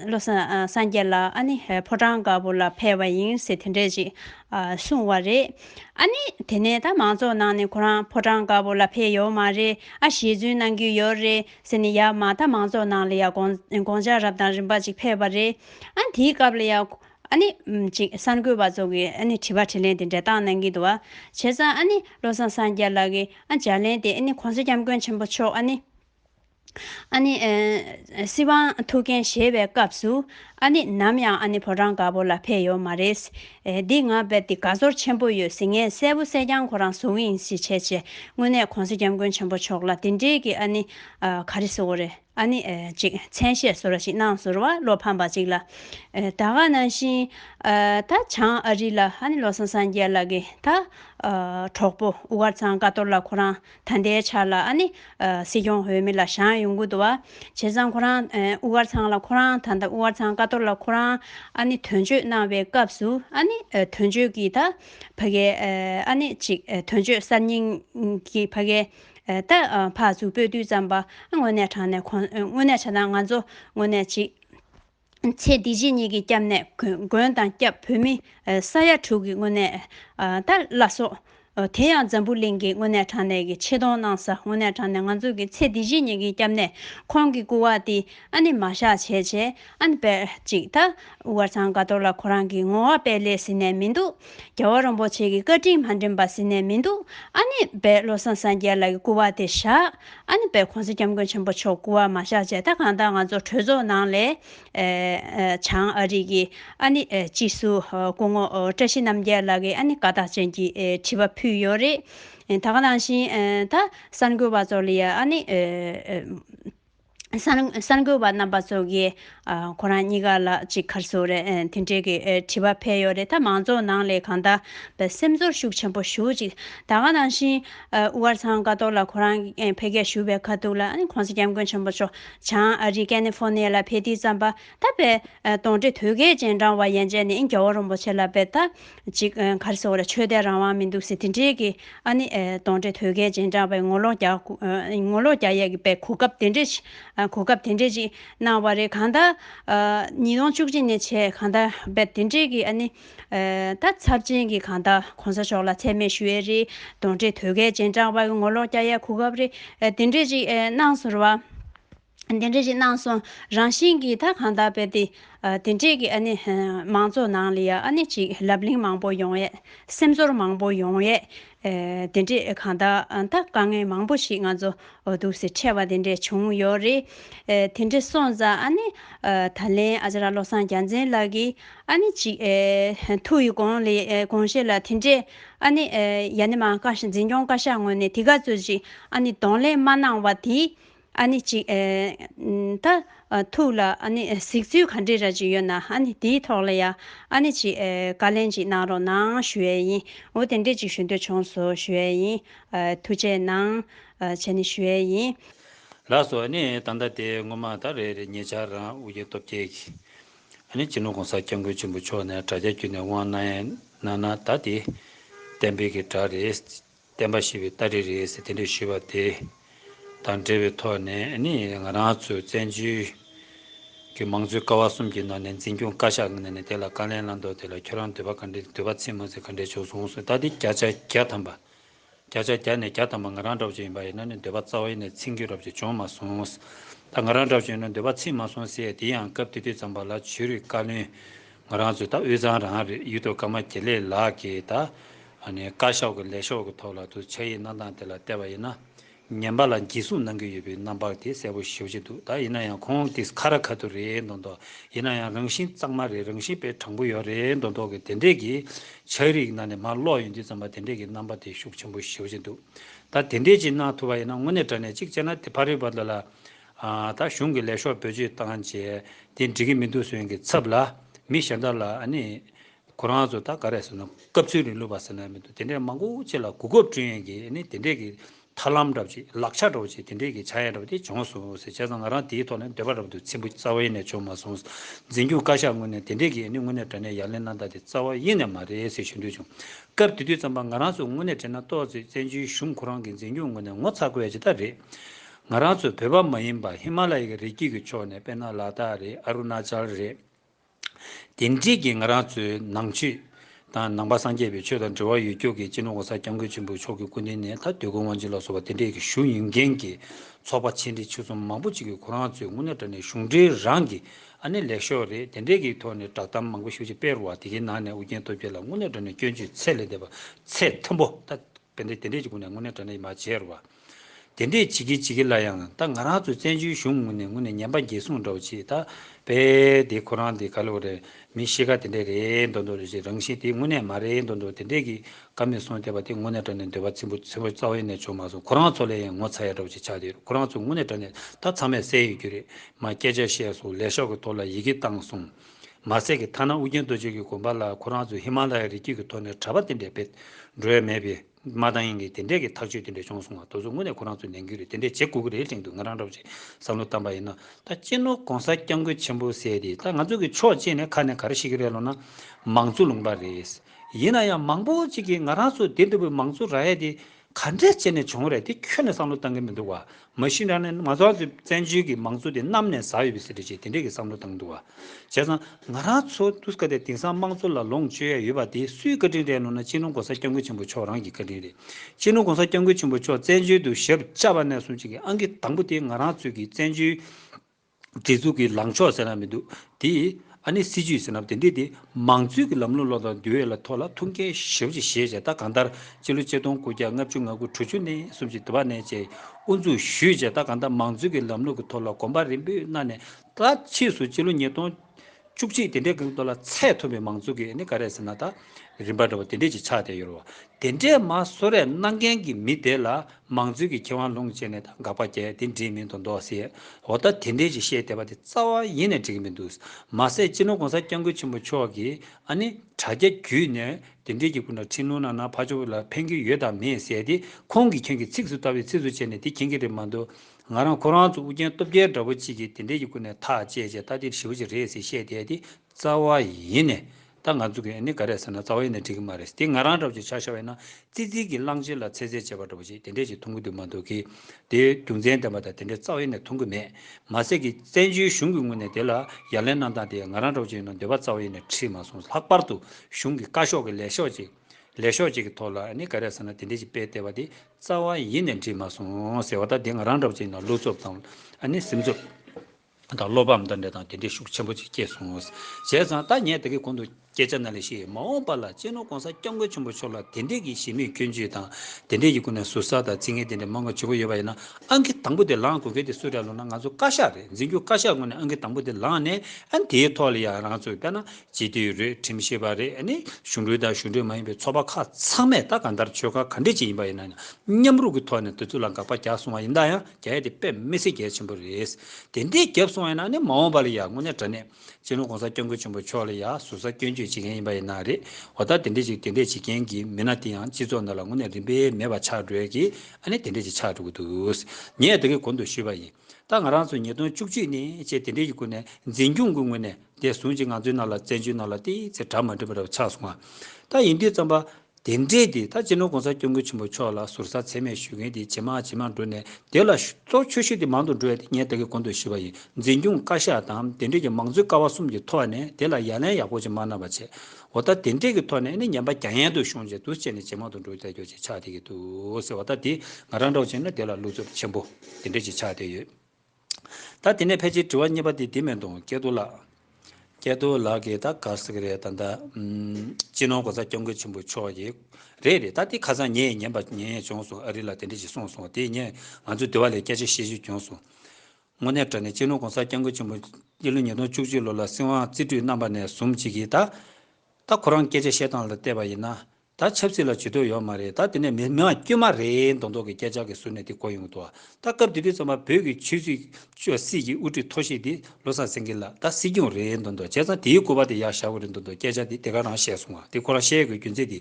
བློ་བཟང་སྒེར་ལ་ཨ་ནེ་ཕོ་བྲང་དཀར་པོ་ལ་ཕེབས་པ་ཡིན་ཟེར་དེ་འདྲས་ཅིག་གསུངས་བ་རེད། ཨ་ནེ་དེ་ནས་ད་མང་ཚོགས་ནང་ནས་ཁོ་རང་ཕོ་བྲང་དཀར་པོ་ལ་ཕེབས་ཡོད་མ་རེད་ཨ་ཞེ་རྫུན་གནང་རྒྱུ་ཡོད་རེད་ཟེར་ནས་ཡར་མ་ད་མང་ཚོགས་ནང་ལ་ཡང་དགོངས་འཇགས་རབ་དང་རིམ་པ་ཅིག་ཕེབས་པ་རེད། ཨ་དེའི་སྐབས་ལ་ཡང་ཨ་ནི། ཅིག་གསར་འགོད་པ་ཚོ་གིས་ཨ་ནི་དྲི་བ་དྲི་ལན་དེ་འབྲེལ་ཐག་གནང་གི་འདུག་བ། བྱས་ཙང་ཨ་ནི་བློ་བཟང་སངས་རྒྱས་ལགས་ཀྱིས་ཨ་ལྗགས་ལན་དེ་ཨ་ནི་གོང་ས་སྐྱབས་མགོན་ཆེན་པོ་མཆོག་ཨ་ནི། ཨ་ནི། སྲིད་དབང་ཐུགས་འགན་བཞེས་བའི་སྐབས་སུ་ཨ་ནི་ནམ་ཡང་ཨ་ནི་ཕོ་བྲང་དཀར་པོ་ལ་ཕེབས་ཡོད་མ་རེད། འདི་ང་བེབས་ཏེ་དགའ་ཚོར་ཆེན་པོ་ཡོད་ཟེར་ངས་གསལ་བོ་གསལ་རྐྱང་ཁོ་རང་བཟོ་གིན་ཞིག་བྱས་རྗེས་དངོས་གནས་གོང་ས་སྐྱབས་མགོན་ཆེན་པོ་མཆོག་ལ་དེ་འདྲེས་ཀྱི་ཨ་ནི། ག་རེ་བཟོ་གོ་རེད། ཨ་ནི། ཅིག་མཚན་བཤད་བཟོ་ར་ཞིག་གནང་ཟོར་བ་བློ་ཕམ་པ་ཅིག་ལ། ད་ག་ནང་བཞིན། ད་བྱང་ཨ་རི་ལ་ཨ་ནི་བློ་བཟང་སངས་རྒྱས་ལགས་ཀྱི་ད། གྲོགས་པོ་དབུ་དཀར་ཚང་ཀ་ཏོར་ལ་ཁོ་རང་ད་ལྟའི་ཆ་ལ་ཨ་ནི། སྲིད་སྐྱོང་འོས་མི་ལ་ཞང་ཡོང་གི་འདུག་བ། བྱས་ཙང་ཁོ་རང་དབུ་དཀར་ཚང་ལ་ཁོ་རང་ད་ལྟ་དབུ་དཀར་ཚང་ཀ་ཏོར་ལ་ཁོ་རང་ཨ་ནི་དོན་གཅོད་གནང་བའི་སྐབས་སུ་ཨ་ནི་དོན་གཅོད་ཀྱི་ད་ཕ་གའི་ཨ་ནི་ཅིག་དོན་གཅོད་གསར་རྙིང་གི་ཕ་གའི། ད་བར་གཟུགས་པོས་བཏུས་ཙམ་པ། དངོས་གནས་དྲང་ནས་ཁོང། དངོས་གནས་བྱ་དང་ང་ཚོ་དངོས་གནས་གཅིག། ཚེ་འདི་བཞིན་གཉིས་ཀྱི་སྐྱབས་གནས་མགོན་དང་སྐྱབས་བོད་མི། ས་ཡ་དྲུག་གི་དངོས་གནས། ད་བླ་སྲོག། དེ་ཡང་འཛམ་བུ་གླིང་གི་དངོས་གནས་དྲང་གནས་ཀྱི་ཆེ་མཐོང་གནང་ས་དངོས་གནས་དྲང་ནས་ང་ཚོ་གི་ཚེ་འདི་བཞིན་གཉིས་ཀྱི་སྐྱབས་གནས་ཁོང་གི་སྐུ་བ་དེ་ཨ་ནི་མ་བཞག་བྱས་བྱས། ཨན་པའི་གཅིག་ད་བར་ཚང་ཀ་ཏོར་ལ་ཁོ་རང་གི་ངོ་བ་དཔལ་ལེ་ཟིན་ནས་མི་འདུག་རྒྱལ་བ་རོན་པོ་ཆེ་གི་བཀའ་དྲིན་མ་འགྲིམ་པ་ཟིན་ནས་མི་འདུག་ཨ་ནི་པའི་བློ་བཟང་སངས་རྒྱས་ལགས་ཀྱི་སྐུ་བ་དེ་བཞག་ཨ་ནི་པའི་གོང་ས་སྐྱབས་མགོན་ཆེན་པོ་མཆོག་སྐུ་བ་མ་བཞག་བྱས་ད་གང་ལྟར་ང་ཚོ་གྲོས་ཚོགས་ནང་ལས་བྱང་ཨ་རིག་གི་ཨ་ནི་སྤྱི་ཟུར་སྐུ་ངོ་བཀྲ་ཤིས་རྣམ་རྒྱལ་ལགས་ཀྱི་ཨ་ནི་བཀའ་རྟགས་ཅན་གྱི་དྲི་བ་ཕུལ་ཡོད་རེད་ད་ག་ནང་བཞིན་ད་གསར་འགོད་བ་ཚོ་ལ་ཡང་ཨ་ནི། གསར་འགོད་པ་རྣམ་པ་ཚོ་གིས་ཁོ་རང་གཉིས་ཀ་ལ་གཅིག་ཁར་སོ་རེ་དེ་འདྲའི་གི་དྲི་བ་འཕེལ་ཡོད་རེད་ད་མང་ཚོགས་ནང་ལས་གང་ད་སེམས་ཚོར་ཤུགས་ཆེན་པོ་ཞུ་ཅིག་ད་ག་ནང་བཞིན་དབུ་ཨར་ཚང་ཀ་ཏོག་ལ་ཁོ་རང་འཕེལ་རྒྱས་ཞུ་བའི་ཁ་ཐུག་ལ ྋགོང་ས ྋསྐྱབས་མགོན་ཆེན་པོ་མཆོག་བྱང་ཨ་རིའི་ཀན་ནི་ཧྥོ་ནེ་ལ་ཕེབས་དུས་བརྩམས་པ་ད་དཔལ་དོང་སྤྲེལ་དུས་སྐད་ཅིག་འབྲང་བ་ཡན་ཆད་ནི་རྒྱལ་བ་རོན་པོ་ཆེ་ལ་དཔལ་ད་ཅིག། གར་སོགས་ལ་ཆོས་དད་རང་དབང་མི་འདུག་ཟེར་དེ་འདྲའི་གི་ཨ་ནི་གདོང་འདྲེ་ཐོད་རྒལ་ཅན་འདྲ་བའི་ངོ་ལོག་རྒྱག་ངོ་ལོག་རྒྱག་ཡས་པའི་གོ་སྐབས་དེ་འདྲས་གོ་སྐབས་དེ་འདྲས་ཅིག་གནང་བ་རེད་གང་ལྟར། ཉིས་སྟོང་བཅུ་གཅིག་ནས་བྱས་གང་ལྟར་བས་དེ་འདྲས་གི་ཨ་ནི། ད་ཚབས་ཆེན་གི་གང་ལྟར་གོང་ས་མཆོག་ལ་མཚན་སྨད་ཞུ་ཡས་རེད་གདོང་འདྲེ་ཐོད་རྒལ་ཅན་འདྲ་བའི་ངོ་ལོག་རྒྱག་ཡས་གོ་སྐབས་རེད་དེ་འདྲས་ཅིག་གནང་སོར་བ། དེ་འདྲ་ཞིག་གནང་སོང་རང་བཞིན་གྱིས་ད་གང་དག་པའི་དེ་དེ་འདྲས་ཀྱི་ཨ་ནི་མང་ཚོགས་ནང་ལ་ཡང་ཨ་ནི་ཅིག་ལབ་གླེང་མང་པོ་ཡོང་ཡས་སེམས་ཚོར་མང་པོ་ཡོང་ཡས་དེ་འདྲས་གང་དག་ད་དཀའ་ངལ་མང་པོ་ཞིག་ང་ཚོ་འདུག་སེ་ཁྲེལ་བ་དེ་འདྲས་བྱུང་ཡོད་རེད། དེ་འདྲས་སོང་ཙང་ཨ་ནི་ད་ལན་ཨ་ཅག་ར་བློ་བཟང་རྒྱ་མཚན་ལགས་ཀྱིས་ཨ་ནི་ཅིག་ཐུགས་ཡི་དགོངས་ལས་དགོངས་བཞེས་ལ་དེ་འདྲས་ཨ་ནི་ཡ་ནི་མ་བཀའ་ཤག་འཛིན་སྐྱོང་བཀའ་ཤག་ངོས་ནས་དེ་ག་ཚོད་ཅིག་ཨ་ནི་གདོང་ལེན་མ་གནང་བ་དེ། ཨ་ནི་གཅིག། ད། ཐུགས་ལ་ཨ་ནི་གཟིགས་ཚུལ་ག་འདྲི་ར་ཅིག་ཡོད་ན་ཨ་ནི་དེའི་ཐོག་ལ་ཡ་ཨ་ནི་གཅིག་བཀའ་ལན་ཅིག་གནང་རོགས་གནང་ཞུ་ཡས་ཡིན་འོ་དེ་འདྲས་ཅིག་ཞུ་འདོད་བྱུང་སོ་ཞུ་ཡས་ཡིན། ཐུགས་ཆེ་གནང། བྱས་ནས་ཞུ་ཡས་ཡིན། ལགས་སོ་ཨ་ནི་ད་ལྟ་དེ་ངོ་མ་ད་རེད་རེད་ཉེ་ཆར་རང་དབུས་རྒྱལ་སྟོབས་རྒྱལ་གྱིས་ཨ་ནི་སྤྱི་ནོར་གོང་ས་སྐྱབས་མགོན་ཆེན་པོ་མཆོག་ནས་དྲ་རྒྱ་བརྒྱུད་ནས་དབང་གནང་ཡས་གནང་ན་ད་དེ་གཏན་འབེབས་ཀྱི་དྲ་རེད། བསྟན་པ་ཞེས་པའི་སྟ་གྲི་རེད་ཟེར་དེ་འདྲས་ཞུས་པ་དེ་དང་འབྲེལ་བའི་ཐོག་ནས་ནི་ང་རང་ཚོའི་བཙན་བྱོལ་གྱི་མང་གཙོའི་ཀ་བ་གསུམ་གྱི་ནང་ནས་འཛིན་སྐྱོང་བཀའ་ཤག་གི་ནང་ནས་དེ་ལ་བཀའ་ལན་གནང་དོགས་དེ་ལ་ཁྱོད་རང་འདོད་པ་ག་འདྲས་འདོད་པ་ཚིག་མ་ཚིག་ག་འདྲས་བྱུང་སོང་ཟེར་ད་དེ་བརྒྱ་ཆ་བརྒྱ་ཐམ་པ་བརྒྱ་ཆ་བརྒྱ་ནས་བརྒྱ་ཐམ་པ་ང་རང་འདྲ་བོ་ཅིག་ཡིན་པ་ཡིན་ན་ནི་འདོད་པ་རྩ་བ་ཡེ་ནས་ཚིག་འགྱུར་རབ་ཅིག་བྱུང་མ་སོང་ད་ང་རང་འདྲ་བོ་ཅིག་ཡིན་ན་འདོད་པ་ཚིག་མ་སོང་ཟེར་ཡས་དེ་ཡང་སྐབས་དུས་དུས་ཙམ་པ་ལ་བྱུས་རིགས་བཀའ་བློན་ང་རང་ཚོའི་ད་དབུས་གཙང་རང་རེད་གཡུ་ཐོག་ཀརྨ་དགེ་ལེགས་ལགས་ཀྱིས་ད་བཀའ་ཤག་གི་ལས་ཤོག་གི་ཐོག་ལ་དུ་ཆ་ཡིག་གནང་སྟངས་དེ་ལ་བལྟས་པ་ཡིན་ན། ངན་པ་ལ་འགྱིག་སྲུང་གནང་གི་ཡོད་པའི་རྣམ་པར་དེ་གསལ་པོ་ཞེ་བོ་ཅིག་འདུག་ད་ཡིན་ན་ཡང་ཁོང་གིས་ཁ་ར་ཁ་ཐུ་རེད་མདོག་མདོག་ཡིན་ན་ཡང་རང་བཞིན་གཙང་མ་རེད་རང་བཞིན་དཔེ་དྲང་པོ་ཡོད་རེད་མདོག་མདོག་གི་དེ་འདྲས་ཀྱི་ཆ་རིག་གནང་ནས་མར་ལོག་ཡོང་རྒྱུ་ཙམ་པ་དེ་འདྲས་ཀྱི་རྣམ་པ་དེ་ཤུགས་ཆེན་པོ་ཞེ་བོ་ཅིག་འདུག་ད་དེ་འདྲས་ཅིག་གནང་ཐུབ་པ་ཡིན་ན་དངོས་གནས་དྲ་གནས་གཅིག་བྱས་ན་དེ་ཕ་རོལ་བར་ལ་ལ། ད་གཞུང་གི་ལས་ཤོག་བེད་སྤྱོད་བཏང་བྱས་དེ་འགྲིག་གི་མི་འདུག་སོན་གི་ཚབ་ལ་མི་གཞན་དག་ལ་ཨ་ནི། ཁོ་རང་ཚོ་ད་ག་རེ་ཟེར་ན་སྐབས་འཚོལ་རིང་ལུགས་པ་ཟེར་ན་མི་འདུག་དེ་འདྲའི་མང་པོ་ཆེ་ལ་གོ་སྐབས་བསྐྲུན་ཡན་གྱི་ནི་དེ་འདྲའི་གི་ཐར་ལམ་འདྲ་བོ་ཆེ་ལག་ཆ་འདྲ་བོ་ཆེ་དེ་འདྲའི་གི་བྱ་ཡན་འདྲ་བོ་དེ་བྱུང་སོང་ཟེར་བྱས་ཙང་ང་རང་དེའི་ཐོག་ནས་འདོད་པ་རབ་ཏུ་ཚིམ་པོ་རྩ་བ་ཡེ་ནས་བྱུང་མ་སོང། འཛིན་སྐྱོང་བཀའ་ཤག་ངོས་ནས་དེ་འདྲའི་གི་ནི་དངོས་གནས་དྲ་གནས་ཡར་ལེན་གནང་སྟངས་དེ་རྩ་བ་ཡེ་ནས་མ་རེད་ཟེར་ཞུ་འདོད་བྱུང། སྐབས་དེ་དུས་ཙམ་པ་ང་རང་ཚོས་དངོས་གནས་དྲན་ན་ཏོག་ཙེ་བཙན་བྱོལ་གཞུང་ཁོ་རང་གི་འཛིན་སྐྱོང་ངོས་ནས་ངོ་ཚ་དགོས་ཅི་ད་རེད། ང་རང་ཚོ་བོད་པ་མ་ཡིན་པ་ཧི་མ་ལ་ཡའི་གི་རི་སྐྱིད་གི་ཕྱོགས་ནས་དཔེར་ན་ལ་དྭགས་རེད་ཨ་རུ་ན་ཅལ་རེད། དེ་འབྲེལ་གྱི་ང་རང་ཚོའི་ནང་ཆོས་དང་ནང་པ་སངས་རྒྱས་པའི་ཆོས་དང་འབྲེལ་བ་ཡོད་ཀྱོག་གི་སྤྱི་ནོར ྋགོང་ས ྋསྐྱབས་མགོན་ཆེན་པོའི་མཆོག་གི་སྐུ་མདུན་ནས་ད་སྟོད་དགོན་དབང་ཆེན་ལགས་སོགས་པ་དེ་འདྲས་ཀྱི་ཞུ་ཡོན་མཁན་གྱི་ཚོགས་པ་ཆེ་འབྲིང་ཆུང་གསུམ་མང་པོ་གཅིག་གིས་ཁོ་རང་ཚོའི་སྔུན་ནས་དྲ་ནས་གཞུང་འབྲེལ་རང་གི་ཨ་ནེ་ལེགས་ཤོག་རེད་དེ་འདྲས་ཀྱི་ཐོག་ནས་བསྒྲགས་གཏམ་མང་པོ་ཤུགས་ཆེ་སྤེལ་བ་དེ་གའི་ནང་ནས་ཨུ་རྒྱན་སྟོབས་རྒྱལ་ལགས་སྔུན་ནས་དྲ་ནས་སྐྱོན་བརྗོད་ཚད་ལས་འདས་པ་ཚད་མཐོན་པོ་ད་དེ་འདྲས་ཀྱི་སྒོ་ནས་སྔུན་ནས་དྲ་ནས་ཡིད་མ་ཆེས་བར། དེ་འདྲས་བྱེད་ཀྱི་བྱེད་ཀྱི་ལ་ཡང་ད་ང་རང་ཚོའི་བཙན་བྱོལ་གཞུང་ངུ་ནས་ངུ་ནས་ཉན་པ་འགྱེལ་སོང་འདྲ་བོ་བྱེད་ད་བས་དེ་ཁོ་རང་དེ་ག་ལེ་བ་རེད་མི་ཤེས་ཀ་དེ་འདྲས་རེད་འདོད་འདོད་ཅིག་རང་བཞིན་དེ་ངུ་ནས་མ་རེད་འདོད་འདོད་དེ་འདྲས་ཀྱི་ག་མེད་སོང་དེ་བ་དེ་ངུ་ནས་དྲ་ནས་འདོད་པ་ཚིམ་བུ་ཚིམ་བུ་རྩ་བའི་ནས་བྱུང་མ་སོང་ཁོ་རང་ཚོ་ལས་ཡང་ངོ་ཚ་ཡ་འདྲ་བོ་ཅིག་ཆགས་དེ་ཁོ་རང་ཚོ་ངུ་ནས་དྲ་ནས་ད་ཚང་མས་གསལ་ཡོད་རྒྱུ་རེད་མ་སྐད་ཆ་བཤད་སོང་ལས་ཤོག་གི་ཐོག་ལ་ཡི་གེ་བཏང་སོང་མ་ཟེར་གི་ཐ་ན་ཨུ་རྒྱན་རྡོ་རྗེ་གི་དགོན་པ་ལ་ཁོ་རང་ཚོས་ཧི་མ་ལ་ཡའི་རི་རྒྱུད་ཀྱི་ཐོག་ནས་གྲྭ་པ་དེ་འདྲས་བེད་འགྲོ་ཡ་མེད་བེད། མ་དང་ཡིན་གྱི་དེ་འདྲས་ཀྱི་ཐག་གཅོད་དེ་འདྲས་བྱུང་སོང་བ་དོལ་ཚོ་དངོས་ནས་ཁོ་རང་ཚོས་ནན་གྱིས་རེད་དེ་འདྲས་བྱེད་དགོས་ཀྱི་རེད་གླིང་དུ་ང་རང་འདྲ་བོ་ཞིག་བསམ་བློ་བཏང་པ་ཡིན་ན་ད་གཅེས་ནོར་གོང་ས་སྐྱབས་མགོན་ཆེན་པོ་ཟེར་དེ་ད་ང་ཚོ་གི་ཕྱོགས་གཅེས་ནས་ཁ་ནས་ག་རེ་བཤད་ཀྱི་རེད་ལོ་ན་མང་གཙོ་ལུང་པ་རེད། ཡིན་ན་ཡང་མང་པོ་ཅིག་གིས་ང་རང་ཚོ་དེ་འདྲ་བོའི་མང་གཙོ་ར་ཡས་དེ་ག་འདྲས་བྱས་ནས་བྱུང་རེད་དེ་ཁྱོན་ནས་བསམ་བློ་བཏང་གི་མི་འདུག་བ་མ་ཤི་འདྲ་ནི་ང་ཚོ་བཙན་བྱོལ་གྱི་མང་གཙོ་དེ་གནམ་ནས་ཟག་ཡོད་པའི་སྲིད་ཏེ་ཅེས་དེ་འདྲས་ཀྱི་བསམ་བློ་བཏང་འདུག་བ། བྱས་ཙང་ང་རང་ཚོ་ཐུགས་ཀ་དེ་དེང་སང་དམངས་གཙོ་ལ་ལོངས་སྤྱོད་ཡ་ཡོད་པ་དེ་སུའི་བཀའ་དྲིན་རེད་ནོ་ན་སྤྱི་ནོར་གོང་ས་སྐྱབས་མགོན་ཆེན་པོ་མཆོག་རང་གི་བཀའ་དྲིན་རེད། སྤྱི་ནོར་གོང་ས་སྐྱབས་མགོན་ཆེན་པོ་མཆོག་བཙན་བྱོལ་དུ་ཞབས་བཅགས་པ་ནས་བཟུང་བྱིན་གྱིས་ཨང་ཀི་དང་པོ་དེ་ང་རང་ཚོའི་གི་བཙན་བྱོལ་སྒྲིག་འཛུགས་ཀྱི་ལངས་ཕྱོགས་ཟེར་ན་མི་འདུག་དེ། ཨ་ནི་སྲིད་ཇུས་ཟེར་ན་དེ་འདི་དེ་མང་གཙོའི་གི་ལམ་ལུགས་བློ་དང་འདུལ་བའི་ལ་ཐོག་ལ་ཐུགས་འགན་ཞེ་བ་ཅིག་བཞེས་བྱས་ད་གང་ལྟར་སྤྱི་ལོ་ཆིག་སྟོང་དགུ་བརྒྱ་ལྔ་བཅུ་ང་དགུ་དྲུག་ཅུ་ནས་གསུམ་བཞི་བདུན་པ་ནས་བཅས་དབུ་འཛུགས་ཞུས་བྱས་ད་གང་ལྟར་མང་གཙོའི་གི་ལམ་ལུགས་ཀྱི་ཐོག་ལ་གོམ་པ་རིམ་སྤོས་གནང་ནས་ད་ཕྱིས་སུ་སྤྱི་ལོ་ཉིས་སྟོང་བཅུ་གཅིག་དེ་འདྲའི་གང་གཏོར་ལ་ཚད་མཐོན་པོའི་མང་ཚོགས་ཀྱིས་ག་རེ་ཟེར་ན་ད་རིམ་པར་འདྲ་བ་དེ་འདྲས་ཀྱི་ཕྱག་དེ་གཡོར་བ་དེ་འདྲས་མ་གསོལ་རས་གནང་མཁན་གྱི་མི་དེ་ལ་མང་ཚོད་ཀྱི་ཁེ་དབང་ལོངས་སྤྱད་ནས་ད་འགག་པ་རྒྱལ་དེ་འདྲས་མིན་དུ་འདོགས་ཟེར་འོ་ད་དེ་འདྲས་ཀྱི་བཤད་བསྡད་པ་དེ་རྩ་བ་ཡེ་ནས་འགྲིག་གི་མི་འདུག་མ་ཟད་སྤྱི་ནོར་གོང་ས་སྐྱབས་མགོན་ཆེན་པོ་མཆོག་གིས་ཨ་ནི་དྲ་རྒྱ་བརྒྱུད་ནས་དེ་འདྲས་ཀྱི་སྐུ་འདྲ་འཕྲིན་ལུང་གནང་ན་ཕ་ཆོ་བོ་ལ་ཕན་གྱི་ཡོད་དམ་མེད་ཟེར་དེ་ཁོང་གིས་ཁྱོད་ཀྱི་ཚིགས་སུ་བཏགས་པའི་ཚིགས་སུ་བཅད་ནས་དེ་མཁྱེན་གྱི་རེད་མ་འདུག་ང་རང་ཁོ་རང་ཚོ་དབུ་རྒྱན་སྟོབས་རྒྱལ་འདྲ་བོ་གཅིག་གིས་དེ་འབྲེལ་གྱི་སྐུ་ནས་ཐག་བཅད་བཅད་ད་འདིར་ཞི་བ་ཅིག་རེད་ཟེར་བཤད་བསྡད་དེ་རྩ་བ་ཡིན་ནས་ད་ང་ཚོ་གིས་ཨེ་ནི་ག་རེ་ཟེར་ན་རྩ་བ་ཡིན་ནས་འགྲིག་གི་མ་རེད་དེ་ང་རང་འདྲ་བོ་ཅིག་ཆ་ཤ་བའི་ནང་ཙི་ཙི་གིས་གླང་ཆེན་ལ་ཚེ་ཚད་བཅད་པ་འདྲ་བོ་ཅིག་དེ་འབྲེལ་གྱི་མཐོང་གི་འདུག་མ་འདུག་གི་དེ་རྒྱུ་མཚན་ལྡན་པ་དང་དེ་འདྲའི་རྩ་བ་ཡིན་ནས་མཐོང་གི་མེད་མ་ཟད་ཀྱི་བཙན་བྱོལ་གཞུང་གི་ངོས་ནས་དེ་ལ་ཡ་ལན་གནང་སྟངས་དེ་ང་རང་འདྲ་བོ་ཅིག་ཡིན་ན་འདོད་པ་རྩ་བ་ཡིན་ནས་ཁྲིད་མ་སོང་ལྷག་པར་དུ་གཞུང་གི་བཀའ་ཤོག་གི་ལས་ཤོག་ཅིག། ལས་ཤོག་ཅིག་གི་ཐོག་ལ་ནི་ག་རེ་ཟེར་ན་དེ་འདྲའི་ཞིག་སྤེལ་བསྡད་པ་དེ་རྩ་བ་ཡིན་ནས་འགྲིག་མ་སོང་ཟེར་བ་དང་དེ་ང་རང་འདྲ་བ་ཅིག་ཡིན་ན་ལུས་རྩོབ་དང་ནི་སེམས་རྩོབ་དང་བློ་ཕམ་འདི་འདྲ་དང་དེ་འདྲའི་ཤུགས་ཆེན་པོ་ཅིག་སྐྱེས་སོང། བྱས་ཙང་ད་ངས་དེ་གའི་གོང་དུ་སྐད་ཆ་ནང་ལས་ཤེས། མ་འོངས་པ་ལ་སྤྱི་ནོར ྋགོང་ས ྋསྐྱབས་མགོན་ཆེན་པོ་མཆོག་ལ་དེ་འདྲའི་གི་ཞི་མོལ་སྐྱོན་བརྗོད་དང་དེ་འདྲའི་གི་སྐུ་ན་ཟུར་ཟ་དང་ཚིག་ངན་དེ་འདྲའི་མང་གི་བྱུས་པོ་ཡོད་པ་ཡིན་ན་ཨང་ཀི་དང་པོ་དེ་ལངས་དགོས་གལ་ཏེ་སུ་རེད་ལོ་ན་ང་ཚོ་བཀའ་ཤག་རེད་འཛིན་རྒྱུ་བཀའ་ཤག་ངོས་ནས་ཨང་ཀི་དང་པོ་དེ་ལངས་ནས་ཨ་ནི་དེའི་ཐོག་ལ་ཡང་རང་ཚོས་བལྟས་ན་བྱེད་ཀྱི་ཡོད་རེད་དྲིན་ཤེས་པ་རེད་ནི་གཞུང་འབྲེལ་དང་གཞུང་འབྲེལ་མ་ཡིན་པའི་ཚོགས་པ་ཁག་ཚང་མས་ད་གང་ལྟར་ཆོལ་ཁ་ག་འདྲས་ཅིག་ཡིན་པ་ཡིན་ནའང་མཉམ་རུབ་ཀྱི་ཐོག་ནས་དེ་ཚོ་ལ་དགག་པ་རྒྱག་སོང་བ་ཡིན་ད་ཡང་རྒྱ་ཡིག་དེ་དཔེ་མི་སྲིད་གལ་ཆེན་པོ་རེད། དེ་འདྲས་བརྒྱབ་སོང་བ་ཡིན་ན་ནི་མ་འོངས་པ་ལ་ཡང་དངོས་གནས་དྲ་གནས་སྤྱི་ལོ་གོང་ས་སྐྱབས་མགོན་ཆེན་པོ་མཆོག་ལ་ཡང་ཟུར་ཟ་སྐྱོན་བརྗོད་བྱེད་མཁན་ཡིན་པ་ཡིན་ན་རེད་འོ་ད་དེ་འདྲས་ཅིག་དེ་འདྲས་བྱེད་མཁན་གྱི་མི་སྣ་དེ་ཡང་སྤྱི་ཚོགས་འདི་ལ་དངོས་གནས་རིན་པའི་མེད་པ་ཆགས་འགྲོས་ཀྱི་ཨ་ནི་དེ་འདྲས་ཅིག་ཆགས་འགྲོ་གི་འདུག་ངས་ད་གིན་གོང་དུ་ཞུས་པ་ཡིན་ད་ང་རང་ཚོ་ཉིས་སྟོང་བཅུ་གཅིག་ནས་བཅས་དེ་འདྲས་ཀྱི་སྐུ་ནས་འཛིན་སྐྱོང་གི་ངོས་ནས། དེ་ཟུང་ཅིག་ང་ཚོའི་ནང་ལ་བཙན་བྱོལ་ནང་ལ་དེའི་ཚེ་གྲ་མ་འགྲིམ་པ་རེ་བ་ཆགས་སོང་ང། ད་ཡིན་དུས་བརྩམས་པ། དེ་འདྲས་དེ་ད་སྤྱི་ནོར་གོང་ས་སྐྱོང་ཀུན་ཆེན་པོ་མཆོག་ལ་ཟུར་ཟ་ཚད་མེད་ཞུ་མཁན་དེ་ཇེ་མང་ཇེ་མང་འགྲོ་ནས་དེ་ལ་གཙོ་ཆོས་ཞུ་དེ་མང་དུ་འགྲོ་ཡ་དེ་ངས་ད་གི་གོང་དུ་ཞུས་པ་ཡིན་འཛིན་སྐྱོང་བཀའ་ཤག་དང་དེ་འདྲས་ཀྱི་མང་གཙོའི་ཀ་བ་གསུམ་གྱི་ཐོག་ནས་དེ་ལ་ཡ་ལན་ཡག་པོ་ཅིག་མ་གནང་བ་བྱས་འོ་ད་དེ་འདྲས་ཀྱི་ཐོག་ནས་ནི་ཉན་པ་རྒྱ་ཡན་དུ་ཤོང་བྱས་དུས་བྱས་ནས་ཇེ་མང་དུ་འགྲོ་བསྡད་རྒྱོ་ཅིག་ཆགས་བསྡད་ཀྱི་འདུག་ཟེར་བ་ད་དེ་ང་རང་གྲོགས་ཅིག་ནི་དེ་ལ་ཀླུ་རྫོབ་ཆེན་པོ་དེ་འདྲས་ཅིག་ཆགས་བསྡད་ཡོད། ད་དེ་ནས་ཕལ་ཆེར་དྲི་བ་གཉིས་པ་དེ་འདི་མེད་འདུག་སྐལ་རྡོར་ལགས། སྐལ་རྡོར་ལགས་ཀྱིས་ད་ག་ཟེ་གི་རེད་ད། སྤྱི་ནོར་གོ་ས་སྐྱབས་མགོན་ཆེན་པོ་མཆོག་གིས། རེད་རེད་ད་དེ་ཁ་སང་ངས་ཉན་པ་ངས་བྱུང་སོང་ཨ་རི་ལ་དེ་འདྲ་ཞིག་སོང་སོང་དེ་ངས་ང་ཚོའི་སྡེ་བ་ལས་སྐད་ཆ་བཤད་རྒྱུ་བྱུང་སོང། དངོས་གནས་དྲ་ནས་སྤྱི་ནོར་གོང་ས་སྐྱབས་མགོན་ཆེན་པོ། སྤྱི་ལོ་ཉིས་སྟོང་བཅུ་གཅིག་ལོ་ལ་སྲིད་དབང་རྩིས་སྤྲོད་རྣམ་པ་ནས་ཟུམ་བྱེད་ཀྱི་ད། ད་ཁོ་རང་སྐད་ཆ་བཤད་སྟངས་ལ་བལྟས་པ་ཡིན་ན། ད་ཆབ་སྲིད་ལ་ཇུས་གཏོགས་ཡོད་མ་རེད་ད་དེ་ནས་མི་དམངས་དཀྱུས་མ་རེད་མདོག་མདོག་གི་སྐད་ཆ་གི་ཟུར་ནས་དེ་གོ་ཡོང་གི་འདུག་ད་སྐབས་དེ་དུས་ཚང་མ་བོད་ཀྱི་ཆོས་སྲིད་ཆོས་སྲིད་ཀྱི་དབུ་ཁྲིད་ཐོ་ཤིག་དེ་བློ་བཟང་སེང་གེ་ལགས་ད་སྲིད་སྐྱོང་རེད་མདོག་མདོག་བྱས་ཙང་དེའི་སྐུ་པར་དེ་ཡག་ཤ་བོ་རེད་མདོག་མདོག་སྐད་ཆ་དེ་དེ་ག་རང་བཤད་སོང་ང་དེ་ཁོ་རང་བཤད་དགོས་རྒྱུ་མཚན་དེ་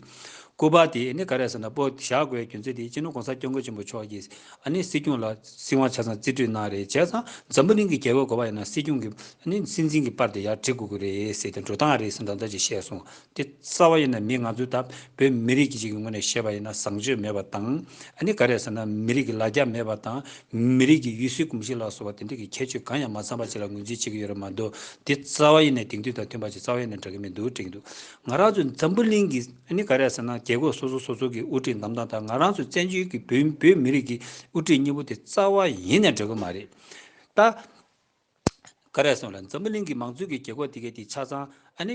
སྐུ་པར་དེ་ནི་ག་རེ་ཟེར་ན་པོ་བཞག་དགོས་རྒྱུ་མཚན་དེ་སྤྱི་ནོར་གོང་ས་སྐྱོང་མགོན་ཆེན་པོ་མཆོག་གིས་ཨ་ནི་སྲིད་སྐྱོང་ལ་སྲིད་དབང་ཆ་ཚང་རྩིས་སྤྲོད་གནང་རེད་བྱས་ཙང་འཛམ་བུ་གླིང་གི་རྒྱལ་བོའི་གོ་པ་ཡིན་ན་སྲིད་སྐྱོང་གི་ཨ་ནི་སྲིད་འཛིན་གྱི་པར་དེ་ཡག་བྲི་དགོས་ཀྱི་རེད་ཟེར་དེ་འགྲོ་སྟངས་རེད་ཟེར་མདོག་མདོག་ཅིག་བཤད་སོང་དེ་རྩ་བ་ཡིན་ན་མི་ང་ཚོས་ད་བོད་མི་རིགས་ཀྱི་ཞིག་གི་ངོས་ནས་བཤད་པ་ཡིན་ན་བཟང་སྤྱོད་མེད་པ་དང། ཨ་ནི་ག་རེད་ཟེར་ན་མི་རིགས་ཀྱི་ལ་རྒྱ་མེད་པ་དང། མི་རིགས་ཀྱི་ཡུལ་སྲོལ་གོམས་གཤིས་ལ་སོགས་པ་དེ་འདྲ་གི་ཁྱད་ཆོས་གང་ཡང་མ་ཚང་པ་ཅིག་ལ་ངོས་འཛིན་བྱེད་ཀྱི་ཡོད་རེད་མ་འདུག་དེ་རྩ་བ་ཡིན་ནས་དེང་དུས་དང་མཐུན་པ་ཅིག་རྩ་བ་ཡིན་ནས་འདྲ་གི་མི་འདུག་དྲན་གྱི་འདུག་ང་རང་ཚོའི་འཛམ་བུ་གླིང་གི་ཨ་ནི་ག་རེད་ཟེར་ན་རྒྱལ་ཁོག་སོ་སོ་སོ་སོ་གི་དབུ་ཁྲིད་འདམ་དང་དང་ང་རང་ཚོའི་བཙན་བྱོལ་གྱི་བོད་མི་རིགས་ཀྱི་དབུ་ཁྲིད་གཉིས་པོ་དེ་རྩ་བ་ཡིན་ནས་འདྲ་གི་མ་རེད་ད། ཀ་རས་སོང་ལ་འཛམ་བུ་གླིང་གི་མང་གཙོའི་གི་གེ་ཁོག་དེ་གའི་དེ་ཆ་ཚང་ཨ་ནི།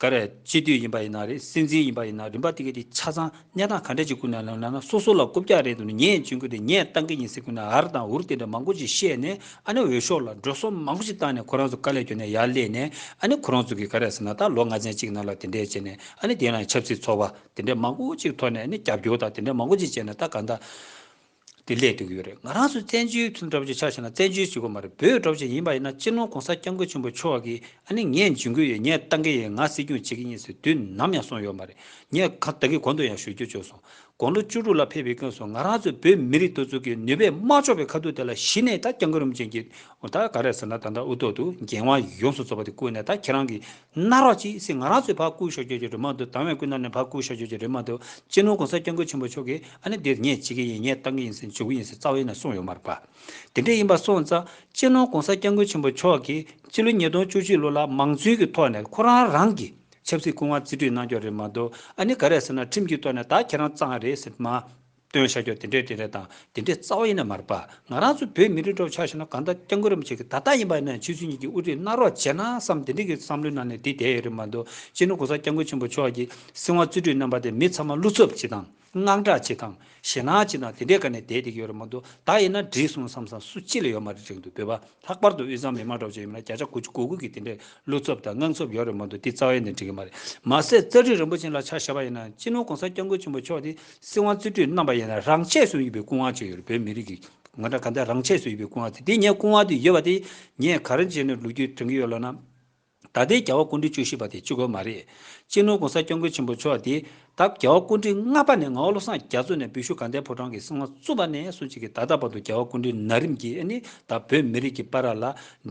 ཀ་རས་སྤྱི་འཐུས་ཡིན་པ་ཡིན་ན་རེད་སྲིད་འཛིན་ཡིན་པ་ཡིན་ན་རིམ་པ་དེ་གའི་དེ་ཆ་ཚང་གནས་སྟངས་ག་འདྲ་ཅིག་ཀུན་ནས་ལོན་ན་ན་སོ་སོ་ལ་རྐུབ་བཀྱག་རེད་འདུག་ནི་ངས་བྱེད་འགོ་དེ་ངས་བཏང་གི་ཡིན་ཟེར་ཀུན་ནས་ཨར་དང་འུར་དེ་འདྲ་མང་པོ་ཅིག་བཤད་ནས་ཨ་ནི་འོས་ཤོག་ལ་འགྲོ་སོང་མང་པོ་ཅིག་བཏང་ནས་ཁོ་རང་ཚོ་དཀའ་ལས་གྱོན་ནས་ཡར་སླེབས་ནས་ཨ་ནི་ཁོ་རང་ཚོ་གི་ཀ་རས་ཟེར་ན་ད་ལོ་ལྔ་ཚན་གཅིག་ནང་ལ་དེ་འདྲས་བྱས་ནས་ཨ་ནི་དེ་ཡང་ཆབ་སྲིད་ཚོགས་པ་དེ་འདྲས་མང་པོ་ཅིག་ཐོག་ནས་ཨ་ནི་རྒྱབ་སྐྱོར་དང་དེ་འདྲས་མང་པོ་ཅིག་བྱས་ནས་ད་ག་འདྲ། དེ་སླད་དུ་ཡོད་རེད་ང་རང་ཚོ་བཙན་བྱོལ་ཁྱིམ་སྒྲོག་བྱེད་ཆགས་ཆེ་ན་བཙན་བྱོལ་བྱེད་དགོས་མ་རེད་བོད་སྒྲོག་བྱེད་ཡིན་པ་ཡིན་ན་སྤྱིར་ནོར་གོང་ས་སྐྱབས་མགོན་ཆེན་པོ་མཆོག་གིས་ཨ་ནི་ངས་འཇུན་གི་ཡོད་ངས་བཏང་གི་ཡོད་ང་སྲིད་སྐྱོང་བྱེད་ཀྱི་ཡིན་ཟེར་དུས་ནམ་ཡང་སོང་ཡོད་མ་རེད་ངས་གང་ལྟ་གི་གོང་དུ་ཡང་ཞུ་རྒྱུ་བཅོས་སོང་དགོང་ལོ་བཅུ་དྲུག་ལ་ཕེབས་པའི་སྐྱོན་སོང་ང་རང་ཚོ་བོད་མི་རིགས་གཏོར་ཚུགས་ཀྱི་ནུས་པས་དམག་ཕྱོགས་པའི་ཁ་ཐུག་དེ་ལ་གཞི་ནས་ད་སྐྱབས་མགོན་རིན་པོ་ཆེན་གྱིས་ད་ག་རེད་ཟེར་ན་ད་ལྟ་དབུ་ཐོག་ཏུ་འགན་དབང་ཡོངས་སུ་རྫོགས་པ་དེ་བསྐུར་ནས་ད་ཁྱེད་རང་གིས་ནག་རོག་ཅིག་སེ་ང་རང་ཚོའི་ཕ་བཀུར་ཤོར་རྒྱུ་ཡོད་རེད་མ་འདུག་དྭང་བས་བཀུར་ན་ནི་ཕ་བཀུར་ཤོར་རྒྱུ་ཡོད་རེད་མ་འདུག་གཅེས་ནོར་གོང་ས་སྐྱབས་མགོན་ཆེན་པོ་མཆོག་གིས་ཨ་ནི་འདིར་ངས་བྱེད་ཀྱི་ཡིན་ངས་བཏང་གི་ཡིན་ཟེར་འཇུག་གི་ཡིན་ཟེར་རྩ་བ་ཡིན་ན་གསུངས་ཡོད་མ་རེད་པ། དེ་འདྲས་ཡིན་པ་སོང་ཙང་གཅེས་ནོར་གོང་ས་སྐྱབས་མགོན་ཆེན་པོ་མཆོག་གིས་སྤྱི་ལོ་ཉིས་སྟོང་བཅུ་བཞི་ལོ་ལ་མང་གཙོའི་གི་ཐོག་ནས་ཁོ་རང་རང་གི་ཆབ་སྲིད་སྐུ་དབང་རྩིས་སྤྲོད་གནང་རྒྱུ་རེད་མ་འདུག་ཨ་ནི་ག་རེ་ཟེར་ན་ཁྲིམས་ཀྱི་ཐོག་ནས་ད་ཁྱེད་རང་གཙང་རེད་ཟེར་མ་སྟོན་བྱ་ཁྱོད་དེ་འདྲས་དེ་འདྲས་དང་དེ་འདྲས་རྩ་བ་ཡིན་ན་མ་རེད་པ། ང་རང་ཚོ་བོད་མི་རིགས་འགྲོ་བ་ཆགས་ཤི་ན་གང་ལྟར་སྐྱབས་མགོན་རིན་པོ་ཆེ་གི་ད་ལྟ་ཡིན་པ་ཡིན་ན་ཕྱི་ཚུལ་གཉིས་ཀྱི་དབུ་ཁྲིད་གནང་རོགས་བྱས་ན་བསམ་དེ་འདྲས་ཀྱི་བསམ་བློའི་ནང་ནས་དེ་བསྡད་ཡོད་རེད་མ་འདུག་སྤྱིར་ན་གོང་ས་སྐྱབས་མགོན་ཆེན་པོ་མཆོག་གི་སྲིད་དབང་རྩོད་དུས་རྣམ་པ་དེ་མི་ཚང་མ་བསླུ་ཚབ་བྱེད་དང་དངངས་སྐྲག་བྱེད་དང་ཞེ་སྣང་བྱེད་དང་དེ་འདྲས་ཀ་ནས་བསྡད་བསྡད་ཀྱི་ཡོད་རེད་མ་འདུག་ད་ཡིན་ན་འགྲིག་སོང་བསམ་བསམ་སུ་ཅི་ལ་ཡོད་མ་རེད་རིང་དུ་བོད་པ། ལྷག་པར་དུ་དབུས་གཙང་མི་དམངས་གྲོགས་ཅན་ཡིན་པ་ན་བརྒྱ་ཆ་དགུ་བཅུ་གོ་དགུ་གིས་དེ་འདྲའི་ཀླུ་འཚོབ་དང་དངངས་འཚོབ་ཡོད་རེད་མ་འདུག་འདི་རྩ་བའི་ནས་འགྲིག་གི་མ་རེད། མ་ཟད་རྩ་ཁྲིད་རིན་པོ་ཆེན་ལ་ཆ་བཞག་པ་ཡིན་ན་སྤྱི་ནོར་གོང་ས་སྐྱབས་མགོན་ཆེན་པོ་མཆོག་ནི་སྲིད་དབང་རྩིས་སྤྲོད་གནང་པ་ཡིན་ན་རང་ཆས་སུ་ཡོད་པའི་སྐུ་དབང་ཅིག་ཡོད་རེད་བོད་མི་རིགས་ཀྱི་ང་འདྲ་ག་འདྲ་རང་ཆས་སུ་ཡོད་པའི་སྐུ་དབང་དེ་དེ་ངས་སྐུ་དབང་དེ་ཡོད་པ་དེ་ངས་ག་རེ་བྱས་ནས་ལུགས་རྒྱུས་དྲན་གྱི་ཡོད་ལབ་ན། ད་ལྟའི་རྒྱལ་བ་སྐུ་འདྲིལ་བཅུ་བཞི་པ་དེ་ཅི་དགོས་མ་རེད། སྤྱི་ནོར ྋགོང་ས ྋསྐྱབས་མགོན་ཆེན་པོ་མཆོག་འདི་ད་རྒྱལ་བ་སྐུ་འདྲིལ་ལྔ་པ་ནས་ངའོ་བློ་བཟང་རྒྱ་མཚོ་ནས་བི་ཤུ་ག་འདའི་ཕོ་བྲང་གི་གསང་བ་བཙུགས་པ་ནས་བཟུང་གཅིག་གིས་ད་ལྟ་བར་དུ་རྒྱལ་བ་སྐུ་འདྲིལ་ན་རིམ་གྱིས་ཨ་ནི་ད་བོད་མི་རིགས་ཀྱི་པ་ར་ལ་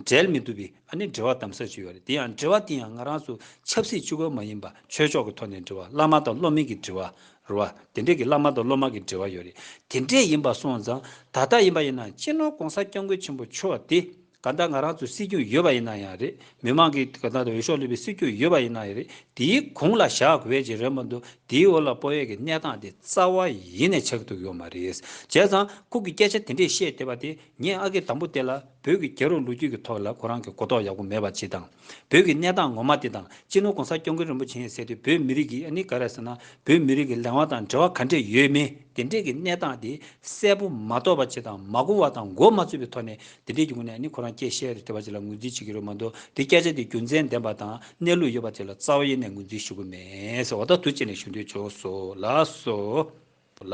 འབྲལ་མི་ཐུབ་བི་ཨ་ནི་འབྲེལ་བ་དམ་ཟབ་ཅིག་ཡོད་རེད་དེ་ཡང་འབྲེལ་བ་དེ་ཡང་ང་རང་ཚོ་ཆབ་སྲིད་ཅི་དགོས་མ་ཡིན་པ་ཆོས་ཕྱོགས་ཀྱི་ཐོག་ནས་འབྲེལ་བ་བླ་མ་དང་སློབ་མིན་གྱི་འབྲེལ་བ་རུ་བ་དེ་འདྲས་ཀྱི་བླ་མ་དང་སློབ་མ་གྱི་འབྲེལ་བ་ཡོད་རེད་དེ་འདྲས་ཡིན་པ་སོང་ཙང་ད་ལྟ་ཡིན་པ་ཡིན་ན་སྤྱི་ནོར ྋགོང་ས ྋསྐྱབས་མགོན་ཆེན་པོ་མཆོག་འདི། གང་ལྟར་ང་རང་ཚོའི་སྲིད་སྐྱོང་ཡོད་པ་ཡིན་ན་ཡང་རེད། མི་མང་གིས་གང་ལྟར་འོས་ཤོག་སླེབས་པའི་སྲིད་སྐྱོང་ཡོད་པ་ཡིན་ན་ཡང་རེད། དེའི་གུང་ལ་བཞག་དགོས་བྱས་རེད་མ་འདུག་དེའི་འོག་ལ་སྤོ་ཡས་ཀྱི་གནས་སྟངས་དེ་རྩ་བ་ཡེ་ནས་ཆགས་ཐུབ་ཡོད་མ་རེད། བྱས་ཙང་ཁོང་གིས་སྐད་ཆ་དེ་འདྲས་བཤད་བསྡད་པ་དེ་ངས་ཨ་ཁེ་དང་པོ་དེ་ལ་བོད་ཀྱི་རྒྱལ་རོང་ལོ་རྒྱུས་ཀྱི་ཐོག་ལ་ཁོ་རང་གིས་གོ་རྟོགས་ཡག་པོ་མེད་པ་བྱས་དང། བོད་ཀྱི་གནས་སྟངས་ངོ་མ་དེ་དང་སྤྱི་ནོར་གོང་ས་སྐྱོང་མཁན་རིན་པོ་ཆེ་ཡིན་ཟེར་དུས་བོད་མི་རིགས་ཀྱིས་ཨ་ནི་ག་རེ་ཟེར་ན་བོད་མི་རིགས་ཀྱི་ལས་དབང་དང་འབྲེལ་བ་ག་འདྲས་ཡོད་མེད་དེ་འདྲས་ཀྱི་གནས་སྟངས་དེ་གསལ་པོ་མ་རྟོགས་པ་བྱས་དང་མ་གོ་བ་དང་མགོ་མ་ཚོས་པའི་ཐོག་ནས་དེ་འབྲེལ་གྱི་ངོས་ནས་ནི་ཁོ་རང་སྐད་བཤད་རེ་ཐོས་པ་དེ་ལ་ངོས་འཛིན་བྱེད་ཀྱི་རོལ་མ་མདོ་དེ་སྐད་ཆ་དེ་རྒྱུ་མཚན་ལྡན་པ་དང་གནས་ལུགས་ཡོད་པ་དེ་ལ་རྩ་བ་ཡེ་ནས་ངོས་འཛིན་ཞུ་གི་མེད། འོ་ད་དུ་ཅི་ནས་ཞུ་འདོད་བྱུང་སོལསོལསོལ།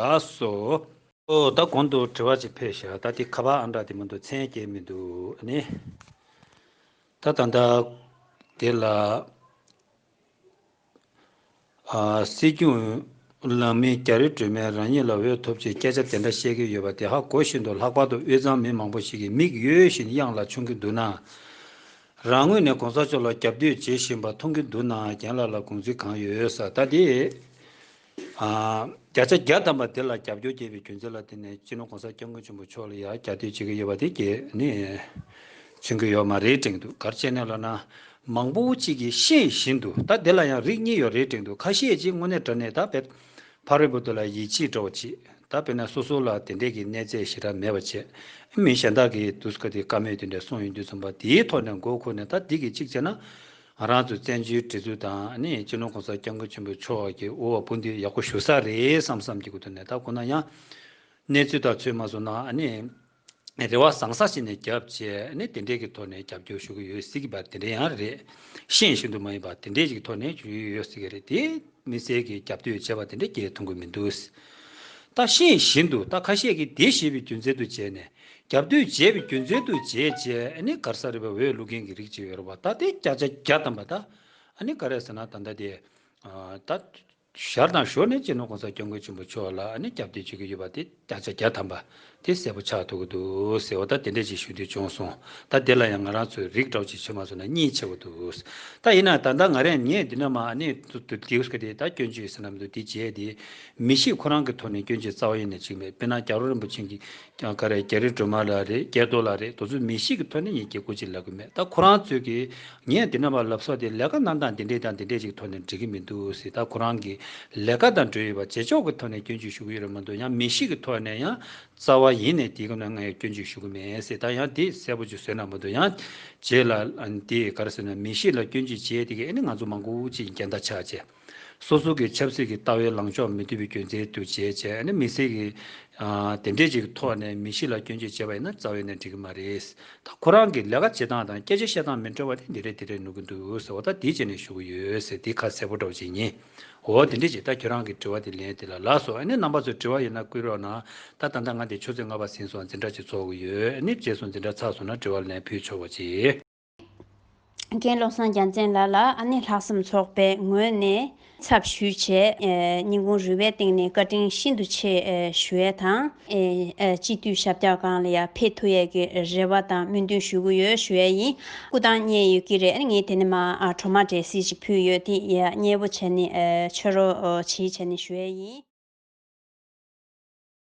འོ་ད་གོང་དུ་དྲི་བ་ཅིག་ཕེབས་ཤག་ད་དེ་ཁ་བ་ཨང་གྲགས་དེ་མི་འདུག་མཚན་སྐྱེལ་མི་འདུག་ནི། ད་ད་ད། དེ་ལ། སྲིད་སྐྱོང་གླང་མའི་རྒྱ་རི་སྒྲོལ་མས་རང་ཉིད་ལ་འོས་ཐོབ་ཆེད་སྐད་ཆ་དེ་འདྲ་བཤད་ཀྱི་ཡོད་པ་དེ་ཧ་གོ་ཤིན་ཏུ་ལྷག་པར་དུ་དབུས་གཙང་མི་མང་པོ་ཞིག་གི་མིག་ཡོད་བཞིན་གཡང་ལ་མཆོང་གི་འདུག་ན། རང་ངོས་ནས་གོང་ས་མཆོག་ལ་རྒྱབ་གཏོད་བྱེད་བཞིན་པ་མཐོང་གི་འདུག་ན་རྒན་ལགས་ལ་དགོངས་ཚུལ་གང་ཡོད་ས་ལྟ་དེ། བརྒྱ་ཆ་བརྒྱ་བདམས་པ་དེ་ལ་རྒྱབ་སྐྱོར་རྒྱས་པའི་རྒྱུ་མཚན་ལ་བརྟེན་ནས་སྤྱི་ནོར་གོང་ས་སྐྱབས་མགོན་ཆེན་པོ་མཆོག་ལ་ཡང་རྒྱབ་སྐྱོར་བྱེད་ཀྱི་ཡོད་པ་དེ་གལ་ནི་མཚོན་གྱི་ཡོད་མ་རེད་དྲན་འདུག་གར་བྱས་ནས་ལབ་ན་མང་པོ་བོ་གཅིག་གིས་ཤེས་བཞིན་དུ་ད་དེ་ལ་ཡང་རིགས་གཉིས་ཡོད་རེད་དྲན་འདུག་ཁ་ཤས་ཀྱིས་དངོས་གནས་དྲ་གནས་དག་བེད་ཕ་རོལ་པོ་དེ་ལ་ཡིད་ཆེས་འདྲ་བོ་བྱེད་ད་བེད་ན་སོ་སོ་ལ་དེ་འདྲས་ཀྱི་གནས་ཚད་ཞིག་རག་མེད་པ་བྱས་ཨེ་མི་གཞན་དག་གིས་དུས་སྐབས་དེ་དཀའ་མོད་དེ་འདྲས་སོང་ཡོད་དུས་རྩོམ་པ་འདིའི་ཐོག་ནས་མགོ་འཁོར་ནས་ད་འདི་གི་གཅིག་བྱས་ན། ང་རང་ཚོ་བཙན་བྱོལ་བྲིས་རྩོད་དང་སྤྱི་ནོར་གོང་ས་སྐྱབས་མགོན་ཆེན་པོའི་ཕྱོགས་ཀྱི་འུར་བ་སྤུ་མདུད་ཡག་པོ་ཞུ་ས་རེད་བསམ་བསམ་གྱི་གོ་ཐོས་ནས་ད་གོ་ན་ཡང། གནས་ཚུལ་དག་ཚོད་མ་བཟུང་ན་རེ་བ་བཟང་ས་ཞིག་ནས་བརྒྱབ་རྗེས་དེ་འདྲས་ཀྱི་ཐོག་ནས་རྒྱབ་སྐྱོར་ཞུ་གི་ཡོད་སྲིད་ཀྱི་བ་དེ་འདྲས་ཡང་རེད། ཤེས་བཞིན་དུ་མ་ཡིན་པ་དེ་འདྲས་ཀྱི་ཐོག་ནས་ཞུ་ཡི་ཡོད་སྲིད་ཀྱི་རེད་དེ། མི་ཟེར་གི་རྒྱབ་དོད་བྱེད་པ་དེ་འདྲ་རྒྱལ་ཐུང་གི་མི་འདུག། རྟ་ཤེས་བཞིན་དུ་རྟ་ཁ་ཤས་ཀྱིས་དེ་ཞེས་པའི་རྒྱུ་མཚན་དུ་བྱས་ནས་རྒྱབ་དོད་བྱས་པའི་རྒྱུ་མཚན་དུ་བྱས་རྗེས་ཨ་ནི་གར་ས་རི་བ་འོས་བླུག་མཁན་གྱི་རིགས་ཅིག་ཡོད་རེད་བ་ད་དེ་སྐྱག་ཆ་བརྒྱ་བཏང་བ་ད་ཨ་ནི་ག་རེ་ཟེར་ན་ད་ཟླ་དེ་ད་ཞར་དང་ཞོར་ནས་སྤྱི་ནོར་གོང་ས་སྐྱབས་མགོན་ཆེན་པོ་མཆོག་ལ་ཨ་ནི་རྒྱབ་དོད་བྱེད་ཀྱི་ཡོད་པ་དེ། བརྒྱ་ཆ་བརྒྱ་ཐམ་པ། དེ་གསལ་པོ་ཆགས་འདུག་གི་འདུག་ཟེར་བ་ད་དེ་འདྲས་ཅིག་ཞུ་དུས་བྱུང་སོང། ད་དེ་ལ་ཡང་ང་རང་ཚོས་རིགས་གྲོགས་ཅིག་བྱོས་མ་སོང་ན་གཉིད་ཆེ་བོ་འདུག། ད་ཡིན་ན་ད་ལྟ་ང་རས་ངས་འདི་ན་མ་ནས་དུ་དུ་དེའུ་སྐེ་དེ་ད་སྐྱོན་བརྗོད་ཟེར་ན་མི་འདུག་དེ་བརྗེད་དེ། མི་ཞིག་ཁོ་རང་གི་ཐོག་ནས་སྐྱོན་བརྗོད་རྩ་བ་ཡན་ནས་ཅིག་མེད་དཔེར་ན་རྒྱ་རོ་རིན་པོ་ཆེན་གྱི་ཀྱང་ཀ་རས་རྒྱ་རི་སྒྲོལ་མ་ལ་རེད་རྒྱལ་རྡོ་ལ་རེད་དོ་ཚོས་མི་ཞིག་གི་ཐོག་ནས་ཡིན་སྐད་གོ་ཅིག་ལབ་གི་མེད་ད་ཁོ་རང་ཚོས་ཀྱི་ངས་འདི་ན་བ་ལབ་སོགས་དེ་ལས་ཀ་གནང་སྟངས་འདི་འདྲས་དང་འདི་འདྲས་ཅིག་ཐོག་ནས་འགྲིག་གི་མི་འདུག་སི་ད་ཁོ་རང་གི་ལས་ཀ་དང་འབྲེལ་ཡོད་པ་རྗེས་ཕྱོགས་ཀྱི་ཐོག་ནས་སྐྱོན་བརྗོད་ཞུ་གི་ཡོད་རེད་མ་འདུག་ཡང་མི་ཞིག་གི་ཐོག་ནས་ཡང་རྩ་བ་ཡིན་ནས་དེའི་སྐབས་ན་ང་ཡང་སྐྱོན་བརྗོད་ཞུ་གི་མེད་སི་ད་ཡང་དེ་གསལ་པོ་ཅིག་བཟོས་ན་མ་འདུག་ཡང་རྗེས་ལ་དེ་ག་རེ་ཟེར་ན་མི་ཞིག་ལ་སྐྱོན་བརྗོད་བྱས་དེ་གས་ནི་ང་ཚོ་མང་པོ་ཅིག་འགལ་ཟླ་ཆགས་རྗེས། སོ་སོ་གི་ཆབ་སྲིད་ཀྱི་ལྟ་བའི་ལངས་ཕྱོགས་མི་མཐུན་པའི་སྐྱོན་ཚལ་དུ་བྱས་བྱས་ཨ་ནི་མི་སེར་གྱི་དེ་འབྲས་ཅིག་གི་ཐོག་ནས་མི་གཤིས་ལ་སྐྱོན་བརྗོད་བྱས་པ་ཡིན་ན་རྩ་བའི་ནས་འགྲིག་གི་མ་རེད་ད་ཁོ་རང་གི་ལས་ཀ་བྱེད་སྟངས་དང་སྐད་ཆ་བཤད་སྟངས་མི་འདྲ་བ་དེ་འདི་རེད་དེ་རེད་ནུག་གི་འདུག་ཟེར་བ་ད་འདི་བྱས་ནས་ཞུ་གི་ཡོད་ཟེར་འདི་ཁ་གསལ་པོ་འདྲ་བ་ཅིག་ཡིན་འོ་དེ་འདྲས་ཅིག་ད་ཁྱོད་རང་གི་དྲི་བ་དེ་ལན་དེ་ལ་ལགས་སོ་ཨ་ནི་རྣམ་པ་ཚོས་དྲི་བ་ཡོད་ན་བསྐུལ་རོགས་གནང་ད་ད་ལྟ་ང་འདི་ཆུ་ཚོད་ལྔ་པ་ཟིན་སོང་འཛིན་གྲྭ་ཅིག་ཚོགས་གི་ཡོད་ཨ་ནི་རྗེས་སུ་འཛིན་གྲྭ་ཚགས་སོང་ན་དྲི་བ་ལན་ཕུལ་ཆོག་པ་ཅིག། མཁན་བློ་བཟང་རྒྱ་མཚན་ལགས་ལ་ཨ་ནེ་ལྷག་བསམ་ཚོགས་པའི་ངོས་ནས་ཚབ་ཞུས་ཆེད། སྙིང་ཁུང་རུས་པའི་སྟེང་ནས་བཀའ་དྲིན་ཤིན་ཏུ་ཆེ་ཞུ་ཡས་དང། སྤྱི་འཐུས་ཞབས་རྒྱག་གང་ལ་ཡང་ཕེབས་ཐུབ་ཡས་ཀྱི་རེ་བ་དང་སྨོན་འདུན་ཞུ་གི་ཡོད་ཞུ་ཡས་ཡིན། སྐུ་ཐང་རྙེད་ཡོད་ཀྱི་རེད་ངས་དེ་ནས་མ་གྲོ་མ་འབྲས་སིལ་ཅིག་ཕུལ་ཡོད་དེ་ཡས་མཉེས་པོ་བྱས་ནས་མཆོད་རོ་བྱིས་བྱས་ནས་ཞུ་ཡས་ཡིན།